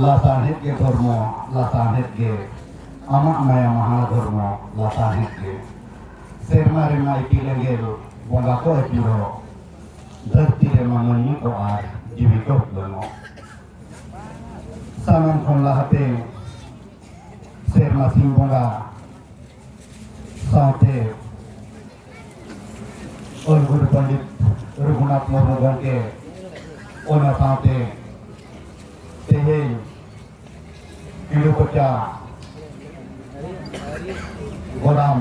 ᱞᱟᱥᱟᱬᱦᱮᱫ ᱜᱮ ᱫᱷᱚᱨᱢᱚ ᱞᱟᱥᱟᱬᱦᱮᱫ ᱜᱮ ᱟᱢᱟᱜ ᱢᱟᱭᱟ ᱢᱟᱦᱟ ᱫᱷᱚᱨᱢᱚ ᱞᱟᱥᱟᱬᱦᱮᱫ ᱜᱮ ᱥᱮᱨᱢᱟ ᱨᱮᱢᱟ ᱤᱯᱤᱞ ᱮᱸᱜᱮᱞ ᱵᱚᱸᱜᱟ ᱠᱚ ᱟᱹᱪᱩᱨᱚᱜ ᱫᱷᱟᱹᱨᱛᱤ ᱨᱮᱢᱟ ᱢᱟᱹᱱᱢᱤ ᱠᱚ ᱟᱨ ᱡᱤᱣᱤ ᱠᱚ ᱩᱯᱞᱟᱹᱱᱚᱜ ᱥᱟᱱᱟᱢ ᱠᱷᱚᱱ ᱞᱟᱦᱟᱛᱮ ᱥᱮᱨᱢᱟ ᱥᱤᱧ ᱵᱚᱸᱜᱟ ᱥᱟᱶᱛᱮ ᱚᱞ ᱜᱩᱨᱩ ᱯᱚᱱᱰᱤᱛ ᱨᱚᱜᱷᱩᱱᱟᱛᱷ ᱢᱩᱨᱢᱩ ᱜᱚᱢᱠᱮ ᱚᱱᱟ ᱥᱟᱶᱛᱮ ᱛᱮᱦᱮᱧ ᱤᱞᱩ ᱠᱚᱪᱟ ᱜᱚᱨᱟᱢ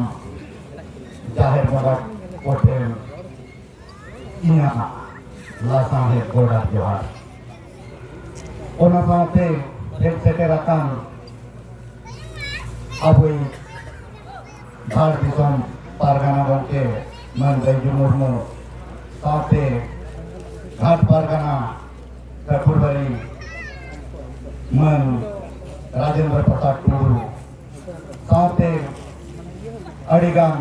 ᱡᱟᱦᱮᱨ ᱵᱚᱸᱜᱟ ᱠᱚᱴᱷᱮᱱ ᱤᱧᱟᱹᱜ ᱞᱟᱥᱟᱬᱦᱮᱫ ᱜᱚᱰᱟ ᱡᱚᱦᱟᱨ ᱚᱱᱟ ᱥᱟᱶᱛᱮ ᱦᱮᱡ ᱥᱮᱴᱮᱨ ᱟᱠᱟᱱ ᱟᱵᱚᱭ ᱡᱷᱟᱲ ᱫᱤᱥᱚᱢ ᱯᱟᱨᱜᱟᱱᱟ ᱜᱚᱢᱠᱮ ᱢᱟᱹᱱ ᱵᱟᱹᱡᱩ ᱢᱩᱨᱢᱩ ᱥᱟᱶᱛᱮ ᱜᱷᱟᱴ ᱯᱟᱨᱜᱟᱱᱟ ᱠᱟᱹᱴᱷᱩᱨᱵᱟᱹᱨᱤ ᱢᱟᱹᱱ ᱨᱟᱡᱮᱱᱫᱨᱚ ᱯᱨᱚᱥᱟᱫᱽ ᱴᱩᱰᱩ ᱥᱟᱶᱛᱮ ᱟᱹᱰᱤᱜᱟᱱ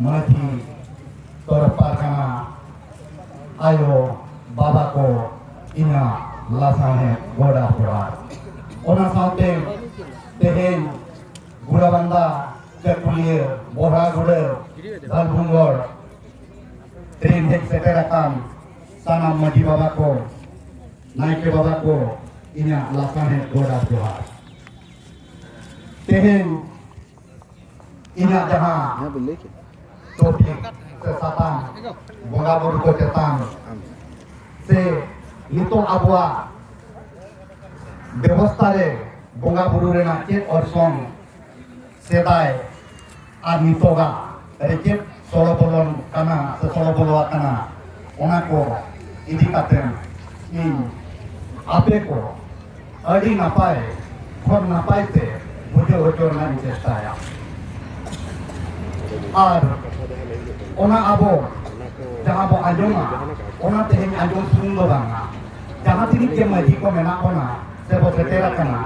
ᱢᱟᱹᱡᱷᱤ ᱛᱚᱨᱚᱯ ᱯᱟᱨᱜᱟᱱᱟ ᱟᱭᱳ ᱵᱟᱵᱟ ᱠᱚ ᱤᱧᱟᱹᱜ ᱞᱟᱥᱟᱬᱦᱮᱫ ᱜᱚᱰᱟ ᱡᱚᱦᱟᱨ ᱚᱱᱟ ᱥᱟᱶᱛᱮ ᱛᱮᱦᱮᱧ ᱜᱩᱲᱟᱵᱟᱱᱫᱟ ᱪᱟᱹᱠᱩᱞᱤᱭᱟᱹ ᱵᱚᱨᱟᱜᱩᱲᱟᱹ ᱫᱟᱞᱵᱷᱩᱝᱜᱚᱲ ᱛᱮᱦᱮᱧ ᱦᱮᱡ ᱥᱮᱴᱮᱨ ᱟᱠᱟᱱ ᱥᱟᱱᱟᱢ ᱢᱟᱹᱡᱷᱤ ᱵᱟᱵᱟ ᱠᱚ ᱱᱟᱭᱠᱮ ᱵᱟᱵᱟ ᱠᱚ ᱤᱧᱟᱹᱜ ᱞᱟᱥᱟᱬᱦᱮᱫ ᱜᱚᱰᱟ ᱡᱚᱦᱟᱨ ᱛᱮᱦᱮᱧ ᱤᱧᱟᱹᱜ ᱡᱟᱦᱟᱸ ᱴᱚᱯᱤᱠ ᱥᱮ ᱥᱟᱛᱟᱢ ᱵᱚᱸᱜᱟ ᱵᱩᱨᱩ ᱠᱚ ᱪᱮᱛᱟᱱ ᱥᱮ ᱱᱤᱛᱚᱜ ᱟᱵᱚᱣᱟᱜ ᱵᱮᱵᱚᱥᱛᱷᱟ ᱨᱮ ᱵᱚᱸᱜᱟ ᱵᱩᱨᱩ ᱨᱮᱱᱟᱜ ᱪᱮᱫ ᱚᱨᱥᱚᱝ ᱥᱮᱫᱟᱭ ᱟᱨ ᱱᱤᱛᱚᱜᱟᱜ ᱪᱮᱫ ᱥᱚᱲᱚ ᱵᱚᱞᱚᱱ ᱠᱟᱱᱟ ᱥᱮ ᱥᱚᱲᱚ ᱵᱚᱞᱚ ᱟᱠᱟᱱᱟ ᱚᱱᱟ ᱠᱚ ᱤᱫᱤ ᱠᱟᱛᱮ ᱤᱧ ᱟᱯᱮ ᱠᱚ ᱟᱹᱰᱤ ᱱᱟᱯᱟᱭ ᱠᱷᱚᱱ ᱱᱟᱯᱟᱭ ᱛᱮ ᱵᱩᱡᱷᱟᱹᱣ ᱦᱚᱪᱚ ᱨᱮᱱᱟᱜ ᱤᱧ ᱪᱮᱥᱴᱟᱭᱟ ᱟᱨ ᱚᱱᱟ ᱟᱵᱚ ᱡᱟᱦᱟᱸ ᱵᱚ ᱟᱸᱡᱚᱢᱟ ᱚᱱᱟ ᱛᱮᱦᱮᱧ ᱟᱸᱡᱚᱢ ᱥᱩᱢᱩᱝ ᱫᱚ ᱵᱟᱝᱟ ᱡᱟᱦᱟᱸ ᱛᱤᱱᱟᱹᱜ ᱜᱮ ᱢᱟᱹᱡᱷᱤ ᱠᱚ ᱢᱮᱱᱟᱜ ᱵᱚᱱᱟ ᱥᱮ ᱵᱚ ᱥᱮᱴᱮᱨ ᱟᱠᱟᱱᱟ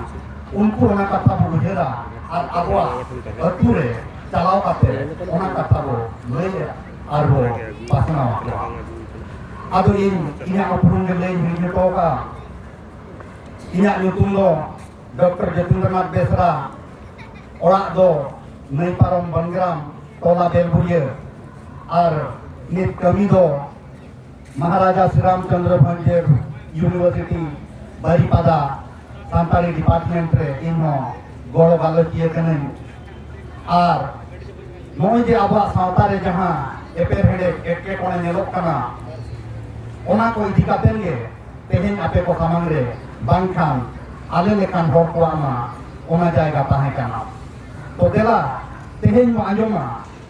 ᱩᱱᱠᱩ ᱚᱱᱟ ᱠᱟᱛᱷᱟ ᱵᱚ ᱩᱭᱦᱟᱹᱨᱟ ᱟᱨ ᱟᱵᱚᱣᱟᱜ ᱟᱹᱛᱩ ᱨᱮ ᱪᱟᱞᱟᱣ ᱠᱟᱛᱮ ᱚᱱᱟ ᱠᱟᱛᱷᱟ ᱵᱚ ᱞᱟᱹᱭᱟ ᱟᱨ ᱵᱚ ᱯᱟᱥᱱᱟᱣ ᱟᱠᱚᱣᱟ ᱟᱫᱚ ᱤᱧ ᱤᱧᱟᱹᱜ ᱩᱯᱨᱩᱢ ᱜᱮ ᱞᱟᱹᱭ ᱦᱤᱲᱤᱧ ᱦᱚᱴᱚ ᱠᱟᱜᱼᱟ ᱤᱧᱟᱹᱜ ᱧᱩᱛᱩᱢ ᱫᱚ ᱰᱚᱠᱴᱚᱨ ᱡᱚᱛᱤᱱᱫᱨᱚᱱᱟᱛᱷ ᱵᱮᱥᱨᱟ ᱚᱲᱟᱜ ᱫᱚ ᱱᱟᱹᱭ ᱯᱟᱨᱚᱢ ᱵᱚᱱᱜᱨᱟᱢ ᱴᱚᱞᱟ ᱵᱮᱞᱵᱩᱲᱤᱭᱟᱹ ᱟᱨ ᱱᱤᱛ ᱠᱟᱹᱢᱤ ᱫᱚ ᱢᱚᱦᱟᱨᱟᱡᱟ ᱥᱨᱤ ᱨᱟᱢᱪᱚᱱᱫᱨᱚ ᱵᱷᱚᱸᱡᱮᱨ ᱭᱩᱱᱤᱵᱷᱟᱨᱥᱤᱴᱤ ᱵᱟᱨᱤᱯᱟᱫᱟ ᱥᱟᱱᱛᱟᱲᱤ ᱰᱤᱯᱟᱨᱴᱢᱮᱱᱴ ᱨᱮ ᱤᱧ ᱦᱚᱸ ᱜᱚᱲᱚ ᱜᱟᱞᱚᱪᱤᱭᱟᱹ ᱠᱟᱹᱱᱟᱹᱧ ᱟᱨ ᱱᱚᱜᱼᱚᱭ ᱡᱮ ᱟᱵᱚᱣᱟᱜ ᱥᱟᱶᱛᱟ ᱨᱮ ᱡᱟᱦᱟᱸ ᱮᱯᱮᱨᱦᱮᱸᱰᱮᱡ ᱮᱴᱠᱮᱴᱚᱬᱮ ᱧᱮᱞᱚᱜ ᱠᱟᱱᱟ ᱚᱱᱟ ᱠᱚ ᱤᱫᱤ ᱠᱟᱛᱮ ᱜᱮ ᱛᱮᱦᱮᱧ ᱟᱯᱮ ᱠᱚ ᱥᱟᱢᱟᱝ ᱨᱮ ᱵᱟᱝᱠᱷᱟᱱ ᱟᱞᱮ ᱞᱮᱠᱟᱱ ᱦᱚᱲ ᱠᱚᱣᱟᱜ ᱢᱟ ᱚᱱᱟ ᱡᱟᱭᱜᱟ ᱛᱟᱦᱮᱸ ᱠᱟᱱᱟ ᱛᱚ ᱫᱮᱞᱟ ᱛᱮᱦᱮᱧ ᱵᱚ ᱟᱸᱡᱚᱢᱟ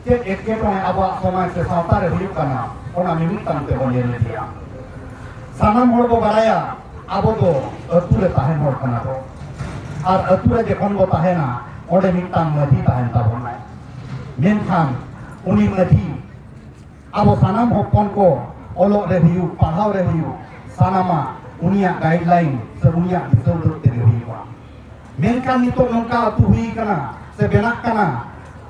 ᱪᱮᱫ ᱮᱴᱠᱮᱴᱚᱬᱮ ᱟᱵᱚᱣᱟᱜ ᱥᱚᱢᱟᱡᱽ ᱥᱮ ᱥᱟᱶᱛᱟ ᱨᱮ ᱦᱩᱭᱩᱜ ᱠᱟᱱᱟ ᱚᱱᱟ ᱢᱤᱢᱤᱫᱴᱟᱝ ᱛᱮᱵᱚᱱ ᱧᱮᱞ ᱤᱫᱤᱭᱟ ᱥᱟᱱᱟᱢ ᱦᱚᱲ ᱵᱚ ᱵᱟᱲᱟᱭᱟ ᱟᱵᱚ ᱫᱚ ᱟᱹᱛᱩ ᱨᱮ ᱛᱟᱦᱮᱱ ᱦᱚᱲ ᱠᱟᱱᱟ ᱵᱚ ᱟᱨ ᱟᱹᱛᱩ ᱨᱮ ᱡᱚᱠᱷᱚᱱ ᱵᱚ ᱛᱟᱦᱮᱱᱟ ᱚᱸᱰᱮ ᱢᱤᱫᱴᱟᱝ ᱢᱟᱹᱡᱷᱤ ᱛᱟᱦᱮᱱ ᱛᱟᱵᱚᱱᱟᱭ ᱢᱮᱱᱠᱷᱟᱱ ᱩᱱᱤ ᱢᱟᱹᱡᱷᱤ ᱟᱵᱚ ᱥᱟᱱᱟᱢ ᱦᱚᱯᱚᱱ ᱠᱚ ᱚᱞᱚᱜ ᱨᱮ ᱦᱩᱭᱩᱜ ᱯᱟᱲᱦᱟᱣ ᱨᱮ ᱦᱩᱭᱩᱜ ᱥᱟᱱᱟᱢᱟᱜ ᱩᱱᱤᱭᱟᱜ ᱜᱟᱭᱤᱰᱞᱟᱭᱤᱱ ᱥᱮ ᱩᱱᱤᱭᱟᱜ ᱫᱤᱥᱟᱹ ᱩᱫᱩᱜ ᱛᱮᱜᱮ ᱦᱩᱭᱩᱜᱼᱟ ᱢᱮᱱᱠᱷᱟᱱ ᱱᱤᱛᱚᱜ ᱱᱚᱝᱠᱟ ᱟᱹᱛᱩ ᱦᱩᱭ ᱠᱟᱱᱟ ᱥᱮ ᱵᱮᱱᱟᱜ ᱠᱟᱱᱟ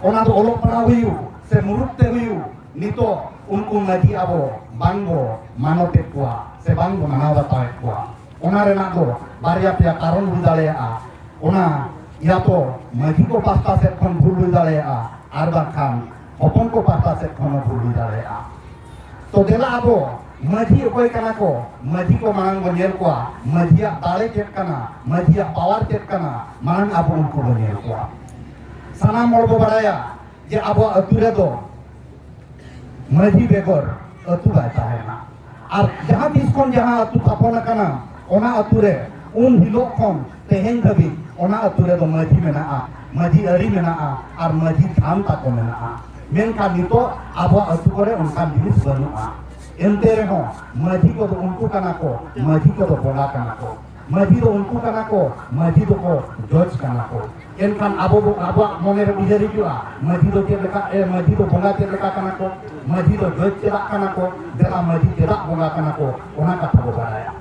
ᱚᱱᱟ ᱫᱚ ᱚᱞᱚᱜ ᱯᱟᱲᱦᱟᱣ ᱦᱩᱭᱩᱜ ᱥᱮ ᱢᱩᱨᱩᱠ ᱛᱮ ᱦᱩᱭᱩᱜ ᱱᱤᱛᱚᱜ ᱩᱱᱠᱩ ᱢᱟᱹᱡᱷᱤ ᱟᱵᱚ ᱵᱟᱝ ᱵᱚ ᱢᱟᱱᱚᱛᱮᱫ ᱠᱚᱣᱟ ᱥᱮ ᱵᱟᱝ ᱵᱚ ᱢᱟᱱᱟᱣ ᱵᱟᱛᱟᱣᱮᱫ ᱠᱚᱣᱟ ᱚᱱᱟ ᱨᱮᱱᱟᱜ ᱫᱚ ᱵᱟᱨᱭᱟ ᱯᱮᱭᱟ ᱠᱟᱨᱚᱱ ᱦᱩᱭ ᱫᱟᱲᱮᱭᱟᱜᱼᱟ ᱚᱱᱟ ᱤᱭᱟ ᱛᱚ ᱢᱟᱹᱡᱷᱤ ᱠᱚ ᱯᱟᱥᱴᱟ ᱥᱮᱫ ᱠᱷᱚᱱ ᱵᱷᱩᱞ ᱦᱩᱭ ᱫᱟᱲᱮᱭᱟᱜᱼᱟ ᱟᱨ ᱵᱟᱝᱠᱷᱟᱱ ᱦᱚᱯᱚᱱ ᱠᱚ ᱯᱟᱥᱴᱟ ᱥᱮᱫ ᱠᱷᱚᱱ ᱵᱷᱩᱞ ᱦᱩᱭ ᱫᱟᱲᱮᱭᱟᱜᱼᱟ ᱛᱚ ᱫᱮᱞᱟ ᱟᱵᱚ ᱢᱟᱹᱡᱷᱤ ᱚᱠᱚᱭ ᱠᱟᱱᱟ ᱠᱚ ᱢᱟᱹᱡᱷᱤ ᱠᱚ ᱢᱟᱲᱟᱝ ᱵᱚ ᱧᱮᱞ ᱠᱚᱣᱟ ᱢᱟᱹᱡᱷᱤᱭᱟᱜ ᱫᱟᱲᱮ ᱪᱮᱫ ᱠᱟᱱᱟ ᱢᱟᱹᱡᱷᱤᱭᱟᱜ ᱯᱟᱣᱟᱨ ᱪᱮᱫ ᱠᱟᱱᱟ ᱢᱟᱲᱟᱝ ᱟᱵᱚ ᱩᱱᱠᱩ ᱵᱚ ᱧᱮᱞ ᱠᱚᱣᱟ ᱥᱟᱱᱟᱢ ᱦᱚᱲ ᱵᱚ ᱵᱟᱲᱟᱭᱟ ᱡᱮ ᱟᱵᱚ ᱟᱹᱛᱩ ᱨᱮᱫᱚ ᱢᱟᱹᱡᱷᱤ ᱵᱮᱜᱚᱨ ᱟᱹᱛᱩ ᱵᱟᱭ ᱛᱟᱦᱮᱱᱟ ᱟᱨ ᱡᱟᱦᱟᱸ ᱛᱤᱥ ᱠᱷᱚᱱ ᱡᱟᱦᱟᱸ ᱟᱹᱛᱩ ᱛᱷᱟᱯᱚᱱ ᱟᱠᱟᱱᱟ ᱚᱱᱟ ᱟᱹᱛᱩ ᱨᱮ ᱩᱱ ᱦᱤᱞᱳᱜ ᱠᱷᱚᱱ ᱛᱮᱦᱮᱧ ᱫᱷᱟᱹᱵᱤᱡ ᱚᱱᱟ ᱟᱹᱛᱩ ᱨᱮᱫᱚ ᱢᱟᱹᱡᱷᱤ ᱢᱮᱱᱟᱜᱼᱟ ᱢᱟᱹᱡᱷᱤ ᱟᱹᱨᱤ ᱢᱮᱱᱟᱜᱼᱟ ᱟᱨ ᱢᱟᱹᱡᱷᱤ ᱛᱷᱟᱱ ᱛᱟᱠᱚ ᱢᱮᱱᱟᱜᱼᱟ ᱢᱮᱱᱠᱷᱟᱱ ᱱᱤᱛᱚᱜ ᱟᱵᱚᱣᱟᱜ ᱟᱹᱛᱩ ᱠᱚᱨᱮ ᱚᱱᱠᱟᱱ ᱡᱤᱱᱤᱥ ᱵᱟᱹᱱᱩᱜᱼᱟ ᱮᱱᱛᱮ ᱨᱮᱦᱚᱸ ᱢᱟᱹᱡᱷᱤ ᱠᱚᱫᱚ ᱩᱱᱠᱩ ᱠᱟᱱᱟ ᱠᱚ ᱢᱟᱹᱡᱷᱤ ᱠᱚᱫᱚ ᱵᱚᱸᱜᱟ ᱠᱟᱱᱟ ᱠᱚ ᱢᱟᱹᱡᱷᱤ ᱫᱚ ᱩᱱᱠᱩ ᱠᱟᱱᱟ ᱠᱚ ᱢᱟᱹᱡᱷᱤ ᱫᱚᱠᱚ ᱡᱚᱡᱽ ᱠᱟᱱᱟ ᱠᱚ ᱮᱱᱠᱷᱟᱱ ᱟᱵᱚ ᱵᱚ ᱟᱵᱚᱣᱟᱜ ᱢᱚᱱᱮ ᱨᱮ ᱩᱭᱦᱟᱹᱨ ᱦᱤᱡᱩᱜᱼᱟ ᱢᱟᱹᱡᱷᱤ ᱫᱚ ᱪᱮᱫ ᱞᱮᱠᱟ ᱮ ᱢᱟᱹᱡᱷᱤ ᱫᱚ ᱵᱚᱸᱜᱟ ᱪᱮᱫ ᱞᱮᱠᱟ ᱠᱟᱱᱟ ᱠᱚ ᱢᱟᱹᱡᱷᱤ ᱫᱚ ᱡᱚᱡᱽ ᱪᱮᱫᱟᱜ ᱠᱟᱱᱟ ᱠᱚ ᱫᱮᱞᱟ ᱢᱟᱹᱡᱷᱤ ᱪᱮᱫᱟᱜ ᱵᱚᱸᱜᱟ ᱠᱟᱱᱟ ᱠᱚ ᱚᱱᱟ ᱠᱟᱛᱷᱟ ᱵᱚ ᱵᱟᱲᱟᱭᱟ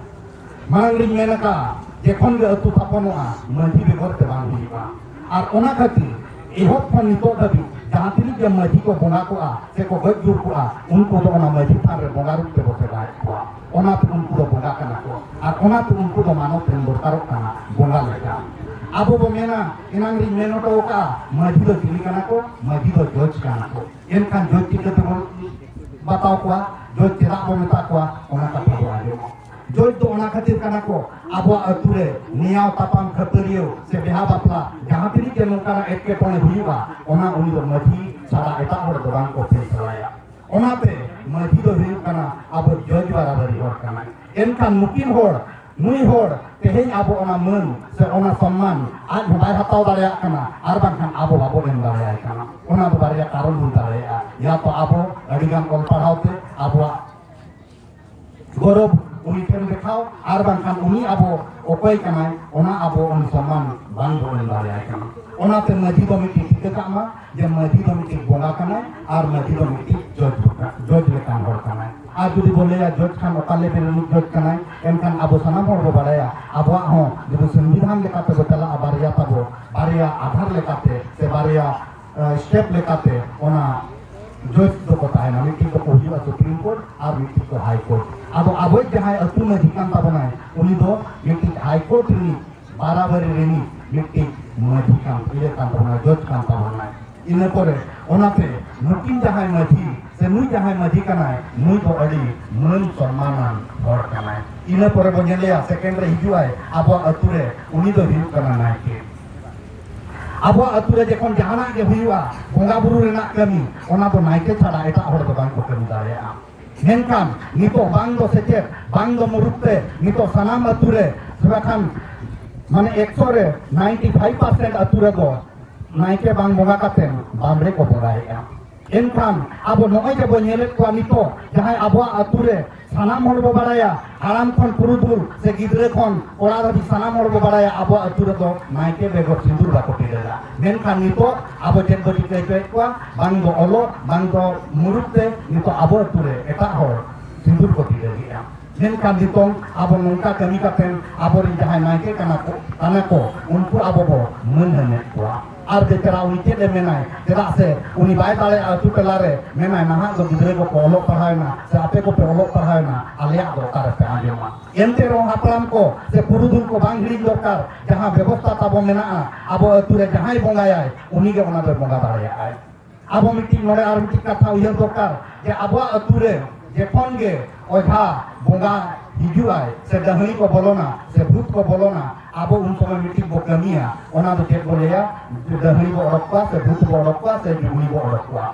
ᱢᱟᱲᱟᱝ ᱨᱤᱧ ᱢᱮᱱ ᱟᱠᱟᱫ ᱡᱮᱠᱷᱚᱱ ᱜᱮ ᱟᱹᱛᱩ ᱛᱷᱟᱯᱚᱱᱚᱜᱼᱟ ᱢᱟᱹᱡᱷᱤ ᱵᱮᱜᱚᱨ ᱛᱮ ᱵᱟᱝ ᱦᱩᱭᱩᱜᱼᱟ ᱟᱨ ᱚᱱᱟ ᱠᱷᱟᱹᱛᱤᱨ ᱮᱦᱚᱵ ᱠᱷᱚᱱ ᱱᱤᱛᱚᱜ ᱫᱷᱟᱹᱵᱤᱡ ᱡᱟᱦᱟᱸ ᱛᱤᱱᱟᱹᱜ ᱜᱮ ᱢᱟᱹᱡᱷᱤ ᱠᱚ ᱵᱚᱸᱜᱟ ᱠᱚᱜᱼᱟ ᱥᱮ ᱠᱚ ᱜᱚᱡ ᱜᱩᱨ ᱠᱚᱜᱼᱟ ᱩᱱᱠᱩ ᱫᱚ ᱚᱱᱟ ᱢᱟᱹᱡᱷᱤ ᱛᱷᱟᱱ ᱨᱮ ᱵᱚᱸᱜᱟ ᱨᱩᱯ ᱛᱮᱵᱚ ᱥᱮᱵᱟᱭᱮᱫ ᱠᱚᱣᱟ ᱚᱱᱟᱛᱮ ᱩᱱᱠᱩ ᱫᱚ ᱵᱚᱸᱜᱟ ᱠᱟᱱᱟ ᱠᱚ ᱟᱨ ᱚᱱᱟᱛᱮ ᱩᱱᱠᱩ ᱫᱚ ᱢᱟᱱᱚᱛ ᱮᱢ ᱫᱚᱨᱠᱟᱨᱚᱜ ᱠᱟᱱᱟ ᱵᱚᱸᱜᱟ ᱞᱮᱠᱟ ᱟᱵᱚ ᱵᱚ ᱢᱮᱱᱟ ᱮᱱᱟᱝ ᱨᱤᱧ ᱢᱮᱱ ᱦᱚᱴᱚ ᱟᱠᱟᱫᱼᱟ ᱢᱟᱹᱡᱷᱤ ᱫᱚ ᱪᱤᱞᱤ ᱠᱟᱱᱟ ᱠᱚ ᱢᱟᱹᱡᱷᱤ ᱫᱚ ᱡᱚᱡᱽ ᱠᱟᱱᱟ ᱠᱚ ᱮᱱᱠᱷᱟᱱ ᱡᱚᱡᱽ ᱪᱤᱠᱟᱹ ᱛᱮᱵᱚᱱ ᱵᱟᱛᱟᱣ ᱠᱚᱣᱟ ᱡᱚᱡᱽ ᱪᱮᱫᱟᱜ ᱵᱚᱱ ᱢᱮᱛᱟ ᱠᱚᱣᱟ ᱚᱱᱟ ᱠᱟᱛᱷᱟ ᱵᱚᱱ ᱟᱸᱡᱚᱢᱟ ᱡᱚᱡᱽ ᱫᱚ ᱚᱱᱟ ᱠᱷᱟᱹᱛᱤᱨ ᱠᱟᱱᱟ ᱠᱚ ᱟᱵᱚᱣᱟᱜ ᱟᱹᱛᱩ ᱨᱮ ᱱᱮᱭᱟᱣ ᱛᱟᱯᱟᱢ ᱠᱷᱟᱹᱯᱟᱹᱨᱤᱭᱟᱹ ᱥᱮ ᱵᱮᱦᱟ ᱵᱟᱯᱞᱟ ᱡᱟᱦᱟᱸ ᱛᱤᱱᱟᱹᱜ ᱜᱮ ᱱᱚᱝᱠᱟᱱᱟᱜ ᱮᱴᱠᱮᱴᱚᱬᱮ ᱦᱩᱭᱩᱜᱼᱟ ᱚᱱᱟ ᱩᱱᱤ ᱫᱚ ᱢᱟᱹᱡᱷᱤ ᱪᱷᱟᱲᱟ ᱮᱴᱟᱜ ᱦᱚᱲ ᱫᱚ ᱵᱟᱝ ᱠᱚ ᱯᱷᱮᱥᱞᱟᱭᱟ ᱚᱱᱟᱛᱮ ᱢᱟᱹᱡᱷᱤ ᱫᱚ ᱦᱩᱭᱩᱜ ᱠᱟᱱᱟ ᱟᱵᱚ ᱡᱚᱡᱽ ᱵᱟᱨᱟᱵᱟᱨᱤ ᱦᱚᱲ ᱠᱟᱱᱟᱭ ᱮᱱᱠᱷᱟᱱ ᱱᱩᱠᱤᱱ ᱦᱚᱲ ᱱᱩᱭ ᱦᱚᱲ ᱛᱮᱦᱮᱧ ᱟᱵᱚ ᱚᱱᱟ ᱢᱟᱹᱱ ᱥᱮ ᱚᱱᱟ ᱥᱚᱱᱢᱟᱱ ᱟᱡ ᱦᱚᱸ ᱵᱟᱭ ᱦᱟᱛᱟᱣ ᱫᱟᱲᱮᱭᱟᱜ ᱠᱟᱱᱟ ᱟᱨ ᱵᱟᱝᱠᱷᱟᱱ ᱟᱵᱚ ᱵᱟᱵᱚ ᱮᱢ ᱫᱟᱲᱮᱭᱟᱭ ᱠᱟᱱᱟ ᱚᱱᱟ ᱫᱚ ᱵᱟᱨᱭᱟ ᱠᱟᱨᱚᱱ ᱦᱩᱭ ᱫᱟᱲᱮᱭᱟᱜᱼᱟ ᱭᱟ ᱛᱚ ᱟᱵᱚ ᱟᱹᱰᱤᱜᱟᱱ ᱚᱞ ᱯᱟᱲᱦᱟᱣ ᱛᱮ ᱟᱵᱚᱣᱟᱜ ᱜᱚᱨᱚᱵ ᱩᱱᱤ ᱴᱷᱮᱱ ᱫᱮᱠᱷᱟᱣ ᱟᱨ ᱵᱟᱝᱠᱷᱟᱱ ᱩᱱᱤ ᱟᱵᱚ ᱚᱠᱚᱭ ᱠᱟᱱᱟᱭ ᱚᱱᱟ ᱟᱵᱚ ᱩᱱᱤ ᱥᱚᱱᱢᱟᱱ ᱵᱟᱝ ᱵᱚ ᱮᱢ ᱫᱟᱲᱮᱭᱟᱭ ᱠᱟᱱᱟ ᱚᱱᱟᱛᱮ ᱢᱟᱹᱡᱷᱤ ᱫᱚ ᱢᱤᱫᱴᱤᱡ ᱴᱷᱤᱠᱟᱹ ᱠᱟᱜ ᱢᱟ ᱡᱮ ᱢᱟᱹᱡᱷᱤ ᱫᱚ ᱢᱤᱫᱴᱤᱡ ᱵᱚᱸᱜᱟ ᱠᱟᱱᱟᱭ ᱟᱨ ᱢᱟᱹᱡᱷᱤ ᱫᱚ ᱢᱤᱫᱴᱤᱡ ᱡᱚᱡᱽ ᱡᱚᱡᱽ ᱞᱮᱠᱟᱱ ᱦᱚᱲ ᱠᱟᱱᱟᱭ ᱟᱨ ᱡᱩᱫᱤ ᱵᱚᱱ ᱞᱟᱹᱭᱟ ᱡᱚᱡᱽ ᱠᱷᱟᱱ ᱚᱠᱟ ᱞᱮᱵᱮᱞ ᱨᱤᱱᱤᱡ ᱡᱚᱡᱽ ᱠᱟᱱᱟᱭ ᱮᱱᱠᱷᱟᱱ ᱟᱵᱚ ᱥᱟᱱᱟᱢ ᱦᱚᱲ ᱵᱚ ᱵᱟᱲᱟᱭᱟ ᱟᱵᱚᱣᱟᱜ ᱦᱚᱸ ᱡᱩᱫᱤ ᱥᱚᱝᱵᱤᱫᱷᱟᱱ ᱞᱮᱠᱟᱛᱮ ᱵᱚ ᱪᱟᱞᱟᱜᱼᱟ ᱵᱟᱨᱭᱟ ᱛᱟᱵᱚ ᱵᱟᱨᱭᱟ ᱟᱫᱷᱟᱨ ᱞᱮᱠᱟᱛᱮ ᱥᱮ ᱵᱟᱨᱭᱟ ᱥᱴᱮᱯ ᱞᱮᱠᱟᱛᱮ ᱚᱱᱟ ᱡᱚᱡᱽ ᱫᱚᱠᱚ ᱛᱟᱦᱮᱱᱟ ᱢᱤᱫᱴᱤᱡ ᱫᱚᱠᱚ ᱦᱩᱭᱩᱜᱼᱟ ᱥᱩᱯᱨᱤᱢ ᱠᱳᱨᱴ ᱟᱨ ᱢᱤᱫᱴᱤᱡ ᱫᱚ ᱦᱟᱭ ᱠᱳᱨᱴ ᱟᱫᱚ ᱟᱵᱚᱭᱤᱡ ᱡᱟᱦᱟᱸᱭ ᱟᱹᱛᱩ ᱢᱟᱹᱡᱷᱤ ᱠᱟᱱ ᱛᱟᱵᱚᱱᱟᱭ ᱩᱱᱤ ᱫᱚ ᱢᱤᱫᱴᱤᱡ ᱦᱟᱭ ᱠᱳᱨᱴ ᱨᱤᱱᱤᱡ ᱵᱟᱨᱟᱵᱟᱨᱤ ᱨᱤᱱᱤᱡ ᱢᱤᱫᱴᱤᱡ ᱢᱟᱹᱡᱷᱤ ᱠᱟᱱ ᱤᱭᱟᱹ ᱠᱟᱱ ᱛᱟᱵᱚᱱᱟ ᱡᱚᱡᱽ ᱠᱟᱱ ᱛᱟᱵᱚᱱᱟᱭ ᱤᱱᱟᱹ ᱯᱚᱨᱮ ᱚᱱᱟᱛᱮ ᱱᱩᱠᱤᱱ ᱡᱟᱦᱟᱸᱭ ᱢᱟᱹᱡᱷᱤ ᱥᱮ ᱱᱩᱭ ᱡᱟᱦᱟᱸᱭ ᱢᱟᱹᱡᱷᱤ ᱠᱟᱱᱟᱭ ᱱᱩᱭ ᱫᱚ ᱟᱹᱰᱤ ᱢᱟᱹᱱ ᱥᱚᱱᱢᱟᱱᱟᱱ ᱦᱚᱲ ᱠᱟᱱᱟᱭ ᱤᱱᱟᱹ ᱯᱚᱨᱮ ᱵᱚᱱ ᱧᱮᱞᱮᱭᱟ ᱥᱮᱠᱮᱱᱰ ᱨᱮ ᱦᱤᱡᱩᱜᱼᱟᱭ ᱟᱵᱚᱣᱟᱜ ᱟᱹᱛᱩ ᱨᱮ ᱩᱱᱤ ᱫᱚ ᱦᱩᱭᱩᱜ ᱠᱟᱱᱟ ᱱᱟᱭᱠᱮ ᱟᱵᱚᱣᱟᱜ ᱟᱹᱛᱩ ᱨᱮ ᱡᱚᱠᱷᱚᱱ ᱡᱟᱦᱟᱱᱟᱜ ᱜᱮ ᱦᱩᱭᱩᱜᱼᱟ ᱵᱚᱸᱜᱟ ᱵᱩᱨᱩ ᱨᱮᱱᱟᱜ ᱠᱟᱹᱢᱤ ᱚᱱᱟ ᱫᱚ ᱱᱟᱭᱠᱮ ᱪᱷᱟᱲᱟ ᱮᱴᱟᱜ ᱦᱚᱲ ᱫᱚ ᱵᱟᱝᱠᱚ ᱠᱟᱹᱢᱤ ᱫᱟᱲᱮᱭᱟᱜᱼᱟ ᱢᱮᱱᱠᱷᱟᱱ ᱱᱤᱛᱚᱜ ᱵᱟᱝ ᱫᱚ ᱥᱮᱪᱮᱫ ᱵᱟᱝ ᱫᱚ ᱢᱩᱨᱩᱠ ᱛᱮ ᱱᱤᱛᱚᱜ ᱥᱟᱱᱟᱢ ᱟᱹᱛᱩ ᱨᱮ ᱛᱷᱚᱲᱟ ᱠᱷᱟᱱ ᱢᱟᱱᱮ ᱮᱠᱥᱚ ᱨᱮ ᱱᱟᱭᱤᱱᱴᱤ ᱯᱷᱟᱭᱤᱵᱷ ᱯᱟᱨᱥᱮᱱᱴ ᱟᱹᱛᱩ ᱨᱮᱫᱚ ᱱᱟᱭᱠᱮ ᱵᱟᱝ ᱵᱚᱸᱜᱟ ᱠᱟᱛᱮ ᱵᱟᱢᱲᱮ ᱠᱚ ᱵᱚᱸᱜᱟᱭᱮᱫᱼᱟ ᱮᱱᱠᱷᱟᱱ ᱟᱵᱚ ᱱᱚᱜᱼᱚᱭ ᱡᱮᱵᱚ ᱧᱮᱞᱮᱫ ᱠᱚᱣᱟ ᱱᱤᱛᱚᱜ ᱡᱟᱦᱟᱸᱭ ᱟᱵᱚᱣᱟᱜ ᱟᱹᱛᱩ ᱨᱮ ᱥᱟᱱᱟᱢ ᱦᱚᱲ ᱵᱚ ᱵᱟᱲᱟᱭᱟ ᱦᱟᱲᱟᱢ ᱠᱷᱚᱱ ᱯᱩᱨᱩᱫᱷᱩᱞ ᱥᱮ ᱜᱤᱫᱽᱨᱟᱹ ᱠᱷᱚᱱ ᱠᱚᱲᱟ ᱫᱷᱟᱹᱵᱤᱡ ᱥᱟᱱᱟᱢ ᱦᱚᱲ ᱵᱚ ᱵᱟᱲᱟᱭᱟ ᱟᱵᱚ ᱟᱹᱛᱩ ᱨᱮᱫᱚ ᱱᱟᱭᱠᱮ ᱵᱮᱜᱚᱨ ᱥᱤᱸᱫᱩᱨ ᱵᱟᱠᱚ ᱴᱤᱰᱟᱹᱜᱟ ᱢᱮᱱᱠᱷᱟᱱ ᱱᱤᱛᱚᱜ ᱟᱵᱚ ᱪᱮᱫ ᱵᱚ ᱪᱤᱠᱟᱹ ᱦᱚᱪᱚᱭᱮᱫ ᱠᱚᱣᱟ ᱵᱟᱝ ᱫᱚ ᱚᱞᱚᱜ ᱵᱟᱝ ᱫᱚ ᱢᱩᱨᱩᱠ ᱛᱮ ᱱᱤᱛᱚᱜ ᱟᱵᱚ ᱟᱹᱛᱩ ᱨᱮ ᱮᱴᱟᱜ ᱦᱚᱲ ᱥᱤᱸᱫᱩᱨ ᱠᱚ ᱴᱤᱰᱟᱹᱜᱮᱜᱼᱟ ᱢᱮᱱᱠᱷᱟᱱ ᱱᱤᱛᱚᱝ ᱟᱵᱚ ᱱᱚᱝᱠᱟ ᱠᱟᱹᱢᱤ ᱠᱟᱛᱮ ᱟᱵᱚᱨᱮᱱ ᱡᱟᱦᱟᱸᱭ ᱱᱟᱭᱠᱮ ᱠᱟᱱᱟ ᱠᱚ ᱠᱟᱱᱟ ᱠᱚ ᱩᱱᱠᱩ ᱟᱵᱚ ᱵᱚ ᱢᱟᱹᱱ ᱦᱟᱹᱱᱮᱫ ᱠᱚᱣᱟ ᱟᱨ ᱵᱮᱠᱟᱨᱟ ᱩᱭᱠᱮᱴ ᱮ ᱢᱮᱱᱟᱭ ᱪᱮᱫᱟᱜ ᱥᱮ ᱩᱱᱤ ᱵᱟᱭ ᱫᱟᱲᱮᱭᱟᱜᱼᱟ ᱟᱹᱛᱩ ᱴᱚᱞᱟ ᱨᱮ ᱢᱮᱱᱟᱭ ᱱᱟᱦᱟᱜ ᱫᱚ ᱜᱤᱫᱽᱨᱟᱹ ᱠᱚᱠᱚ ᱚᱞᱚᱜ ᱯᱟᱲᱦᱟᱣᱮᱱᱟ ᱥᱮ ᱟᱯᱮ ᱠᱚᱯᱮ ᱚᱞᱚᱜ ᱯᱟᱲᱦᱟᱣᱮᱱᱟ ᱟᱞᱮᱭᱟᱜ ᱫᱚ ᱚᱠᱟ ᱨᱮᱯᱮ ᱟᱸᱡᱚᱢᱟ ᱮᱱᱛᱮ ᱨᱮᱦᱚᱸ ᱦᱟᱯᱲᱟᱢ ᱠᱚ ᱥᱮ ᱯᱩᱨᱩᱫᱷᱩᱞ ᱠᱚ ᱵᱟᱝ ᱦᱤᱲᱤᱧ ᱫᱚᱨᱠᱟᱨ ᱡᱟᱦᱟᱸ ᱵᱮᱵᱚᱥᱛᱷᱟ ᱛᱟᱵᱚ ᱢᱮᱱᱟᱜᱼᱟ ᱟᱵᱚ ᱟᱹᱛᱩ ᱨᱮ ᱡᱟᱦᱟᱸᱭ ᱵᱚᱸᱜᱟᱭᱟᱭ ᱩᱱᱤᱜᱮ ᱚᱱᱟ ᱫᱚᱭ ᱵᱚᱸᱜᱟ ᱫᱟᱲᱮᱭᱟᱜᱼᱟᱭ ᱟᱵᱚ ᱢᱤᱫᱴᱤᱡ ᱱᱚᱰᱮ ᱟᱨ ᱢᱤᱫᱴᱤᱡ ᱠᱟᱛᱷᱟ ᱩᱭᱦᱟᱹᱨ ᱫᱚᱨᱠᱟᱨ ᱡᱮ ᱟᱵᱚᱣᱟᱜ ᱟᱹᱛᱩ ᱨᱮ ᱡᱚᱠᱷᱚᱱ ᱜᱮ ᱚᱡᱷᱟ ᱵᱚᱸᱜᱟ ᱦᱤᱡᱩᱜᱼᱟᱭ ᱥᱮ ᱰᱟᱹᱦᱤ ᱠᱚ ᱵᱚᱞᱚᱱᱟ ᱥᱮ ᱵᱷᱩᱛ ᱠᱚ ᱵᱚᱞᱚᱱᱟ ᱟᱵᱚ ᱩᱱ ᱥᱚᱢᱚᱭ ᱢᱤᱫᱴᱤᱡ ᱵᱚ ᱠᱟᱹᱢᱤᱭᱟ ᱚᱱᱟ ᱫᱚ ᱪᱮᱫ ᱵᱚ ᱞᱟᱹᱭᱟ ᱰᱟᱹᱦᱤ ᱵᱚ ᱚᱰᱚᱠ ᱠᱚᱣᱟ ᱥᱮ ᱵᱷᱩᱛ ᱵᱚ ᱚᱰᱚᱠ ᱠᱚᱣᱟ ᱥᱮ ᱡᱩᱜᱽᱱᱤ ᱵᱚ ᱚᱰᱚᱠ ᱠᱚᱣᱟ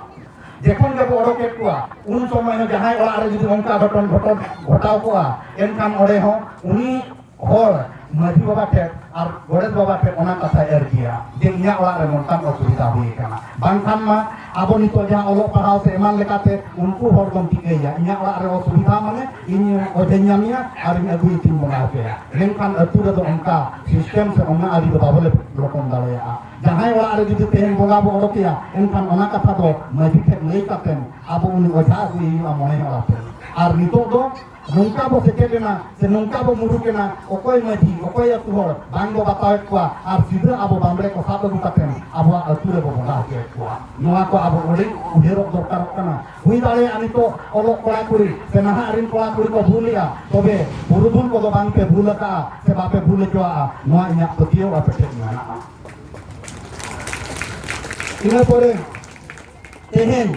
ᱡᱚᱠᱷᱚᱱ ᱜᱮᱵᱚ ᱚᱰᱚᱠᱮᱫ ᱠᱚᱣᱟ ᱩᱱ ᱥᱚᱢᱚᱭ ᱦᱚᱸ ᱡᱟᱦᱟᱸᱭ ᱚᱲᱟᱜ ᱨᱮ ᱡᱩᱫᱤ ᱚᱱᱠᱟ ᱜᱷᱚᱴᱚᱱ ᱜᱷᱚᱴᱚᱱ ᱜᱷᱚᱴᱟᱣ ᱠᱚᱜᱼᱟ ᱮᱱᱠᱷᱟᱱ ᱚᱸᱰᱮ ᱦᱚᱸ ᱩᱱᱤ ᱦᱚᱲ ᱢᱟᱹᱡᱷᱤ ᱵᱟᱵᱟ ᱴᱷᱮᱱ ᱟᱨ ᱜᱚᱰᱮᱛ ᱵᱟᱵᱟ ᱴᱷᱮᱱ ᱚᱱᱟ ᱠᱟᱛᱷᱟᱭ ᱟᱹᱨᱡᱤᱭᱟ ᱡᱮ ᱤᱧᱟᱹᱜ ᱚᱲᱟᱜ ᱨᱮ ᱱᱚᱝᱠᱟᱱ ᱚᱥᱩᱵᱤᱫᱷᱟ ᱦᱩᱭ ᱟᱠᱟᱱᱟ ᱵᱟᱝᱠᱷᱟᱱ ᱢᱟ ᱟᱵᱚ ᱱᱤᱛᱚᱜ ᱡᱟᱦᱟᱸ ᱚᱞᱚᱜ ᱯᱟᱲᱦᱟᱣ ᱥᱮ ᱮᱢᱟᱱ ᱞᱮᱠᱟᱛᱮ ᱩᱱᱠᱩ ᱦᱚᱲ ᱫᱚᱢ ᱴᱷᱤᱠᱟᱹᱭᱟ ᱤᱧᱟᱹᱜ ᱚᱲᱟᱜ ᱨᱮ ᱚᱥᱩᱵᱤᱫᱷᱟ ᱢᱟᱱᱮ ᱤᱧ ᱚᱡᱮᱧ ᱧᱟᱢᱮᱭᱟ ᱟᱨ ᱤᱧ ᱟᱹᱜᱩᱭ ᱛᱤᱧ ᱵᱚᱸᱜᱟ ᱦᱚᱪᱚᱭᱟ ᱢᱮᱱᱠᱷᱟᱱ ᱟᱹᱛᱩ ᱨᱮᱫᱚ ᱚᱱᱠᱟ ᱥᱤᱥᱴᱮᱢ ᱥᱮ ᱚᱱᱟ ᱟᱹᱨᱤ ᱫᱚ ᱵᱟᱵᱚ ᱞᱚᱴᱚᱢ ᱫᱟᱲᱮᱭᱟᱜᱼᱟ ᱡᱟᱦᱟᱸᱭ ᱚᱲᱟᱜ ᱨᱮ ᱡᱩᱫᱤ ᱛᱮᱦᱮᱧ ᱵᱚᱸᱜᱟ ᱵᱚ ᱚᱰᱚᱠᱮᱭᱟ ᱮᱱᱠᱷᱟᱱ ᱚᱱᱟ ᱠᱟᱛᱷᱟ ᱫᱚ ᱢᱟᱹᱡᱷᱤ ᱴᱷᱮᱱ ᱞᱟᱹᱭ ᱠᱟᱛᱮ ᱟᱵᱚ ᱩᱱᱤ ᱚᱡᱷᱟ ᱟᱹᱜᱩᱭ ᱦᱩᱭᱩᱜᱼᱟ ᱢᱚᱬᱮ ᱦᱚᱲ ᱟᱛᱮ ᱟᱨ ᱱᱤᱛᱚᱜ ᱫᱚ ᱱᱚᱝᱠᱟ ᱵᱚ ᱥᱮᱪᱮᱫ ᱮᱱᱟ ᱥᱮ ᱱᱚᱝᱠᱟ ᱵᱚ ᱢᱩᱨᱩᱠ ᱮᱱᱟ ᱚᱠᱚᱭ ᱢᱟᱹᱡᱷᱤ ᱚᱠᱚᱭ ᱟᱹᱛᱩ ᱦᱚᱲ ᱵᱟᱝ ᱵᱚ ᱵᱟᱛᱟᱣᱮᱫ ᱠᱚᱣᱟ ᱟᱨ ᱥᱤᱫᱷᱟᱹ ᱟᱵᱚ ᱵᱟᱢᱵᱽᱲᱮ ᱠᱚ ᱥᱟᱵ ᱟᱹᱜᱩ ᱠᱟᱛᱮ ᱟᱵᱚᱣᱟᱜ ᱟᱹᱛᱩ ᱨᱮᱵᱚ ᱵᱚᱸᱜᱟ ᱦᱚᱪᱚᱭᱮᱫ ᱠᱚᱣᱟ ᱱᱚᱣᱟ ᱠᱚ ᱟᱵᱚ ᱟᱹᱰᱤ ᱩᱭᱦᱟᱹᱨᱚᱜ ᱫᱚᱨᱠᱟᱨᱚᱜ ᱠᱟᱱᱟ ᱦᱩᱭ ᱫᱟᱲᱮᱭᱟᱜᱼᱟ ᱱᱤᱛᱚᱜ ᱚᱞᱚᱜ ᱠᱚᱲᱟ ᱠᱩᱲᱤ ᱥᱮ ᱱᱟᱦᱟᱜ ᱨᱤᱱ ᱠᱚᱲᱟ ᱠᱩᱲᱤ ᱠᱚ ᱵᱷᱩᱞᱮᱜᱼᱟ ᱛᱚᱵᱮ ᱯᱩᱨᱩᱫᱷᱩᱞ ᱠᱚᱫᱚ ᱵᱟᱝ ᱯᱮ ᱵᱷᱩᱞ ᱟᱠᱟᱜᱼᱟ ᱥᱮ ᱵᱟᱯᱮ ᱵᱷᱩᱞ ᱦᱚᱪᱚᱣᱟᱜᱼᱟ ᱱᱚᱣᱟ ᱤᱧᱟᱹᱜ ᱯᱟᱹᱛᱭᱟᱹᱣ ᱟᱯᱮ ᱴᱷᱮᱱ ᱢᱮᱱᱟᱜᱼᱟ ᱤᱱᱟᱹ ᱯᱚᱨᱮ ᱛᱮᱦᱮᱧ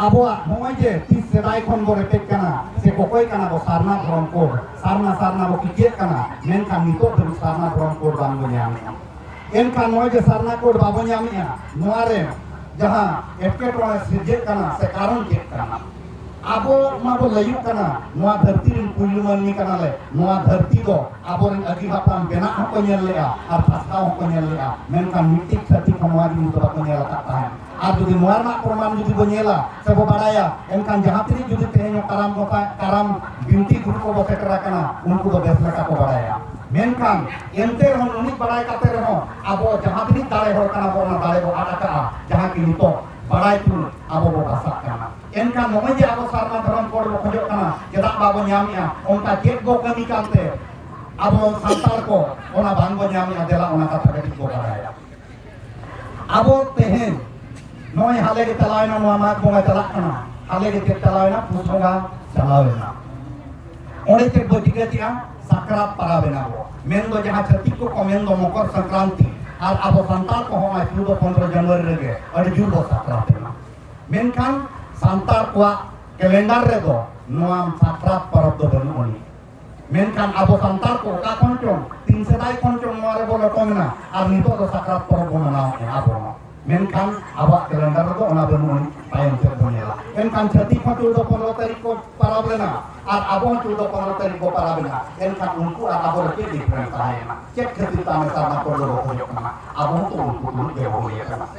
ᱟᱵᱚᱣᱟᱜ ᱱᱚᱜᱼᱚᱭ ᱡᱮ ᱛᱤᱥ ᱥᱮᱫᱟᱭ ᱠᱷᱚᱱ ᱵᱚ ᱨᱮᱯᱮᱡ ᱠᱟᱱᱟ ᱥᱮ ᱚᱠᱚᱭ ᱠᱟᱱᱟ ᱵᱚ ᱥᱟᱨᱱᱟ ᱫᱷᱚᱨᱚᱢ ᱠᱳᱰ ᱥᱟᱨᱱᱟ ᱥᱟᱨᱱᱟ ᱵᱚ ᱠᱤᱪᱮᱫ ᱠᱟᱱᱟ ᱢᱮᱱᱠᱷᱟᱱ ᱱᱤᱛᱚᱜ ᱫᱷᱟᱹᱵᱤᱡ ᱥᱟᱨᱱᱟ ᱫᱷᱚᱨᱚᱢ ᱠᱳᱰ ᱵᱟᱝ ᱵᱚ ᱧᱟᱢ ᱮᱱᱠᱷᱟᱱ ᱱᱚᱜᱼᱚᱭ ᱡᱮ ᱥᱟᱨᱱᱟ ᱠᱳᱰ ᱵᱟᱵᱚ ᱧᱟᱢᱮᱜᱼᱟ ᱱᱚᱣᱟ ᱨᱮ ᱡᱟᱦᱟᱸ ᱮᱴᱠᱮᱴᱚᱬᱮ ᱥᱤᱨᱡᱟᱹᱜ ᱠᱟᱱᱟ ᱥᱮ ᱠᱟᱨᱚᱱ ᱪᱮᱫ ᱠᱟᱱᱟ ᱟᱵᱚ ᱢᱟ ᱵᱚ ᱞᱟᱹᱭᱩᱜ ᱠᱟᱱᱟ ᱱᱚᱣᱟ ᱫᱷᱟᱹᱨᱛᱤ ᱨᱮᱱ ᱯᱩᱭᱞᱩ ᱢᱟᱹᱱᱢᱤ ᱠᱟᱱᱟᱞᱮ ᱱᱚᱣᱟ ᱫᱷᱟᱹᱨᱛᱤ ᱫᱚ ᱟᱵᱚᱨᱮᱱ ᱟᱹᱜᱤ ᱦᱟᱯᱲᱟᱢ ᱵᱮᱱᱟᱜ ᱦᱚᱸᱠᱚ ᱧᱮᱞ ᱞᱮᱜᱼᱟ ᱟᱨ ᱯᱟᱥᱱᱟᱣ ᱦᱚᱸᱠᱚ ᱧᱮᱞ ᱞᱮᱜᱼᱟ ᱢᱮᱱᱠᱷᱟᱱ ᱢᱤᱫᱴᱤᱡ ᱪᱷᱟᱹᱛᱤᱠ ᱦᱚᱸ ᱱᱚᱣᱟ ᱡᱤᱱᱤᱥ ᱫᱚ ᱵᱟᱠᱚ ᱧᱮᱞ ᱟᱠᱟᱫ ᱛᱟᱦᱮᱸᱫ ᱟᱨ ᱡᱩᱫᱤ ᱱᱚᱣᱟ ᱨᱮᱱᱟᱜ ᱯᱨᱚᱢᱟᱱ ᱡᱩᱫᱤ ᱵᱚ ᱧᱮᱞᱟ ᱥᱮ ᱵᱚ ᱵᱟᱲᱟᱭᱟ ᱮᱱᱠᱷᱟᱱ ᱡᱟᱦᱟᱸ ᱛᱤᱱᱟᱹᱜ ᱡᱩᱫᱤ ᱛᱮᱦᱮᱧ ᱠᱟᱨᱟᱢ ᱜᱚᱯᱟ ᱠᱟᱨᱟᱢ ᱵᱤᱱᱛᱤ ᱜᱩᱨᱩ ᱠᱚ ᱵᱚ ᱥᱮᱴᱮᱨ ᱟᱠᱟᱱᱟ ᱩᱱᱠᱩ ᱫᱚ ᱵᱮᱥ ᱞᱮᱠᱟ ᱠᱚ ᱵᱟᱲᱟᱭᱟ ᱢᱮᱱᱠᱷᱟᱱ ᱮᱱᱛᱮ ᱨᱮᱦᱚᱸ ᱩᱱᱤ ᱵᱟᱲᱟᱭ ᱠᱟᱛᱮ ᱨᱮᱦᱚᱸ ᱟᱵᱚ ᱡᱟᱦᱟᱸ ᱛᱤᱱᱟᱹᱜ ᱫᱟᱲᱮ ᱦᱚᱲ ᱠᱟᱱᱟ ᱵᱚ ᱚᱱᱟ ᱫᱟᱲᱮ ᱵᱚ ᱟᱫ ᱟᱠᱟᱜᱼᱟ ᱡᱟᱦᱟᱸ ᱠᱤ ᱱᱤᱛᱚᱜ ᱵᱟᱲᱟᱭ ᱛᱩᱞᱩᱡ ᱟᱵᱚ ᱵᱚ ᱵᱟᱥᱟᱜ ᱠᱟᱱᱟ ᱮᱱᱠᱷᱟᱱ ᱱᱚᱜᱼᱚᱭ ᱡᱮ ᱟᱵᱚ ᱥᱟᱨᱱᱟ ᱫᱷᱚᱨᱚᱢ ᱠᱚ ᱵᱚ ᱠᱷᱚᱡᱚᱜ ᱠᱟᱱᱟ ᱪᱮᱫᱟᱜ ᱵᱟᱵᱚ ᱧᱟᱢᱮᱜᱼᱟ ᱚᱱᱠᱟ ᱪᱮᱫ ᱵᱚ ᱠᱟᱹᱢᱤ ᱠᱟᱱᱛᱮ ᱟᱵᱚ ᱥᱟᱱᱛᱟᱲ ᱠᱚ ᱚᱱᱟ ᱵᱟᱝ ᱵᱚ ᱧᱟᱢᱮᱜᱼᱟ ᱫᱮᱞᱟ ᱚᱱᱟ ᱠᱟᱛᱷᱟ ᱠᱟᱹᱴᱤᱡ ᱵᱚ ᱵᱟᱲᱟᱭᱟ ᱟᱵᱚ ᱛᱮᱦᱮᱧ ᱱᱚᱜᱼᱚᱭ ᱦᱟᱞᱮ ᱜᱮ ᱪᱟᱞᱟᱣᱮᱱᱟ ᱱᱚᱣᱟ ᱢᱟᱜᱽ ᱵᱚᱸᱜᱟ ᱪᱟᱞᱟᱜ ᱠᱟᱱᱟ ᱦᱟᱞᱮ ᱜᱮ ᱪᱮᱫ ᱪᱟᱞᱟᱣᱮᱱᱟ ᱯᱩᱥ ᱵᱚᱸᱜᱟ ᱪᱟᱞᱟᱣᱮᱱᱟ ᱚᱸᱰᱮ ᱪᱮᱫ ᱵᱚ ᱴᱷᱤᱠᱟᱹ ᱠᱮᱜᱼᱟ ᱥᱟᱠᱨᱟᱛ ᱯᱟᱨᱟᱵᱮᱱᱟ ᱵᱚ ᱢᱮᱱ ᱫᱚ ᱡᱟᱦᱟᱸ ᱪᱷᱟᱹᱛᱤᱠ ᱠᱚ ᱠᱚ ᱢᱮᱱ ᱫᱚ ᱢᱚᱠᱚᱨ ᱥᱟᱝᱠᱨᱟᱱᱛᱤ ᱟᱨ ᱟᱵᱚ ᱥᱟᱱᱛᱟᱲ ᱠᱚ ᱦᱚᱸ ᱪᱩᱫᱚ ᱯᱚᱱᱫᱨᱚ ᱡᱟᱱᱩᱣᱟᱨᱤ ᱨᱮᱜᱮ ᱟᱹᱰᱤ ᱡᱳᱨ ᱵᱚ ᱥᱟᱠᱨᱟᱛ ᱮᱱᱟ ᱢᱮᱱᱠᱷᱟᱱ ᱥᱟᱱᱛᱟᱲ ᱠᱚᱣᱟᱜ ᱠᱮᱞᱮᱱᱰᱟᱨ ᱨᱮᱫᱚ ᱱᱚᱣᱟ ᱥᱟᱠᱨᱟᱛ ᱯᱚᱨᱚᱵᱽ ᱫᱚ ᱵᱟᱹᱱᱩᱜ ᱟᱹᱱᱤᱡ ᱢᱮᱱᱠᱷᱟᱱ ᱟᱵᱚ ᱥᱟᱱᱛᱟᱲ ᱠᱚ ᱚᱠᱟ ᱠᱷᱚᱱ ᱪᱚᱝ ᱛᱤᱱ ᱥᱮᱫᱟᱭ ᱠᱷᱚᱱ ᱪᱚᱝ ᱱᱚᱣᱟ ᱨᱮᱵᱚ ᱞᱚᱴᱚᱢ ᱮᱱᱟ ᱟᱨ ᱱᱤᱛᱚᱜ ᱫᱚ ᱥᱟᱠᱨᱟᱛ ᱯᱚᱨᱚᱵᱽ ᱵᱚ ᱢᱟᱱᱟᱣᱮᱫᱼᱟ ᱟᱵᱚ ᱦᱚᱸ ᱢᱮᱱᱠᱷᱟᱱ ᱟᱵᱚᱣᱟᱜ ᱠᱮᱞᱮᱱᱰᱟᱨ ᱨᱮᱫᱚ ᱚᱱᱟ ᱵᱟᱹᱱᱩᱜ ᱟᱹᱱᱤᱡ ᱛᱟᱭᱚᱢ ᱥᱮᱫ ᱵᱚ ᱧᱮᱞᱟ ᱮᱱᱠᱷᱟᱱ ᱪᱷᱟᱹᱛᱤᱠ ᱦᱚᱸ ᱪᱩᱲᱫᱚ ᱯᱚᱱᱨᱚ ᱛᱟᱹᱨᱤᱠᱷ ᱠᱚ ᱯᱟᱨᱟᱵᱽ ᱞᱮᱱᱟ ᱟᱨ ᱟᱵᱚ ᱦᱚᱸ ᱪᱩᱲᱫᱚ ᱯᱚᱱᱨᱚ ᱛᱟᱹᱨᱤᱠᱷ ᱵᱚ ᱯᱟᱨᱟᱵᱽ ᱮᱱᱟ ᱮᱱᱠᱷᱟᱱ ᱩᱱᱠᱩ ᱟᱨ ᱟᱵᱚ ᱨᱮ ᱪᱮᱫ ᱰᱤᱯᱷᱟᱨᱮᱱᱥ ᱛᱟᱦᱮᱸᱭᱮᱱᱟ ᱪᱮᱫ ᱠᱷᱟᱹᱛᱤᱨ ᱛᱟᱦᱮᱸ ᱥᱟᱨᱱᱟ ᱠᱚ ᱫᱚ ᱵᱚ ᱠᱷᱚᱡᱚᱜ ᱠᱟᱱᱟ ᱟᱵᱚ ᱦᱚᱸᱛᱚ ᱩᱱᱠᱩ ᱛᱩᱞᱩᱡ ᱜᱮ ᱵᱚ ᱦᱩᱭ ᱟᱠᱟᱱᱟ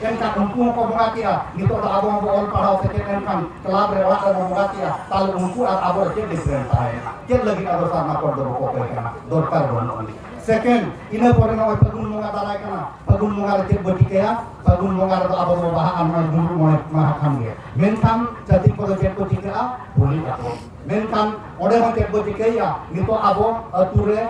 ᱮᱱᱠᱷᱟᱱ ᱩᱱᱠᱩ ᱦᱚᱸᱠᱚ ᱵᱚᱸᱜᱟ ᱠᱮᱜᱼᱟ ᱱᱤᱛᱚᱜ ᱫᱚ ᱟᱵᱚ ᱦᱚᱸᱵᱚ ᱚᱞ ᱯᱟᱲᱦᱟᱣ ᱥᱮᱪᱮᱫ ᱞᱮᱱᱠᱷᱟᱱ ᱠᱞᱟᱵᱽ ᱨᱮ ᱚᱲᱟᱜ ᱨᱮᱵᱚ ᱵᱚᱸᱜᱟ ᱠᱮᱜᱼᱟ ᱛᱟᱦᱚᱞᱮ ᱩᱱᱠᱩ ᱟᱨ ᱟᱵᱚ ᱪᱮᱫ ᱰᱤᱯᱷᱟᱨᱮᱱᱥ ᱛᱟᱦᱮᱸᱭᱮᱱᱟ ᱪᱮᱫ ᱞᱟᱹᱜᱤᱫ ᱟᱵᱚ ᱥᱟᱨᱱᱟ ᱠᱚᱲ ᱫᱚᱵᱚ ᱠᱚᱠᱚᱭ ᱠᱟᱱᱟ ᱫᱚᱨᱠᱟᱨ ᱵᱟᱹᱱᱩᱜ ᱟᱹᱱᱤᱡ ᱥᱮᱠᱮᱱᱰ ᱤᱱᱟᱹ ᱯᱚᱨᱮ ᱱᱚᱜᱼᱚᱭ ᱯᱷᱟᱹᱜᱩᱱ ᱵᱚᱸᱜᱟ ᱫᱟᱨᱟᱭ ᱠᱟᱱᱟ ᱯᱷᱟᱹᱜᱩᱱ ᱵᱚᱸᱜᱟ ᱨᱮ ᱪᱮᱫ ᱵᱚ ᱪᱤᱠᱟᱹᱭᱟ ᱯᱷᱟᱹᱜᱩᱱ ᱵᱚᱸᱜᱟ ᱨᱮᱫᱚ ᱟᱵᱚ ᱵᱚ ᱵᱟᱦᱟᱜᱼᱟ ᱱᱚᱜᱼᱚᱭ ᱫᱩᱲᱩᱵ ᱢᱚᱬᱮ ᱢᱟᱦᱟ ᱠᱷᱟᱱ ᱜᱮ ᱢᱮᱱᱠᱷᱟᱱ ᱪᱷᱟᱹᱛᱤᱠ ᱠᱚᱫᱚ ᱪᱮᱫ ᱠᱚ ᱪᱤᱠᱟᱹᱜᱼᱟ ᱦᱳᱞᱤᱜ ᱟᱠᱚ ᱢᱮᱱᱠᱷᱟᱱ ᱚᱸᱰᱮ ᱦᱚᱸ ᱪᱮᱫ ᱵᱚ ᱪᱤᱠᱟᱹᱭᱮᱜᱼᱟ ᱱᱤᱛᱚᱜ ᱟᱵᱚ ᱟᱹᱛᱩ ᱨᱮ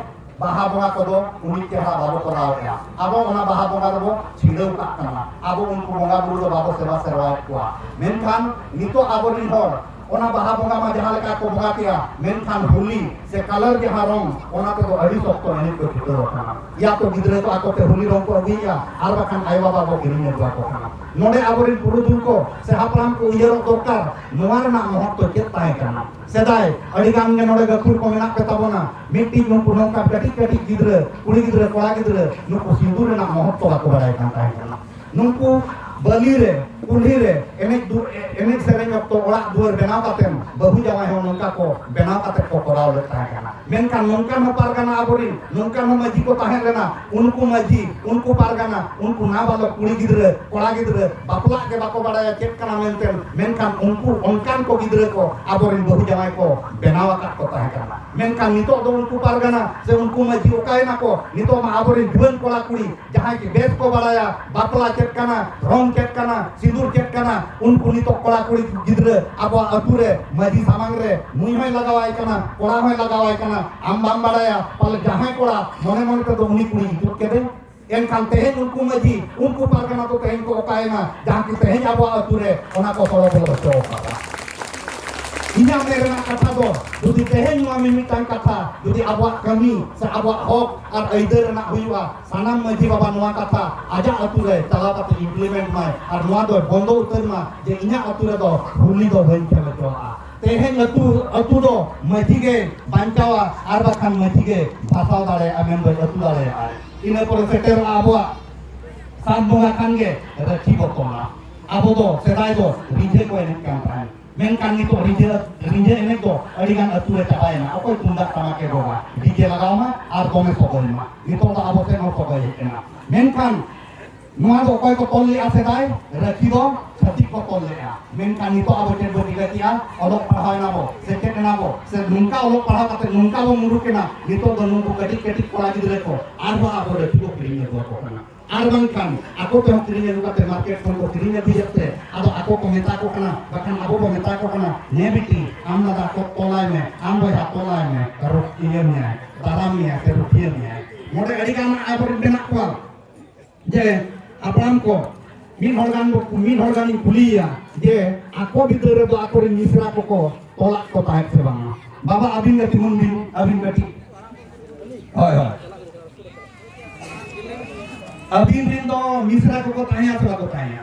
ᱵᱟᱦᱟ ᱵᱚᱸᱜᱟ ᱠᱚᱫᱚ ᱩᱱᱤ ᱪᱮᱦᱨᱟ ᱵᱟᱵᱚ ᱠᱚᱨᱟᱣ ᱮᱫᱟ ᱟᱵᱚ ᱚᱱᱟ ᱵᱟᱦᱟ ᱵᱚᱸᱜᱟ ᱫᱚᱵᱚ ᱪᱷᱤᱰᱟᱹᱣ ᱠᱟᱜ ᱠᱟᱱᱟ ᱟᱵᱚ ᱩᱱᱠᱩ ᱵᱚᱸᱜᱟ ᱵᱩᱨᱩ ᱫᱚ ᱵᱟᱵᱚ ᱥᱮᱵᱟ ᱥᱮᱨᱣᱟᱭᱮᱫ ᱠᱚᱣᱟ ᱢᱮᱱᱠᱷᱟᱱ ᱱᱤᱛᱚᱜ ᱟᱵᱚᱨᱤᱱ ᱦᱚᱲ ᱚᱱᱟ ᱵᱟᱦᱟ ᱵᱚᱸᱜᱟ ᱢᱟ ᱡᱟᱦᱟᱸ ᱞᱮᱠᱟ ᱠᱚ ᱵᱚᱸᱜᱟ ᱠᱮᱭᱟ ᱢᱮᱱᱠᱷᱟᱱ ᱦᱳᱞᱤ ᱥᱮ ᱠᱟᱞᱟᱨ ᱡᱟᱦᱟᱸ ᱨᱚᱝ ᱚᱱᱟ ᱛᱮᱫᱚ ᱟᱹᱰᱤ ᱥᱚᱠᱛᱚ ᱮᱱᱮᱡ ᱠᱚ ᱪᱷᱩᱴᱟᱹᱣ ᱟᱠᱟᱱᱟ ᱭᱟ ᱛᱚ ᱜᱤᱫᱽᱨᱟᱹ ᱠᱚ ᱟᱠᱚᱛᱮ ᱦᱳᱞᱤ ᱨᱚᱝ ᱠᱚ ᱟᱹᱜᱩᱭᱮᱫᱼᱟ ᱟᱨ ᱵᱟᱠᱷᱟᱱ ᱟᱭᱳ ᱵᱟᱵᱟ ᱠᱚ ᱠᱤᱨᱤᱧ ᱟᱹᱜᱩ ᱟᱠᱚ ᱠᱟᱱᱟ ᱱᱚᱰᱮ ᱟᱵᱚᱨᱤᱱ ᱯᱩᱨᱩᱫᱷᱩᱞ ᱠᱚ ᱥᱮ ᱦᱟᱯᱲᱟᱢ ᱠᱚ ᱩᱭᱦᱟᱹᱨᱚᱜ ᱫᱚᱨᱠᱟᱨ ᱱᱚᱣᱟ ᱨᱮᱱᱟᱜ ᱢᱚᱦᱚᱛ ᱫᱚ ᱪᱮᱫ ᱛᱟᱦᱮᱸ ᱠᱟᱱᱟ ᱥᱮᱫᱟᱭ ᱟᱹᱰᱤ ᱜᱟᱱ ᱜᱮ ᱱᱚᱰᱮ ᱜᱟᱹᱠᱷᱩᱲ ᱠᱚ ᱢᱮᱱᱟᱜ ᱯᱮ ᱛᱟᱵᱚᱱᱟ ᱢᱤᱫᱴᱤᱡ ᱱᱩᱠᱩ ᱱᱚᱝᱠᱟ ᱠᱟᱹᱴᱤᱡ ᱠᱟᱹᱴᱤᱡ ᱜᱤᱫᱽᱨᱟᱹ ᱠᱩᱲᱤ ᱜᱤᱫᱽᱨᱟᱹ ᱠᱚᱲᱟ ᱜᱤᱫᱽᱨᱟᱹ ᱱᱩᱠᱩ ᱦᱤᱱᱫᱩ ᱨᱮᱱᱟᱜ ᱢᱚᱦᱚᱛᱛᱚ ᱵᱟᱠᱚ ᱵᱟᱲᱟᱭ ᱠᱟᱱ ᱛᱟᱦᱮᱸ ᱠᱟᱱᱟ ᱱᱩᱠᱩ ᱵᱟᱹᱞᱤ ᱨᱮ ᱠᱩᱞᱦᱤ ᱨᱮ ᱮᱱᱮᱡ ᱮᱱᱮᱡ ᱥᱮᱨᱮᱧ ᱚᱠᱛᱚ ᱚᱲᱟᱜ ᱫᱩᱣᱟᱹᱨ ᱵᱮᱱᱟᱣ ᱠᱟᱛᱮᱢ ᱵᱟᱹᱦᱩ ᱡᱟᱶᱟᱭ ᱦᱚᱸ ᱱᱚᱝᱠᱟ ᱠᱚ ᱵᱮᱱᱟᱣ ᱠᱟᱛᱮ ᱠᱚ ᱠᱚᱨᱟᱣ ᱞᱮᱫ ᱛᱟᱦᱮᱸ ᱠᱟᱱᱟ ᱢᱮᱱᱠᱷᱟᱱ ᱱᱚᱝᱠᱟᱱ ᱦᱚᱸ ᱯᱟᱨᱜᱟᱱᱟ ᱟᱵᱚᱨᱤᱱ ᱱᱚᱝᱠᱟᱱ ᱦᱚᱸ ᱢᱟᱹᱡᱷᱤ ᱠᱚ ᱛᱟᱦᱮᱸ ᱞᱮᱱᱟ ᱩᱱᱠᱩ ᱢᱟᱹᱡᱷᱤ ᱩᱱᱠᱩ ᱯᱟᱨᱜᱟᱱᱟ ᱩᱱᱠᱩ ᱱᱟᱵᱟᱞᱚᱠ ᱠᱩᱲᱤ ᱜᱤᱫᱽᱨᱟᱹ ᱠᱚᱲᱟ ᱜᱤᱫᱽᱨᱟᱹ ᱵᱟᱯᱞᱟᱜ ᱜᱮ ᱵᱟᱠᱚ ᱵᱟᱲᱟᱭᱟ ᱪᱮᱫ ᱠᱟᱱᱟ ᱢᱮᱱᱛᱮ ᱢᱮᱱᱠᱷᱟᱱ ᱩᱱᱠᱩ ᱚᱱᱠᱟᱱ ᱠᱚ ᱜᱤᱫᱽᱨᱟᱹ ᱠᱚ ᱟᱵᱚᱨᱮᱱ ᱵᱟᱹᱦᱩ ᱡᱟᱶᱟᱭ ᱠᱚ ᱵᱮᱱᱟᱣ ᱟᱠᱟᱫ ᱠᱚ ᱛᱟᱦᱮᱸ ᱠᱟᱱᱟ ᱢᱮᱱᱠᱷᱟᱱ ᱱᱤᱛᱚᱜ ᱫᱚ ᱩᱱᱠᱩ ᱯᱟᱨᱜᱟᱱᱟ ᱥᱮ ᱩᱱᱠᱩ ᱢᱟᱹᱡᱷᱤ ᱚᱠᱟᱭᱮᱱᱟ ᱠᱚ ᱱᱤᱛᱚᱜ ᱢᱟ ᱟᱵᱚᱨᱮᱱ ᱡᱩᱣᱟᱹᱱ ᱠᱚᱲᱟ ᱠᱩᱲᱤ ᱡᱟᱦᱟᱸᱭ ᱠᱤ ᱵᱮᱥ ᱠᱚ ᱵᱟᱲᱟᱭᱟ ᱵᱟᱯᱞᱟ ᱪᱮᱫ ᱠᱟᱱᱟ ᱨᱚᱝ ᱪᱮᱫ ᱠᱟᱱᱟ ᱥᱤᱸᱫᱩᱨ ᱪᱮᱫ ᱠᱟᱱᱟ ᱩᱱᱠᱩ ᱱᱤᱛᱚᱜ ᱠᱚᱲᱟ ᱠᱩᱲᱤ ᱜᱤᱫᱽᱨᱟᱹ ᱟᱵᱚᱣᱟᱜ ᱟᱹᱛᱩ ᱨᱮ ᱢᱟᱹᱡᱷᱤ ᱥᱟᱢᱟᱝ ᱨᱮ ᱱᱩᱭ ᱦᱚᱸᱭ ᱞᱟᱜᱟᱣᱟᱭ ᱠᱟᱱᱟ ᱠᱚᱲᱟ ᱦᱚᱸᱭ ᱞᱟᱜᱟᱣᱟᱭ ᱠᱟᱱᱟ ᱟᱢ ᱵᱟᱢ ᱵᱟᱲᱟᱭᱟ ᱯᱟᱞᱮ ᱡᱟᱦᱟᱸᱭ ᱠᱚᱲᱟ ᱢᱚᱱᱮ ᱢᱚᱱᱮ ᱛᱮᱫᱚ ᱩᱱᱤ ᱠᱩᱲᱤ ᱤᱫᱤ ᱠᱮᱫᱮ ᱮᱱᱠᱷᱟᱱ ᱛᱮᱦᱮᱧ ᱩᱱᱠᱩ ᱢᱟᱹᱡᱷᱤ ᱩᱱᱠᱩ ᱯᱟᱨᱜᱟᱱᱟ ᱫᱚ ᱛᱮᱦᱮᱧ ᱠᱚ ᱚᱠᱟᱭᱮᱱᱟ ᱡᱟᱦᱟᱸ ᱠᱤ ᱛᱮᱦᱮᱧ ᱟᱵᱚᱣᱟᱜ ᱟᱹᱛᱩ ᱨᱮ ᱚᱱᱟ ᱠᱚ ᱦᱚᱲ ᱵᱚᱞᱚ ᱦᱚᱪᱚ ᱟᱠᱟᱫᱟ ᱤᱧᱟᱹᱜ ᱢᱮᱱ ᱨᱮᱱᱟᱜ ᱠᱟᱛᱷᱟ ᱫᱚ ᱡᱩᱫᱤ ᱛᱮᱦᱮᱧ ᱱᱚᱣᱟ ᱢᱤᱢᱤᱫᱴᱟᱝ ᱠᱟᱛᱷᱟ ᱡᱩᱫᱤ ᱟᱵᱚᱣᱟᱜ ᱠᱟᱹᱢᱤ ᱥᱮ ᱟᱵᱚᱣᱟᱜ ᱦᱚᱠ ᱟᱨ ᱟᱹᱭᱫᱟᱹᱨ ᱨᱮᱱᱟᱜ ᱦᱩᱭᱩᱜᱼᱟ ᱥᱟᱱᱟᱢ ᱢᱟᱹᱡᱷᱤ ᱵᱟᱵᱟ ᱱᱚᱣᱟ ᱠᱟᱛᱷᱟ ᱟᱡᱟᱜ ᱟᱹᱛᱩ ᱨᱮ ᱪᱟᱞᱟᱣ ᱠᱟᱛᱮ ᱤᱢᱯᱞᱤᱢᱮᱱᱴ ᱢᱟᱭ ᱟᱨ ᱱᱚᱣᱟ ᱫᱚ ᱵᱚᱱᱫᱚ ᱩᱛᱟᱹᱨ ᱢᱟ ᱡᱮ ᱤᱧᱟᱹᱜ ᱟᱹᱛᱩ ᱨᱮᱫᱚ ᱦᱩᱞᱤ ᱫᱚ ᱵᱟᱹᱧ ᱠᱷᱮᱞ ᱦᱚᱪᱚᱣᱟᱜᱼᱟ ᱛᱮᱦᱮᱧ ᱟᱹᱛᱩ ᱟᱹᱛᱩ ᱫᱚ ᱢᱟᱹᱡᱷᱤ ᱜᱮ ᱵᱟᱧᱪᱟᱣᱟ ᱟᱨ ᱵᱟᱠᱷᱟᱱ ᱢᱟᱹᱡᱷᱤ ᱜᱮ ᱵᱷᱟᱥᱟᱣ ᱫᱟᱲᱮᱭᱟᱜᱼᱟ ᱢᱮᱱᱫᱚ ᱟᱹᱛᱩ ᱫᱟᱲᱮᱭᱟᱜᱼᱟ ᱤᱱᱟᱹ ᱯᱚᱨᱮ ᱥᱮᱴᱮᱨᱚᱜᱼᱟ ᱟᱵᱚᱣᱟᱜ ᱥᱟᱱ ᱵᱚᱸᱜᱟ ᱠᱷᱟᱱ ᱜᱮ ᱨᱟᱹᱠᱷᱤ ᱵᱚ ᱛᱚᱞᱟ ᱟᱵᱚ ᱫᱚ ᱥᱮᱫᱟᱭ ᱫᱚ ᱨᱤᱸᱡᱷᱟᱹ ᱠᱚ ᱮᱱᱮᱡ ᱠᱟᱱ ᱛᱟᱦᱮᱸᱫ ᱢᱮᱱᱠᱷᱟᱱ ᱱᱤᱛᱚᱜ ᱨᱤᱸᱡᱷᱟᱹ ᱨᱤᱸᱡᱷᱟᱹ ᱮᱱᱮᱡ ᱫᱚ ᱟᱹᱰᱤ ᱜᱟᱱ ᱟᱹᱛᱩ ᱨᱮ ᱪᱟᱵᱟᱭᱮᱱᱟ ᱚᱠᱚᱭ ᱛᱩᱢᱫᱟᱜ ᱴᱟᱢᱟᱠ ᱮ ᱨᱚᱜᱟ ᱰᱤᱡᱮ ᱞᱟᱜᱟᱣ ᱢᱟ ᱟᱨ ᱫᱚᱢᱮ ᱥᱚᱜᱚᱭ ᱢᱟ ᱱᱤᱛᱚᱜ ᱫᱚ ᱟᱵᱚ ᱥᱮᱫ ᱦᱚᱸ ᱥᱚᱜᱚᱭ ᱦᱮᱡ ᱮᱱᱟ ᱢᱮᱱᱠᱷᱟᱱ ᱱᱚᱣᱟ ᱫᱚ ᱚᱠᱚᱭ ᱠᱚ ᱛᱚᱞ ᱞᱮᱫᱼᱟ ᱥᱮᱫᱟᱭ ᱨᱟᱹᱠᱷᱤ ᱫᱚ ᱪᱷᱟᱹᱛᱤᱠ ᱠᱚ ᱛᱚᱞ ᱞᱮᱫᱼᱟ ᱢᱮᱱᱠᱷᱟᱱ ᱱᱤᱛᱚᱜ ᱟᱵᱚ ᱪᱮᱫ ᱵᱚ ᱪᱤᱠᱟᱹ ᱠᱮᱫᱼᱟ ᱚᱞᱚᱜ ᱯᱟᱲᱦᱟᱣ ᱮᱱᱟ ᱵᱚ ᱥᱮᱪᱮᱫ ᱮᱱᱟ ᱵᱚ ᱥᱮ ᱱᱚᱝᱠᱟ ᱚᱞᱚᱜ ᱯᱟᱲᱦᱟᱣ ᱠᱟᱛᱮ ᱱᱚᱝᱠᱟ ᱵᱚ ᱢᱩᱨᱩᱠ ᱮᱱᱟ ᱱᱤᱛᱚᱜ ᱫᱚ ᱱᱩᱠᱩ ᱠᱟᱹᱴᱤᱡ ᱠᱟᱹᱴᱤᱡ ᱠᱚᱲᱟ ᱜᱤᱫᱽᱨᱟᱹ ᱠᱚ ᱟᱨᱦᱚᱸ ᱟᱵᱚ ᱨᱟᱹᱠᱷᱤ ᱠᱚ ᱠᱤᱨᱤᱧ ᱟᱹᱜᱩ ᱟᱠᱚ ᱠᱟᱱᱟ ᱟᱨ ᱵᱟᱝᱠᱷᱟᱱ ᱟᱠᱚ ᱛᱮᱦᱚᱸ ᱠᱤᱨᱤᱧ ᱟᱹᱜᱩ ᱠᱟᱛᱮ ᱢᱟᱨᱠᱮᱴ ᱠᱷᱚᱱ ᱠᱚ ᱠᱤᱨᱤᱧ ᱟᱹᱜᱩᱭᱮᱫ ᱛᱮ ᱟᱫᱚ ᱟᱠᱚ ᱠᱚ ᱢᱮᱛᱟ ᱠᱚ ᱠᱟᱱᱟ ᱵᱟᱠᱷᱟᱱ ᱟᱵᱚ ᱵᱚ ᱢᱮᱛᱟ ᱠᱚ ᱠᱟᱱᱟ ᱱᱮ ᱵᱤᱴᱤ ᱟᱢ ᱫᱟᱫᱟ ᱠᱚ ᱛᱚᱞᱟᱭ ᱢᱮ ᱟᱢ ᱵᱚᱭᱦᱟ ᱛᱚᱞᱟᱭ ᱢᱮ ᱨᱩᱠᱷᱤᱭᱟᱹ ᱢᱮᱭᱟᱭ ᱫᱟᱨᱟᱢ ᱢᱮᱭᱟᱭ ᱥᱮ ᱨᱩᱠᱷᱤᱭᱟᱹ ᱢᱮᱭᱟᱭ ᱱᱚᱰᱮ ᱟᱹᱰᱤᱜᱟᱱ ᱟᱵᱚᱨᱮᱱ ᱢᱮᱱᱟᱜ ᱠᱚᱣᱟ ᱡᱮ ᱦᱟᱯᱲᱟᱢ ᱠᱚ ᱢᱤᱫ ᱦᱚᱲ ᱜᱟᱱ ᱢᱤᱫ ᱦᱚᱲ ᱜᱟᱱᱤᱧ ᱠᱩᱞᱤᱭᱮᱭᱟ ᱡᱮ ᱟᱠᱚ ᱵᱤᱫᱟᱹᱞ ᱨᱮᱫᱚ ᱟᱠᱚᱨᱮᱱ ᱢᱤᱥᱨᱟ ᱠᱚᱠᱚ ᱛᱚᱞᱟᱜ ᱠᱚ ᱛᱟᱦᱮᱸᱫ ᱥᱮ ᱵᱟᱝᱟ ᱵᱟᱵᱟ ᱟᱹᱵᱤᱱ ᱜᱮ ᱛᱤᱸᱜᱩᱱ ᱵᱤᱱ ᱟᱹᱵᱤᱱ ᱠᱟᱹᱴᱤᱡ ᱦᱳᱭ ᱦᱳᱭ ᱟᱹᱵᱤᱱ ᱨᱮᱱ ᱫᱚ ᱢᱤᱥᱨᱟ ᱠᱚᱠᱚ ᱛᱟᱦᱮᱸᱭᱟ ᱥᱮ ᱵᱟᱠᱚ ᱛᱟᱦᱮᱸᱭᱟ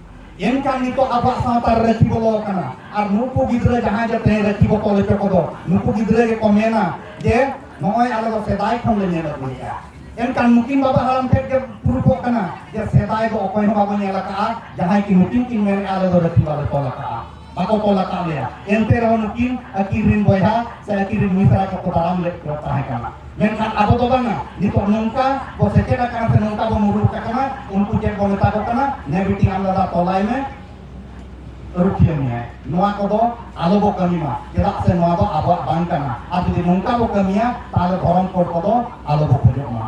ᱮᱱᱠᱷᱟᱱ ᱱᱤᱛᱚᱜ ᱟᱵᱚᱣᱟᱜ ᱥᱟᱶᱛᱟ ᱨᱮ ᱨᱟᱹᱠᱷᱤ ᱵᱚᱞᱚ ᱟᱠᱟᱱᱟ ᱟᱨ ᱱᱩᱠᱩ ᱜᱤᱫᱽᱨᱟᱹ ᱡᱟᱦᱟᱸᱭ ᱡᱮ ᱛᱮᱦᱮᱧ ᱨᱟᱹᱠᱷᱤ ᱵᱚ ᱛᱚᱞ ᱦᱚᱪᱚ ᱠᱚᱫᱚ ᱱᱩᱠᱩ ᱜᱤᱫᱽᱨᱟᱹ ᱜᱮᱠᱚ ᱢᱮᱱᱟ ᱡᱮ ᱱᱚᱜᱼᱚᱭ ᱟᱞᱮ ᱫᱚ ᱥᱮᱫᱟᱭ ᱠᱷᱚᱱ ᱞᱮ ᱧᱮᱞ ᱟᱹᱜᱩᱭᱮᱫᱼᱟ ᱮᱱᱠᱷᱟᱱ ᱱᱩᱠᱤᱱ ᱵᱟᱵᱟ ᱦᱟᱲᱟᱢ ᱴᱷᱮᱱ ᱜᱮ ᱯᱩᱨᱩᱵᱚᱜ ᱠᱟᱱᱟ ᱡᱮ ᱥᱮᱫᱟᱭ ᱫᱚ ᱚᱠᱚᱭ ᱦᱚᱸ ᱵᱟᱵᱚ ᱧᱮᱞ ᱟᱠᱟᱫᱼᱟ ᱡᱟᱦᱟᱸᱭ ᱠᱤ ᱱᱩᱠᱤᱱ ᱠᱤᱱ ᱢᱮᱱᱮᱫᱼᱟ ᱟᱞᱮ ᱫᱚ ᱨᱟᱹᱠᱷᱤ ᱵᱟᱞᱮ ᱛᱚᱞ ᱟᱠᱟᱫᱼᱟ ᱵᱟᱠᱚ ᱠᱚᱞ ᱟᱠᱟᱫ ᱞᱮᱭᱟ ᱮᱱᱛᱮ ᱨᱮᱦᱚᱸ ᱱᱩᱠᱤᱱ ᱟᱹᱠᱤᱱ ᱨᱤᱱ ᱵᱚᱭᱦᱟ ᱥᱮ ᱟᱹᱠᱤᱱ ᱨᱤᱱ ᱢᱤᱥᱨᱟ ᱠᱚᱠᱚ ᱫᱟᱨᱟᱢ ᱞᱮᱫ ᱠᱚ ᱛᱟᱦᱮᱸ ᱠᱟᱱᱟ ᱢᱮᱱᱠᱷᱟᱱ ᱟᱵᱚ ᱫᱚ ᱵᱟᱝᱟ ᱱᱤᱛᱚᱜ ᱱᱚᱝᱠᱟ ᱵᱚ ᱥᱮᱪᱮᱫ ᱟᱠᱟᱱᱟ ᱥᱮ ᱱᱚᱝᱠᱟ ᱵᱚ ᱢᱩᱨᱩᱠ ᱟᱠᱟᱱᱟ ᱩᱱᱠᱩ ᱪᱮᱫ ᱵᱚ ᱢᱮᱛᱟ ᱠᱚ ᱠᱟᱱᱟ ᱱᱮ ᱵᱤᱴᱤ ᱟᱢ ᱫᱟᱫᱟ ᱛᱚᱞᱟᱭ ᱢᱮ ᱨᱩᱠᱷᱤᱭᱟᱹ ᱢᱮᱭᱟᱭ ᱱᱚᱣᱟ ᱠᱚᱫᱚ ᱟᱞᱚ ᱵᱚ ᱠᱟᱹᱢᱤ ᱢᱟ ᱪᱮᱫᱟᱜ ᱥᱮ ᱱᱚᱣᱟ ᱫᱚ ᱟᱵᱚᱣᱟᱜ ᱵᱟᱝ ᱠᱟᱱᱟ ᱟᱨ ᱡᱩᱫᱤ ᱱᱚᱝᱠᱟ ᱵᱚ ᱠᱟᱹᱢᱤᱭᱟ ᱛᱟᱦᱚᱞᱮ ᱫᱷᱚᱨᱚᱢ ᱠᱳᱰ ᱠᱚᱫᱚ ᱟᱞᱚ ᱵᱚ ᱠᱷᱚᱡᱚᱜ ᱢᱟ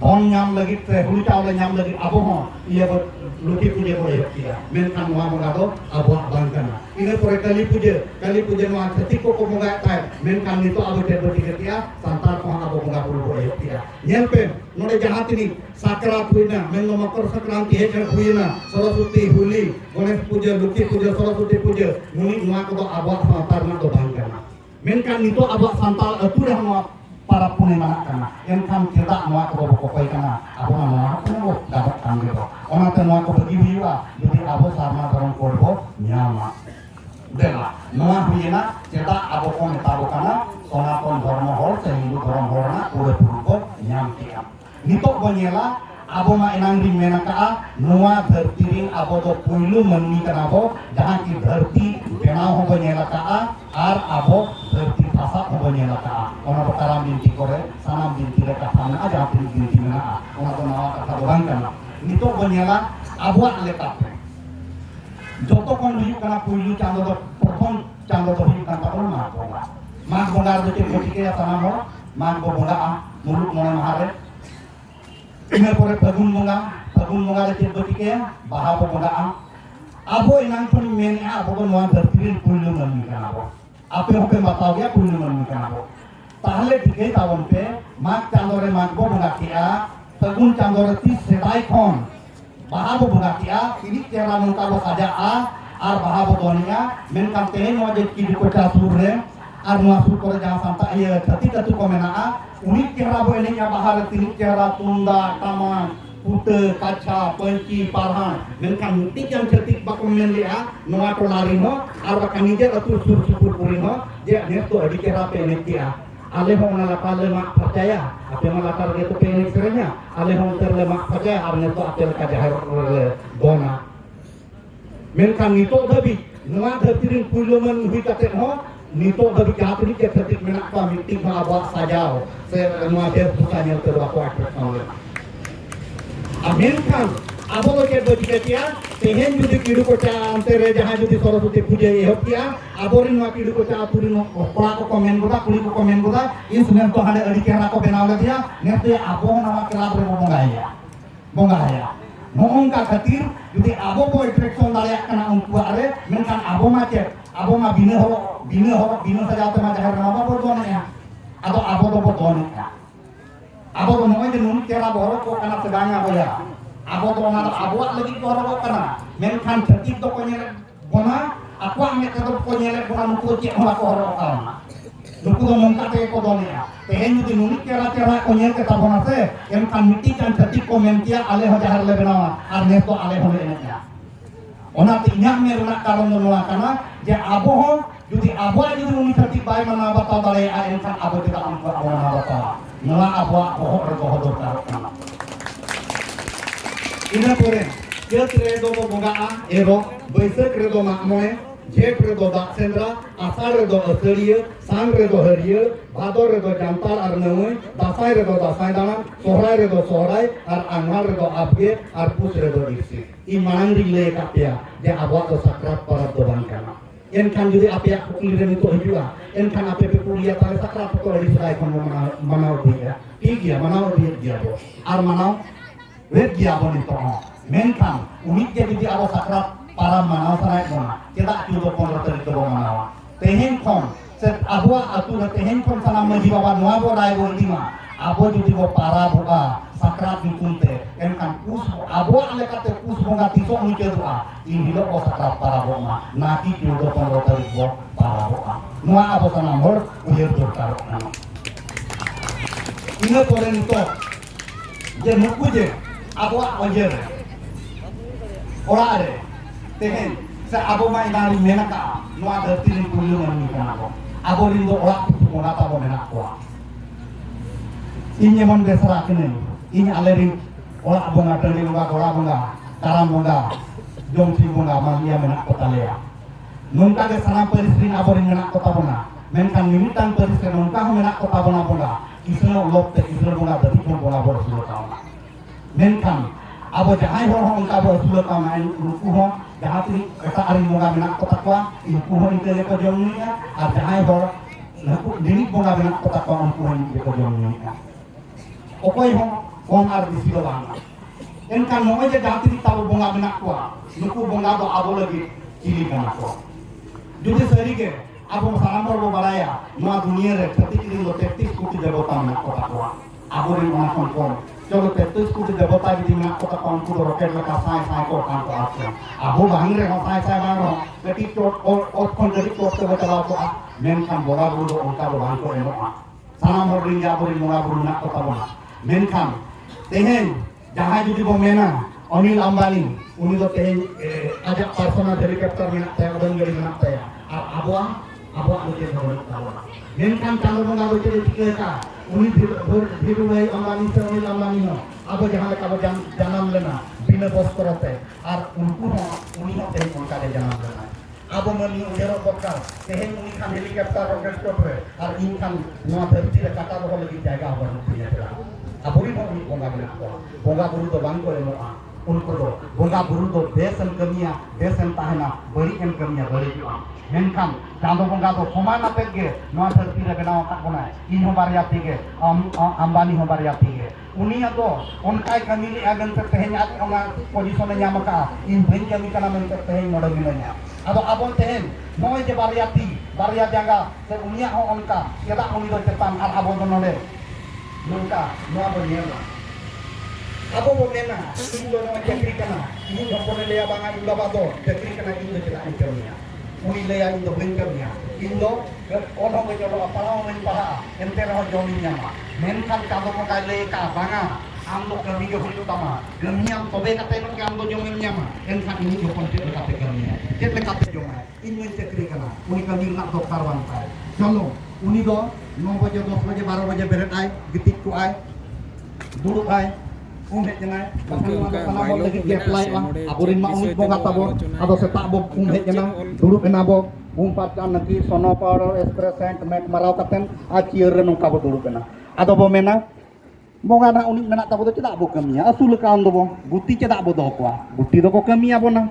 ᱫᱷᱚᱱ ᱧᱟᱢ ᱞᱟᱹᱜᱤᱫ ᱥᱮ ᱦᱩᱲᱩ ᱪᱟᱣᱞᱮ ᱧᱟᱢ ᱞᱟᱹᱜᱤᱫ ᱟᱵᱚ ᱦᱚᱸ ᱤᱭᱟᱹ ᱵᱚ ᱞᱩᱴᱤ ᱯᱩᱡᱟᱹ ᱵᱚ ᱮᱦᱚᱵ ᱠᱮᱫᱟ ᱢᱮᱱᱠᱷᱟᱱ ᱱᱚᱣᱟ ᱵᱚᱸᱜᱟ ᱫᱚ ᱟᱵᱚᱣᱟᱜ ᱵᱟᱝ ᱠᱟᱱᱟ ᱤᱱᱟᱹ ᱯᱚᱨᱮ ᱠᱟᱹᱞᱤ ᱯᱩᱡᱟᱹ ᱠᱟᱹᱞᱤ ᱯᱩᱡᱟᱹ ᱱᱚᱣᱟ ᱪᱷᱟᱹᱛᱤᱠ ᱠᱚᱠᱚ ᱵᱚᱸᱜᱟᱭᱮᱫ ᱛᱟᱦᱮᱸᱫ ᱢᱮᱱᱠᱷᱟᱱ ᱱᱤᱛᱚᱜ ᱟᱵᱚ ᱪᱮᱫ ᱵᱚ ᱪᱤᱠᱟᱹ ᱠᱮᱫᱼᱟ ᱥᱟᱱᱛᱟᱲ ᱠᱚᱦᱚᱸ ᱟᱵᱚ ᱵᱚᱸᱜᱟ ᱵᱩᱨᱩ ᱵᱚ ᱮᱦᱚᱵ ᱠᱮᱫᱟ ᱧᱮᱞ ᱯᱮ ᱱᱚᱰᱮ ᱡᱟᱦᱟᱸ ᱛᱤᱱᱤᱡ ᱥᱟᱠᱨᱟᱛ ᱦᱩᱭᱱᱟ ᱢᱮᱱᱫᱚ ᱢᱚᱠᱚᱨ ᱥᱟᱠᱨᱟᱱᱛᱤ ᱦᱮᱡ ᱦᱩᱭᱱᱟ ᱥᱚᱨᱚᱥᱚᱛᱤ ᱦᱩᱞᱤ ᱜᱚᱱᱮᱥ ᱯᱩᱡᱟᱹ ᱞᱩᱠᱷᱤ ᱯᱩᱡᱟᱹ ᱥᱚᱨᱚᱥᱚᱛᱤ ᱯᱩᱡᱟᱹ ᱱᱩᱭ ᱱᱚᱣᱟ ᱠᱚᱫᱚ ᱟᱵᱚᱣᱟᱜ ᱥᱟᱶᱛᱟ ᱨᱮᱱᱟᱜ ᱫᱚ ᱵᱟᱝ ᱠᱟᱱᱟ ᱢᱮᱱᱠᱷᱟᱱ ᱱᱤᱛᱚᱜ ᱟᱵᱚᱣᱟᱜ ᱥᱟᱱᱛᱟᱲ ᱟᱹᱛᱩ ᱨᱮ ᱱᱚᱣᱟ ᱯᱟᱨᱟᱵᱽ ᱯᱩᱱᱟᱹᱭ ᱢᱟᱱᱟᱜ ᱠᱟᱱᱟ ᱮᱱᱠᱷᱟᱱ ᱪᱮᱫᱟᱜ ᱱᱚᱣᱟ ᱠᱚᱫᱚ ᱵᱚ ᱠᱚᱠᱚᱭ ᱠᱟᱱᱟ ᱟᱵᱚ ᱢᱟ ᱱᱚᱣᱟ ᱦᱚᱸ ᱵᱚ ᱜᱟᱱᱚᱜ ᱠᱟᱱ ᱜᱮᱵᱚ ᱚᱱᱟᱛᱮ ᱱᱚᱣᱟ ᱠᱚ ᱵᱟᱹᱜᱤ ᱦᱩᱭᱩᱜᱼᱟ ᱡᱩᱫᱤ ᱟᱵᱚ ᱥᱟᱨᱱᱟ ᱫᱷᱚᱨᱚᱢ ᱠᱳᱰ ᱵᱚ ᱧᱟᱢᱟ ᱫᱮᱞᱟ ᱱᱚᱣᱟ ᱦᱩᱭᱮᱱᱟ ᱪᱮᱫᱟᱜ ᱟᱵᱚ ᱠᱚ ᱢᱮᱛᱟ ᱵᱚ ᱠᱟᱱᱟ ᱥᱚᱱᱟᱛᱚᱱ ᱫᱷᱚᱨᱢᱚ ᱦᱚᱲ ᱥᱮ ᱦᱤᱱᱫᱩ ᱫᱷᱚᱨᱚᱢ ᱦᱚᱲ ᱨᱮᱱᱟᱜ ᱯᱩᱨᱟᱹ ᱯᱩᱨᱩ ᱠᱚ ᱧᱟᱢ ᱠᱮᱜᱼᱟ ᱱᱤᱛᱚᱜ ᱵᱚ ᱧᱮᱞᱟ ᱟᱵᱚ ᱢᱟ ᱮᱱᱟᱝ ᱨᱤᱧ ᱢᱮᱱ ᱟᱠᱟᱜᱼᱟ ᱱᱚᱣᱟ ᱫᱷᱟᱹᱨᱛᱤ ᱨᱤᱱ ᱟᱵᱚ ᱫᱚ ᱯᱩᱭᱞᱩ ᱢᱟᱹᱱᱢᱤ ᱠᱟᱱᱟ ᱵᱚ ᱡᱟᱦᱟᱸ ᱠᱤ ᱫᱷᱟᱹᱨᱛᱤ ᱵᱮᱱᱟᱣ ᱦᱚᱸ ᱵᱚ ᱧᱮᱞ ᱟᱠᱟᱜᱼᱟ ᱟᱨ ᱟᱵᱚ ᱫᱷᱟᱹᱨᱛᱤ ᱯᱷᱟᱥᱟᱜ ᱦᱚᱸ ᱵᱚ ᱧᱮᱞ ᱟᱠᱟᱜᱼᱟ ᱚᱱᱟ ᱫᱚ ᱠᱟᱨᱟᱢ ᱵᱤᱱᱛᱤ ᱠᱚᱨᱮ ᱥᱟᱱᱟᱢ ᱵᱤᱱᱛᱤ ᱨᱮ ᱠᱟᱛᱷᱟ ᱢᱮᱱᱟᱜᱼᱟ ᱡᱟᱦᱟᱸ ᱛᱤᱱᱟᱹᱜ ᱵᱤᱱᱛᱤ ᱢᱮᱱᱟᱜᱼᱟ ᱚᱱᱟ ᱫᱚ ᱱᱟᱣᱟ ᱠᱟᱛᱷᱟ ᱫᱚ ᱵᱟᱝ ᱠᱟᱱᱟ ᱱᱤᱛᱚᱜ ᱵᱚ ᱧᱮᱞᱟ ᱟᱵᱚᱣᱟᱜ ᱞᱮᱠᱟᱛᱮ ᱡᱚᱛᱚ ᱠᱷᱚᱱ ᱦᱩᱭᱩᱜ ᱠᱟᱱᱟ ᱯᱩᱭᱞᱩ ᱪᱟᱸᱫᱚ ᱫᱚ ᱯᱨᱚᱛᱷᱚᱢ ᱪᱟᱸᱫᱚ ᱫᱚ ᱦᱩᱭᱩᱜ ᱠᱟᱱ ᱛᱟᱵᱚᱱᱟ ᱢᱟᱜᱽ ᱵᱚᱸᱜᱟ ᱢᱟᱜᱽ ᱵᱚᱸᱜᱟ ᱨᱮᱫᱚ ᱪᱮᱫ ᱠᱚ ᱪᱤᱠᱟᱹᱭᱟ ᱥᱟᱱᱟᱢ ᱦᱚᱲ ᱢᱟᱜᱽ ᱵᱚ ᱵᱚᱸᱜᱟᱜᱼᱟ ᱢᱩᱞᱩᱠ ᱢᱚᱬᱮ ᱢᱟᱦᱟ ᱨᱮ ᱤᱱᱟᱹ ᱯᱚᱨᱮ ᱯᱷᱟᱹᱜᱩᱱ ᱵᱚᱸᱜᱟ ᱯᱷᱟᱹᱜᱩᱱ ᱵᱚᱸᱜᱟ ᱨᱮ ᱪᱮᱫ ᱵᱚ ᱪᱤᱠᱟᱹᱭᱟ ᱵᱟᱦᱟ ᱵᱚ ᱵᱚᱸᱜᱟᱜᱼᱟ ᱟᱵᱚ ᱮᱱᱟᱝ ᱠᱷᱚᱱ ᱢᱮᱱᱮᱜᱼᱟ ᱟᱵᱚ ᱫᱚ ᱱᱚᱣᱟ ᱫᱷᱟᱹᱨᱛᱤ ᱨᱮᱱ ᱯᱩᱭᱞᱩ ᱢᱟᱹᱱᱢᱤ ᱠᱟᱱᱟ ᱵᱚ ᱟᱯᱮ ᱦᱚᱸᱯᱮ ᱵᱟᱛᱟᱣ ᱜᱮᱭᱟ ᱯᱩᱭᱞᱩ ᱢᱟᱹᱱᱢᱤ ᱠᱟᱱᱟ ᱵᱚ ᱛᱟᱦᱞᱮ ᱴᱷᱤᱠᱟᱹᱭ ᱛᱟᱵᱚᱱ ᱯᱮ ᱢᱟᱜᱽ ᱪᱟᱸᱫᱳ ᱨᱮ ᱢᱟᱜᱽ ᱵᱚ ᱵᱚᱸᱜᱟ ᱠᱮᱜᱼᱟ ᱯᱷᱟᱹᱜᱩᱱ ᱪᱟᱸᱫᱳ ᱨᱮ ᱛᱤᱥ ᱥᱮᱫᱟᱭ ᱠᱷᱚᱱ ᱵᱟᱦᱟ ᱵᱚ ᱵᱚᱸᱜᱟ ᱠᱮᱜᱼᱟ ᱛᱤᱱᱤᱡ ᱪᱮᱦᱨᱟ ᱱᱚᱝᱠᱟ ᱵᱚ ᱥᱟᱡᱟᱜᱼᱟ ᱟᱨ ᱵᱟᱦᱟ ᱵᱚ ᱫᱚᱱᱮᱜᱼᱟ ᱢᱮᱱᱠᱷᱟᱱ ᱛᱮᱦᱮᱧ ᱱᱚᱣᱟ ᱡᱮᱴᱠᱤ ᱡᱩᱠᱚᱪᱟ ᱥᱩᱨ ᱨᱮ ᱟᱨ ᱱᱚᱣᱟ ᱥᱩᱨ ᱠᱚᱨᱮ ᱡᱟᱦᱟᱸ ᱥᱟᱱᱛᱟ ᱤᱭᱟᱹ ᱪᱷᱟᱹᱛᱤᱠ ᱟᱹᱛᱩ ᱠᱚ ᱢᱮᱱᱟᱜᱼᱟ ᱩᱱᱤ ᱪᱮᱦᱨᱟ ᱵᱚ ᱮᱱᱮᱡᱼᱟ ᱵᱟᱦᱟ ᱨᱮ ᱛᱤᱱᱤᱡ ᱪᱮᱦᱨᱟ ᱛᱩᱢᱫᱟᱜ ᱴᱟᱢᱟᱠ ᱯᱩᱴᱟᱹ ᱠᱟᱪᱷᱟ ᱯᱟᱹᱧᱪᱤ ᱯᱟᱨᱦᱟᱱ ᱢᱮᱱᱠᱷᱟᱱ ᱢᱤᱫᱴᱤᱡ ᱜᱟᱱ ᱪᱷᱟᱹᱛᱤᱠ ᱵᱟᱠᱚ ᱢᱮᱱ ᱞᱮᱜᱼᱟ ᱱᱚᱣᱟ ᱴᱚᱞᱟ ᱨᱮᱦᱚᱸ ᱟᱨ ᱵᱟᱠᱷᱟᱱ ᱱᱤᱡᱮᱨ ᱟᱹᱛᱩ ᱥᱩᱨ ᱥᱩᱯᱩᱨ ᱠᱚᱨᱮ ᱦᱚᱸ ᱡᱮ ᱱᱮᱥ ᱫᱚ ᱟᱹᱰᱤ ᱪᱮᱦᱨᱟ ᱯᱮ ᱮᱱᱮᱡ ᱠᱮᱜᱼᱟ ᱟᱞᱮ ᱦᱚᱸ ᱚᱱᱟ ᱞᱟᱛᱟᱨ ᱞᱮ ᱢᱟᱜ ᱯᱷᱟᱨᱪᱟᱭᱟ ᱟᱯᱮ ᱢᱟ ᱞᱟᱛᱟᱨ ᱨᱮᱜᱮ ᱛᱚᱯᱮ ᱮᱱᱮᱡ ᱥᱮᱨᱮᱧᱟ ᱟᱞᱮ ᱦᱚᱸ ᱚᱱᱛᱮ ᱨᱮᱞᱮ ᱢᱟᱜ ᱯᱷᱟᱨᱪᱟᱭᱟ ᱟᱨ ᱱᱤᱛᱚᱜ ᱟᱯᱮ ᱞᱮᱠᱟ ᱡᱟᱦᱮᱨ ᱨᱮᱞᱮ ᱫᱚᱱᱟ ᱢᱮᱱᱠᱷᱟᱱ ᱱᱤᱛᱚᱜ ᱫᱷᱟᱹᱵᱤᱡ ᱱᱚᱣᱟ ᱫᱷᱟᱹᱨᱛᱤ ᱨᱮᱱ ᱯᱩᱭᱞᱩ ᱢᱟᱹᱱ ᱦᱩᱭ ᱠᱟᱛᱮ ᱦᱚᱸ ᱱᱤᱛᱚᱜ ᱫᱷᱟᱹᱵᱤᱡ ᱡᱟᱦᱟᱸ ᱛᱤᱱᱟᱹᱜ ᱜᱮ ᱠᱷᱟᱹᱛᱤᱨ ᱢᱮᱱᱟᱜ ᱠᱚᱣᱟ ᱢᱤᱫᱴᱤᱡ ᱦᱚᱸ ᱟᱵᱚᱣᱟᱜ ᱥᱟᱡᱟᱣ ᱥᱮ ᱱᱚᱣᱟ ᱵᱮᱥ ᱵᱷᱩᱥᱟ ᱧᱮᱞ ᱛᱮᱫᱚ ᱵᱟᱠᱚ ᱮᱴᱠᱮᱴᱚᱬᱮ ᱟᱨ ᱢᱮᱱᱠᱷᱟᱱ ᱟᱵᱚ ᱫᱚ ᱪᱮᱫ ᱵᱚ ᱪᱤᱠᱟᱹ ᱠᱮᱭᱟ ᱛᱮᱦᱮᱧ ᱡᱩᱫᱤ ᱠᱤᱲᱩ ᱠᱚᱪᱟ ᱚᱱᱛᱮ ᱨᱮ ᱡᱟᱦᱟᱸᱭ ᱡᱩᱫᱤ ᱥᱚᱨᱚᱥᱚᱛᱤ ᱯᱩᱡᱟᱹᱭ ᱮᱦᱚᱵ ᱠᱮᱭᱟ ᱟᱵᱚᱨᱮᱱ ᱱᱚᱣᱟ ᱯᱤᱲᱦᱤ ᱠᱚᱛᱮ ᱟᱛᱳ ᱨᱮᱱ ᱠᱚᱲᱟ ᱠᱚᱠᱚ ᱢᱮᱱ ᱜᱚᱫᱟ ᱠᱩᱲᱤ ᱠᱚᱠᱚ ᱢᱮᱱ ᱜᱚᱫᱟ ᱤᱥ ᱢᱮᱱ ᱛᱚ ᱦᱟᱸᱰᱮ ᱟᱹᱰᱤ ᱪᱮᱦᱨᱟ ᱠᱚ ᱵᱮᱱᱟᱣ ᱞᱮᱫᱮᱭᱟ ᱱᱮᱛᱮ ᱟᱵᱚ ᱦᱚᱸ ᱱᱚᱣᱟ ᱠᱞᱟᱵᱽ ᱨᱮᱵᱚ ᱵᱚᱸᱜᱟᱭᱮᱭᱟ ᱵᱚᱸᱜᱟᱭᱮᱭᱟ ᱱᱚᱝᱠᱟ ᱠᱷᱟᱹᱛᱤᱨ ᱡᱩᱫᱤ ᱟᱵᱚ ᱵᱚ ᱮᱴᱨᱮᱠᱥᱚᱱ ᱫᱟᱲᱮᱭᱟᱜ ᱠᱟᱱᱟ ᱩᱱᱠᱩᱣᱟᱜ ᱨᱮ ᱢᱮᱱᱠᱷᱟᱱ ᱟᱵᱚ ᱢᱟ ᱪᱮᱫ ᱟᱵᱚ ᱢᱟ ᱵᱤᱱᱟᱹ ᱦᱚᱨᱚᱜ ᱵᱤᱱᱟᱹ ᱦᱚᱨᱚᱜ ᱵᱤᱱᱟᱹ ᱥᱟᱡᱟᱣ ᱛᱮᱢᱟ ᱡᱟᱦᱮᱨ ᱨᱮᱢᱟ ᱵᱟᱵᱚ ᱫᱚᱱᱮᱜᱼᱟ ᱟᱫᱚ ᱟᱵᱚ ᱫᱚᱵᱚ ᱫᱚᱱᱮᱜᱼᱟ ᱟᱵᱚ ᱫᱚ ᱱᱚᱜᱼᱚᱭ ᱡᱮ ᱱᱩᱱ ᱪᱮᱦᱨᱟ ᱵᱚ ᱦᱚᱨᱚᱜ ᱠᱚᱜ ᱠᱟᱱᱟ ᱥᱮ ᱵᱟᱝᱟ ᱵᱚᱭᱟ ᱟᱵᱚ ᱫᱚ ᱚᱱᱟ ᱫᱚ ᱟᱵᱚᱣᱟᱜ ᱞᱟᱹᱜᱤᱫ ᱠᱚ ᱦᱚᱨᱚᱜᱚᱜ ᱠᱟᱱᱟ ᱢᱮᱱᱠᱷᱟᱱ ᱪᱷᱟᱹᱛᱤᱠ ᱫᱚᱠᱚ ᱧᱮᱞ ᱵᱚᱱᱟ ᱟᱠᱚᱣᱟᱜ ᱢᱮᱫ ᱛᱮᱫᱚ ᱠᱚ ᱧᱮᱞᱮᱫ ᱵᱚᱱᱟ ᱱᱩᱠᱩ ᱫᱚ ᱪᱮᱫ ᱦᱚᱸ ᱵᱟᱠᱚ ᱦᱚᱨᱚᱜ ᱠᱟᱱᱟ ᱱᱩᱠᱩ ᱫᱚ ᱱᱚᱝᱠᱟ ᱛᱮᱜᱮ ᱠᱚ ᱫᱚᱱᱮᱜᱼᱟ ᱛᱮᱦᱮᱧ ᱡᱩᱫᱤ ᱱᱩᱱᱤ ᱪᱮᱦᱨᱟ ᱪᱮᱦᱨᱟ ᱠᱚ ᱧᱮᱞ ᱠᱮᱫ ᱛᱟᱵᱚᱱᱟ ᱥᱮ ᱮᱱᱠᱷᱟᱱ ᱢᱤᱫᱴᱤᱡ ᱜᱟᱱ ᱪᱷᱟᱹᱛᱤᱠ ᱠᱚ ᱢᱮᱱ ᱠᱮᱭᱟ ᱟᱞᱮ ᱦᱚᱸ ᱡᱟᱦᱮᱨ ᱞᱮ ᱵᱮᱱᱟᱣᱟ ᱟᱨ ᱱᱮᱥ ᱫᱚ ᱟᱞᱮ ᱦᱚᱸᱞᱮ ᱮᱱᱮᱡᱟ ᱚᱱᱟᱛᱮ ᱤᱧᱟᱹᱜ ᱢᱮᱱ ᱨᱮᱱᱟᱜ ᱠᱟᱨᱚᱱ ᱫᱚ ᱱᱚᱣᱟ ᱠᱟᱱᱟ ᱡᱮ ᱟᱵᱚ ᱦᱚᱸ ᱡᱩᱫᱤ ᱟᱵᱚᱣᱟᱜ ᱡᱩᱫᱤ ᱩᱱᱤ ᱠᱷᱟᱹᱛᱤᱨ ᱵᱟᱭ ᱢᱟᱱᱟᱣ ᱵᱟᱛᱟᱣ ᱫᱟᱲᱮᱭᱟᱜᱼᱟ ᱮᱱᱠᱷᱟᱱ ᱟᱵᱚ ᱪᱮᱫᱟᱜ ᱩᱱᱠᱩᱣᱟᱜ ᱵᱚᱱ ᱢᱟᱱᱟᱣ ᱵᱟᱛᱟᱣᱟ ᱱᱚᱣᱟ ᱟᱵᱚᱣᱟᱜ ᱵᱚᱦᱚᱜ ᱨᱮ ᱫᱚᱦᱚ ᱫᱚᱨᱠᱟᱨᱚᱜ ᱠᱟᱱᱟ ᱤᱱᱟᱹ ᱯᱚᱨᱮ ᱪᱟᱹᱛ ᱨᱮᱫᱚ ᱵᱚ ᱵᱚᱸᱜᱟᱜᱼᱟ ᱮᱨᱚᱜ ᱵᱟᱹᱭᱥᱟᱹᱠᱷ ᱨᱮᱫᱚ ᱢᱟᱜ ᱢᱚᱬᱮ ᱡᱷᱮᱸᱴ ᱨᱮᱫᱚ ᱫᱟᱜ ᱥᱮᱸᱫᱽᱨᱟ ᱟᱥᱟᱲ ᱨᱮᱫᱚ ᱟᱹᱥᱟᱹᱲᱤᱭᱟᱹ ᱥᱟᱱ ᱨᱮᱫᱚ ᱦᱟᱹᱨᱭᱟᱹᱲ ᱵᱷᱟᱫᱚᱨ ᱨᱮᱫᱚ ᱡᱟᱱᱛᱟᱲ ᱟᱨ ᱱᱟᱹᱣᱟᱹᱭ ᱫᱟᱸᱥᱟᱭ ᱨᱮᱫᱚ ᱫᱟᱸᱥᱟᱭ ᱫᱟᱬᱟᱱ ᱥᱚᱦᱨᱟᱭ ᱨᱮᱫᱚ ᱥᱚᱦᱨᱟᱭ ᱟᱨ ᱟᱸᱜᱷᱟᱲ ᱨᱮᱫᱚ ᱟᱵᱜᱮ ᱟᱨ ᱯᱩᱥ ᱨᱮᱫᱚ ᱤᱨᱥᱤ ᱤᱧ ᱢᱟᱲᱟᱝ ᱨᱤᱧ ᱞᱟᱹᱭ ᱟᱠᱟᱫ ᱯᱮᱭᱟ ᱡᱮ ᱟᱵᱚᱣᱟᱜ ᱫᱚ ᱥᱟᱠᱨᱟᱛ ᱯᱚᱨᱚᱵᱽ ᱫᱚ ᱵᱟᱝ ᱠᱟᱱᱟ ᱮᱱᱠᱷᱟᱱ ᱡᱩᱫᱤ ᱟᱯᱮᱭᱟᱜ ᱠᱩᱠᱞᱤ ᱨᱮ ᱱᱤᱛᱚᱜ ᱦᱤᱡᱩᱜᱼᱟ ᱮᱱᱠᱷᱟᱱ ᱟᱯᱮ ᱯᱮ ᱠᱩᱞᱤᱭᱟ ᱛᱟᱦᱚᱞᱮ ᱥᱟᱠᱨᱟᱛ ᱠᱚ ᱟᱹᱰᱤ ᱥᱮᱫᱟᱭ ᱠᱷᱚᱱ ᱵᱚᱱ ᱢᱟᱱᱟᱣ ᱟᱹᱜᱩᱭᱮᱫᱼᱟ ᱴᱷᱤᱠ ᱜᱮᱭᱟ ᱢᱟᱱᱟᱣ ᱟᱹᱜᱩᱭᱮᱫ ᱜᱮᱭᱟ ᱵᱚ ᱟᱨ ᱢᱟᱱᱟᱣ ᱣᱮᱫ ᱜᱮᱭᱟ ᱵᱚ ᱱᱤᱛᱚᱜ ᱦᱚᱸ ᱢᱮᱱᱠᱷᱟᱱ ᱩᱱᱤᱡ ᱜᱮ ᱡᱩᱫᱤ ᱟᱵᱚ ᱥᱟᱠᱨᱟᱛ ᱯᱟᱨᱟᱵᱽ ᱢᱟᱱᱟᱣ ᱥᱟᱱᱟᱭᱮᱫ ᱵᱚᱱᱟ ᱪᱮᱫᱟᱜ ᱪᱳᱫᱚ ᱯᱚᱱᱨᱚ ᱛᱟᱹᱨᱤᱠᱷ ᱫᱚᱵᱚ ᱢᱟᱱᱟᱣᱟ ᱛᱮᱦᱮᱧ ᱠᱷᱚᱱ ᱥᱮ ᱟᱵᱚᱣᱟᱜ ᱟᱹᱛᱩ ᱨᱮ ᱛᱮᱦᱮᱧ ᱠᱷᱚᱱ ᱥᱟᱱᱟᱢ ᱢᱟᱹᱡᱷᱤ ᱵᱟᱵᱟ ᱱᱚᱣᱟ ᱵᱚ ᱨᱟᱭ ᱵᱚ ᱤᱫᱤ ᱢᱟ ᱟᱵᱚ ᱡᱩᱫᱤ ᱵᱚ ᱯᱟᱨᱟᱵᱚᱜᱼᱟ ᱥᱟᱠᱨᱟᱛ ᱧᱩᱛᱩᱢ ᱛᱮ ᱮᱱᱠᱷᱟᱱ ᱯᱩᱥ ᱟᱵᱚᱣᱟᱜ ᱞᱮᱠᱟᱛᱮ ᱯᱩᱥ ᱵᱚᱸᱜᱟ ᱛᱤᱥᱚᱜ ᱢᱩᱪᱟᱹᱫᱚᱜᱼᱟ ᱤᱱ ᱦᱤᱞᱳᱜ ᱵᱚ ᱥᱟᱠᱨᱟᱛ ᱯᱟᱨᱟᱵᱚᱜ ᱢᱟ ᱱᱟ ᱠᱤ ᱪᱳᱫᱽᱫᱚ ᱯᱚᱱᱨᱚ ᱛᱟᱹᱨᱤᱠᱷ ᱵᱚ ᱯᱟᱨᱟᱵᱚᱜᱼᱟ ᱱᱚᱣᱟ ᱟᱵᱚ ᱥᱟᱱᱟᱢ ᱦᱚᱲ ᱩᱭᱦᱟᱹᱨ ᱫᱚᱨᱠᱟᱨᱚᱜ ᱠᱟᱱᱟ ᱤᱱᱟᱹ ᱯᱚᱨᱮ ᱱᱤᱛᱚᱜ ᱡᱮ ᱱᱩᱠᱩ ᱡᱮ ᱟᱵᱚᱣᱟᱜ ᱚᱡᱮ ᱨᱮ ᱚᱲᱟᱜ ᱨᱮ ᱛᱮᱦᱮᱧ ᱥᱮ ᱟᱵᱚ ᱢᱟ ᱮᱱᱟᱝ ᱨᱤᱧ ᱢᱮᱱ ᱟᱠᱟᱫᱼᱟ ᱱᱚᱣᱟ ᱫᱷᱟᱹᱨᱛᱤ ᱨᱮᱱ ᱯᱩᱭᱞᱩ ᱢᱟᱹᱱᱢᱤ ᱠᱟᱱᱟ ᱵᱚᱱ ᱟᱵᱚ ᱨᱮᱱ ᱫᱚ ᱚᱲᱟᱜ ᱚᱲᱟᱜ ᱛᱟᱵᱚ ᱢᱮᱱᱟᱜ ᱠᱚᱣᱟ ᱤᱧ ᱡᱮᱢᱚᱱ ᱵᱮᱥᱨᱟ ᱠᱟᱹᱱᱟᱹᱧ ᱤᱧ ᱟᱞᱮ ᱨᱮᱱ ᱚᱲᱟᱜ ᱵᱚᱸᱜᱟ ᱴᱟᱺᱰᱤ ᱵᱚᱸᱜᱟ ᱜᱚᱲᱟ ᱵᱚᱸᱜᱟ ᱠᱟᱨᱟᱢ ᱵᱚᱸᱜᱟ ᱡᱚᱢ ᱴᱷᱤᱠ ᱵᱚᱸᱜᱟ ᱢᱟᱹᱱᱢᱤᱭᱟ ᱢᱮᱱᱟᱜ ᱠᱚ ᱛᱟᱞᱮᱭᱟ ᱱᱚᱝᱠᱟ ᱜᱮ ᱥᱟᱱᱟᱢ ᱯᱟᱹᱨᱤᱥ ᱨᱮᱱ ᱟᱵᱚ ᱨᱮᱱ ᱢᱮᱱᱟᱜ ᱠᱚ ᱛᱟᱵᱚᱱᱟ ᱢᱮᱱᱠᱷᱟᱱ ᱢᱤᱢᱤᱫᱴᱟᱝ ᱯᱟᱹᱨᱤᱥ ᱨᱮ ᱱᱚᱝᱠᱟ ᱦᱚᱸ ᱢᱮᱱᱟᱜ ᱠᱚ ᱛᱟᱵᱚᱱᱟ ᱵᱚᱸᱜᱟ ᱠᱤᱥᱟᱹᱬᱚᱜ ᱞᱚᱵᱽ ᱛᱮ ᱠᱤᱥᱟᱹᱬ ᱵᱚᱸᱜᱟ ᱫᱟᱹᱵᱤ ᱠᱷᱚᱱ ᱵᱚᱸᱜᱟ ᱵᱚᱱ ᱟᱹᱥᱩᱞ ᱠᱟᱣᱱᱟ ᱢᱮᱱᱠᱷᱟᱱ ᱟᱵᱚ ᱡᱟᱦᱟᱸᱭ ᱦᱚᱲ ᱦᱚᱸ ᱚᱱᱠᱟ ᱵᱚ ᱟᱹᱥᱩᱞ ᱠᱟᱣᱱᱟ ᱩᱱᱠᱩ ᱦᱚᱸ ᱡᱟᱦᱟᱸ ᱛᱤᱱᱟᱹᱜ ᱮᱴᱟᱜ ᱨᱮᱱ ᱵᱚᱸᱜᱟ ᱢᱮᱱᱟᱜ ᱠᱚ ᱛᱟᱠᱚᱣᱟ ᱩᱱᱠᱩ ᱦᱚᱸ ᱤᱱᱠᱟᱹ ᱜᱮᱠᱚ ᱡᱚᱢ ᱧᱩᱭᱮᱫᱼᱟ ᱟᱨ ᱡᱟᱦᱟᱸᱭ ᱦᱚᱲ ᱱᱩᱠᱩ ᱱᱤᱨᱤᱡ ᱵᱚᱸᱜᱟ ᱢᱮᱱᱟᱜ ᱠᱚ ᱛᱟᱠᱚᱣᱟ ᱩᱱᱠᱩ ᱦᱚᱸ ᱤᱱᱠᱟᱹ ᱜᱮᱠᱚ ᱡᱚᱢ ᱧᱩᱭᱮᱫᱼᱟ ᱚᱠᱚᱭ ᱦᱚᱸ ᱠᱚᱢ ᱟᱨ ᱵᱮᱥᱤ ᱫᱚ ᱵᱟᱝ ᱮᱱᱠᱷᱟᱱ ᱱᱚᱜᱼᱚᱭ ᱡᱮ ᱡᱟᱦᱟᱸ ᱛᱤᱱᱟᱹᱜ ᱛᱟᱵᱚ ᱵᱚᱸᱜᱟ ᱢᱮᱱᱟᱜ ᱠᱚᱣᱟ ᱱᱩᱠᱩ ᱵᱚᱸᱜᱟ ᱫᱚ ᱟᱵᱚ ᱞᱟᱹᱜᱤᱫ ᱪᱤᱞᱤ ᱠᱟᱱᱟ ᱠᱚ ᱡᱩᱫᱤ ᱥᱟᱹᱨᱤᱜᱮ ᱟᱵᱚ ᱥᱟᱱᱟᱢ ᱦᱚᱲ ᱵᱚ ᱵᱟᱲᱟᱭᱟ ᱱᱚᱣᱟ ᱫᱩᱱᱤᱭᱟᱹ ᱨᱮ ᱪᱷᱟᱹᱛᱤᱠ ᱨᱮᱱ ᱫᱚ ᱛᱮᱛᱨᱤᱥ ᱠᱳᱴᱤ ᱫᱮᱵᱚᱛᱟ ᱢᱮᱱᱟᱜ ᱠᱚ ᱛᱟᱠᱚᱣᱟ ᱟᱵᱚ ᱨᱮᱱ ᱚᱱᱟ ᱠᱷᱚᱱ ᱠᱚᱢ ᱪᱚᱞᱚ ᱛᱮᱛᱨᱤᱥ ᱠᱳᱴᱤ ᱫᱮᱵᱚᱛᱟ ᱡᱩᱫᱤ ᱢᱮᱱᱟᱜ ᱠᱚ ᱛᱟᱠᱚᱣᱟ ᱩᱱᱠᱩ ᱫᱚ ᱨᱚᱠᱮᱴ ᱞᱮᱠᱟ ᱥᱟᱭ ᱥᱟᱭ ᱠᱚ ᱚᱴᱟᱝ ᱠᱚᱜᱼᱟ ᱠᱚ ᱟᱵᱚ ᱵᱟᱝ ᱨᱮᱦᱚᱸ ᱥᱟᱭ ᱥᱟᱭ ᱵᱟᱝ ᱨᱮᱦᱚᱸ ᱠᱟᱹᱴᱤᱡ ᱪᱚᱴ ᱚᱛ ᱠᱷᱚᱱ ᱠᱟᱹᱴᱤᱡ ᱪᱚᱴ ᱛᱮᱵᱚ ᱪᱟᱞᱟᱣ ᱠᱚᱜᱼᱟ ᱢᱮᱱᱠᱷᱟᱱ ᱵᱚᱸᱜᱟ ᱵᱩᱨᱩ ᱫᱚ ᱚᱱᱠᱟ ᱫᱚ ᱵᱟᱝ ᱠᱚ ᱮᱢᱚᱜᱼᱟ ᱥᱟᱱᱟᱢ ᱦᱚᱲ ᱨᱮᱱ ᱜᱮ ᱟᱵᱚ ᱨᱮᱱ ᱵᱚᱸᱜᱟ ᱵᱩᱨᱩ ᱢᱮᱱᱟᱜ ᱠᱚ ᱛᱟᱵᱚᱱᱟ ᱢᱮᱱᱠᱷᱟᱱ ᱛᱮᱦᱮᱧ ᱡᱟᱦᱟᱸᱭ ᱡᱩᱫᱤ ᱵᱚ ᱢᱮᱱᱟ ᱚᱱᱤᱞ ᱟᱢᱵᱟᱱᱤ ᱩᱱᱤ ᱫᱚ ᱛᱮᱦᱮᱧ ᱟᱡᱟᱜ ᱯᱟᱨᱥᱚᱱᱟᱞ ᱦᱮᱞᱤᱠᱚᱯᱴᱟᱨ ᱢᱮᱱᱟᱜ ᱛᱟᱭᱟ ᱩᱰᱟᱹᱱ ᱜᱟᱹᱰᱤ ᱢᱮᱱᱟᱜ ᱛᱟᱭᱟ ᱟᱨ ᱟᱵᱚᱣᱟᱜ ᱟᱵᱚᱣᱟᱜ ᱫᱚ ᱪᱮᱫ ᱦᱚᱸ ᱵᱟᱹᱱᱩᱜ ᱛᱟᱵᱚᱱᱟ ᱢᱮᱱᱠᱷᱟᱱ ᱪᱟᱸᱫᱳ ᱵᱚᱸᱜᱟ ᱫᱚ ᱪᱮᱫ ᱮ ᱪᱤᱠᱟᱹ ᱟᱠᱟᱫᱼᱟ ᱩᱱᱤ ᱫᱷᱤᱨᱩ ᱵᱷᱟᱭ ᱟᱢᱵᱟᱱᱤ ᱥᱮ ᱚᱱᱤᱞ ᱟᱢᱵᱟᱱᱤ ᱦᱚᱸ ᱟᱵᱚ ᱡᱟᱦᱟᱸ ᱞᱮᱠᱟ ᱵᱚ ᱡᱟᱱᱟᱢ ᱞᱮᱱᱟ ᱵᱤᱱᱟᱹ ᱵᱚᱥᱛᱨᱚ ᱛᱮ ᱟᱨ ᱩᱱᱠᱩ ᱦᱚᱸ ᱩᱱᱤ ᱦᱚᱸ ᱛᱮᱦᱮᱧ ᱚᱱᱠᱟ ᱜᱮ ᱡᱟᱱᱟᱢ ᱞᱮᱱᱟ ᱟᱵᱚ ᱢᱟᱹᱱᱢᱤ ᱩᱭᱦᱟᱹᱨᱚᱜ ᱫᱚᱨᱠᱟᱨ ᱛᱮᱦᱮᱧ ᱩᱱᱤ ᱠᱷᱟᱱ ᱦᱮᱞᱤᱠᱚᱯᱴᱟᱨ ᱨᱚᱠᱮᱴ ᱠᱚ ᱯᱮ ᱟᱨ ᱤᱧ ᱠᱷᱟᱱ ᱱᱚᱣᱟ ᱫᱷᱟᱹᱨᱛᱤ ᱨᱮ ᱠᱟᱴᱟ ᱫᱚᱦᱚ ᱞᱟᱹᱜᱤᱫ ᱡᱟᱭᱜᱟ ᱦᱚᱸ ᱵᱟᱹᱱᱩᱜ ᱛᱤᱧᱟ ᱯᱮᱲᱟ ᱟᱵᱚᱨᱤ ᱦᱚᱸ ᱢᱤᱫ ᱵᱚᱸᱜᱟ ᱢᱮᱱᱟᱜ ᱠᱚᱣᱟ ᱵᱚᱸᱜᱟ ᱵᱩᱨᱩ ᱫᱚ ᱵᱟᱝ ᱠᱚ ᱮᱢᱚᱜᱼᱟ ᱩᱱᱠᱩ ᱫᱚ ᱵᱚᱸᱜᱟ ᱵᱩᱨᱩ ᱫᱚ ᱵᱮᱥ ᱮᱢ ᱠᱟᱹᱢᱤᱭᱟ ᱵᱮᱥ ᱮᱢ ᱛᱟᱦᱮᱱᱟ ᱵᱟᱹᱲᱤᱡ ᱮᱢ ᱠᱟᱹᱢᱤᱭᱟ ᱵᱟᱹᱲᱤᱡᱚᱜᱼᱟ ᱢᱮᱱᱠᱷᱟᱱ ᱪᱟᱸᱫᱚ ᱵᱚᱸᱜᱟ ᱫᱚ ᱥᱚᱢᱟᱱ ᱟᱛᱮᱫ ᱜᱮ ᱱᱚᱣᱟ ᱫᱷᱟᱹᱨᱛᱤ ᱨᱮ ᱵᱮᱱᱟᱣ ᱟᱠᱟᱫ ᱵᱚᱱᱟᱭ ᱤᱧ ᱦᱚᱸ ᱵᱟᱨᱭᱟ ᱛᱤᱜᱮ ᱟᱢᱵᱟᱱᱤ ᱦᱚᱸ ᱵᱟᱨᱭᱟ ᱛᱤᱜᱮ ᱩᱱᱤᱭᱟᱜ ᱫᱚ ᱚᱱᱠᱟᱭ ᱠᱟᱹᱢᱤ ᱞᱮᱫᱼᱟ ᱢᱮᱱᱛᱮ ᱛᱮᱦᱮᱧ ᱟᱡ ᱚᱱᱟ ᱯᱚᱡᱤᱥᱚᱱᱮ ᱧᱟᱢ ᱟᱠᱟᱫᱼᱟ ᱤᱧ ᱵᱟᱹᱧ ᱠᱟᱹᱢᱤ ᱠᱟᱱᱟ ᱢᱮᱱᱛᱮ ᱛᱮᱦᱮᱧ ᱱᱚᱰᱮ ᱢᱤᱱᱟᱹᱧᱟ ᱟᱫᱚ ᱟᱵᱚ ᱛᱮᱦᱮᱧ ᱱᱚᱜᱼᱚᱭ ᱡᱮ ᱵᱟᱨᱭᱟ ᱛᱤ ᱵᱟᱨᱭᱟ ᱡᱟᱸᱜᱟ ᱥᱮ ᱩᱱᱤᱭᱟᱜ ᱦᱚᱸ ᱚᱱᱠᱟ ᱪᱮᱫᱟᱜ ᱩᱱᱤ ᱫᱚ ᱪᱮᱛᱟᱱ ᱟᱨ ᱟᱵᱚ ᱫᱚ ᱱᱚᱰᱮ ᱱᱚᱝᱠᱟ ᱱᱚᱣᱟ ᱵᱚ ᱧᱮᱞᱟ ᱟᱵᱚ ᱵᱚ ᱢᱮᱱᱟ ᱤᱧ ᱫᱚ ᱱᱚᱣᱟ ᱪᱟᱹᱠᱨᱤ ᱠᱟᱱᱟ ᱤᱧ ᱦᱚᱯᱚᱱᱮ ᱞᱟᱹᱭᱟ ᱵᱟᱝᱟ ᱤᱧ ᱵᱟᱵᱟ ᱫᱚ ᱪᱟᱹᱠᱨᱤ ᱠᱟᱱᱟ ᱤᱧ ᱫᱚ ᱪᱮᱫᱟᱜ ᱤᱧ ᱠᱟᱹᱢᱤᱭᱟ ᱩᱱᱤ ᱞᱟᱹᱭᱟ ᱤᱧ ᱫᱚ ᱵᱟᱹᱧ ᱠᱟᱹᱢᱤᱭᱟ ᱤᱧ ᱫᱚ ᱚᱞ ᱦᱚᱸ ᱵᱟᱹᱧ ᱚᱞᱚᱜᱼᱟ ᱯᱟᱲᱦᱟᱣ ᱦᱚᱸ ᱵᱟᱹᱧ ᱯᱟᱲᱦᱟᱜᱼᱟ ᱮᱱᱛᱮ ᱨᱮᱦᱚᱸ ᱡᱚᱢᱤᱧ ᱧᱟᱢᱟ ᱢᱮᱱᱠᱷᱟᱱ ᱪᱟᱸᱫᱚ ᱵᱚᱸᱜᱟᱭ ᱞᱟᱹᱭ ᱟᱠᱟᱫᱼᱟ ᱵᱟᱝᱟ ᱟᱢ ᱫᱚ ᱠᱟᱹᱢᱤ ᱜᱮ ᱦᱩᱭᱩᱜ ᱛᱟᱢᱟ ᱠᱟᱹᱢᱤᱭᱟᱢ ᱛᱚᱵᱮ ᱠᱟᱛᱮ ᱮᱱᱚᱜ ᱜᱮ ᱟᱢ ᱫᱚ ᱡᱚᱢᱮᱢ ᱧᱟᱢᱟ ᱮᱱᱠᱷᱟᱱ ᱤᱧᱤᱡ ᱦᱚᱯᱚᱱ ᱪᱮᱫ ᱞᱮᱠᱟᱛᱮ ᱠᱟᱹᱢᱤᱭᱟᱭ ᱪᱮᱫ ᱞᱮᱠᱟᱛᱮ ᱡᱚᱢᱟᱭ ᱤᱧ ᱢᱟᱹᱧ ᱪᱟᱹᱠᱨᱤ ᱠᱟᱱᱟ ᱩᱱᱤ ᱠᱟᱹᱢᱤ ᱨᱮᱱᱟᱜ ᱫᱚᱨᱠᱟᱨ ᱵᱟᱝ ᱛᱟᱭ ᱪᱚᱞᱚ ᱩᱱᱤ ᱫᱚ ᱱᱚ ᱵᱟᱡᱮ ᱫᱚᱥ ᱵᱟᱡᱮ ᱵᱟᱨᱚ ᱵᱟᱡᱮ ᱵᱮᱨᱮᱫ ᱟᱭ ᱜᱤᱛᱤᱡ ᱠᱚᱜ ᱟᱭ ᱫᱩᱲᱩᱵ ᱟᱭ ᱩᱢ ᱦᱮᱡ ᱮᱱᱟᱭ ᱵᱟᱠᱷᱟᱱ ᱱᱚᱣᱟ ᱫᱚ ᱥᱟᱱᱟᱢ ᱦᱚᱲ ᱞᱟᱹᱜᱤᱫ ᱜᱮ ᱮᱯᱞᱟᱭᱚᱜᱼᱟ ᱟᱵᱚᱨᱮᱱ ᱢᱟ ᱩᱱᱤ ᱵᱚᱸᱜᱟ ᱛᱟᱵᱚ ᱟᱫᱚ ᱥᱮᱛᱟᱜ ᱵᱚ ᱩᱢ ᱦᱮᱡ ᱮᱱᱟ ᱫᱩᱲᱩᱵ ᱮᱱᱟ ᱵᱚ ᱩᱢ ᱯᱷᱟᱨᱪᱟ ᱱᱟᱹᱠᱤ ᱥᱚᱱᱚ ᱯᱟᱣᱰᱟᱨ ᱥᱯᱨᱮ ᱥᱮᱱᱴ ᱢᱮᱱᱴ ᱢᱟᱨᱟᱣ ᱠᱟᱛᱮ ᱟᱨ ᱪᱤᱭᱟᱹᱨ ᱨᱮ ᱱᱚᱝᱠᱟ ᱵᱚ ᱫᱩᱲᱩᱵ ᱮᱱᱟ ᱟᱫᱚ ᱵᱚ ᱢᱮᱱᱟ ᱵᱚᱸᱜᱟ ᱱᱟᱦᱟᱜ ᱩᱱᱤ ᱢᱮᱱᱟᱜ ᱛᱟᱵᱚ ᱫᱚ ᱪᱮᱫᱟᱜ ᱵᱚ ᱠᱟᱹᱢᱤᱭᱟ ᱟᱹᱥᱩᱞ ᱟᱠᱟᱱ ᱫᱚᱵᱚ ᱜᱩᱛᱤ ᱪᱮᱫᱟᱜ ᱵᱚ ᱫᱚᱦᱚ ᱠᱚᱣᱟ ᱜᱩᱛᱤ ᱫᱚᱠᱚ ᱠᱟᱹᱢᱤᱭᱟᱵᱚᱱᱟ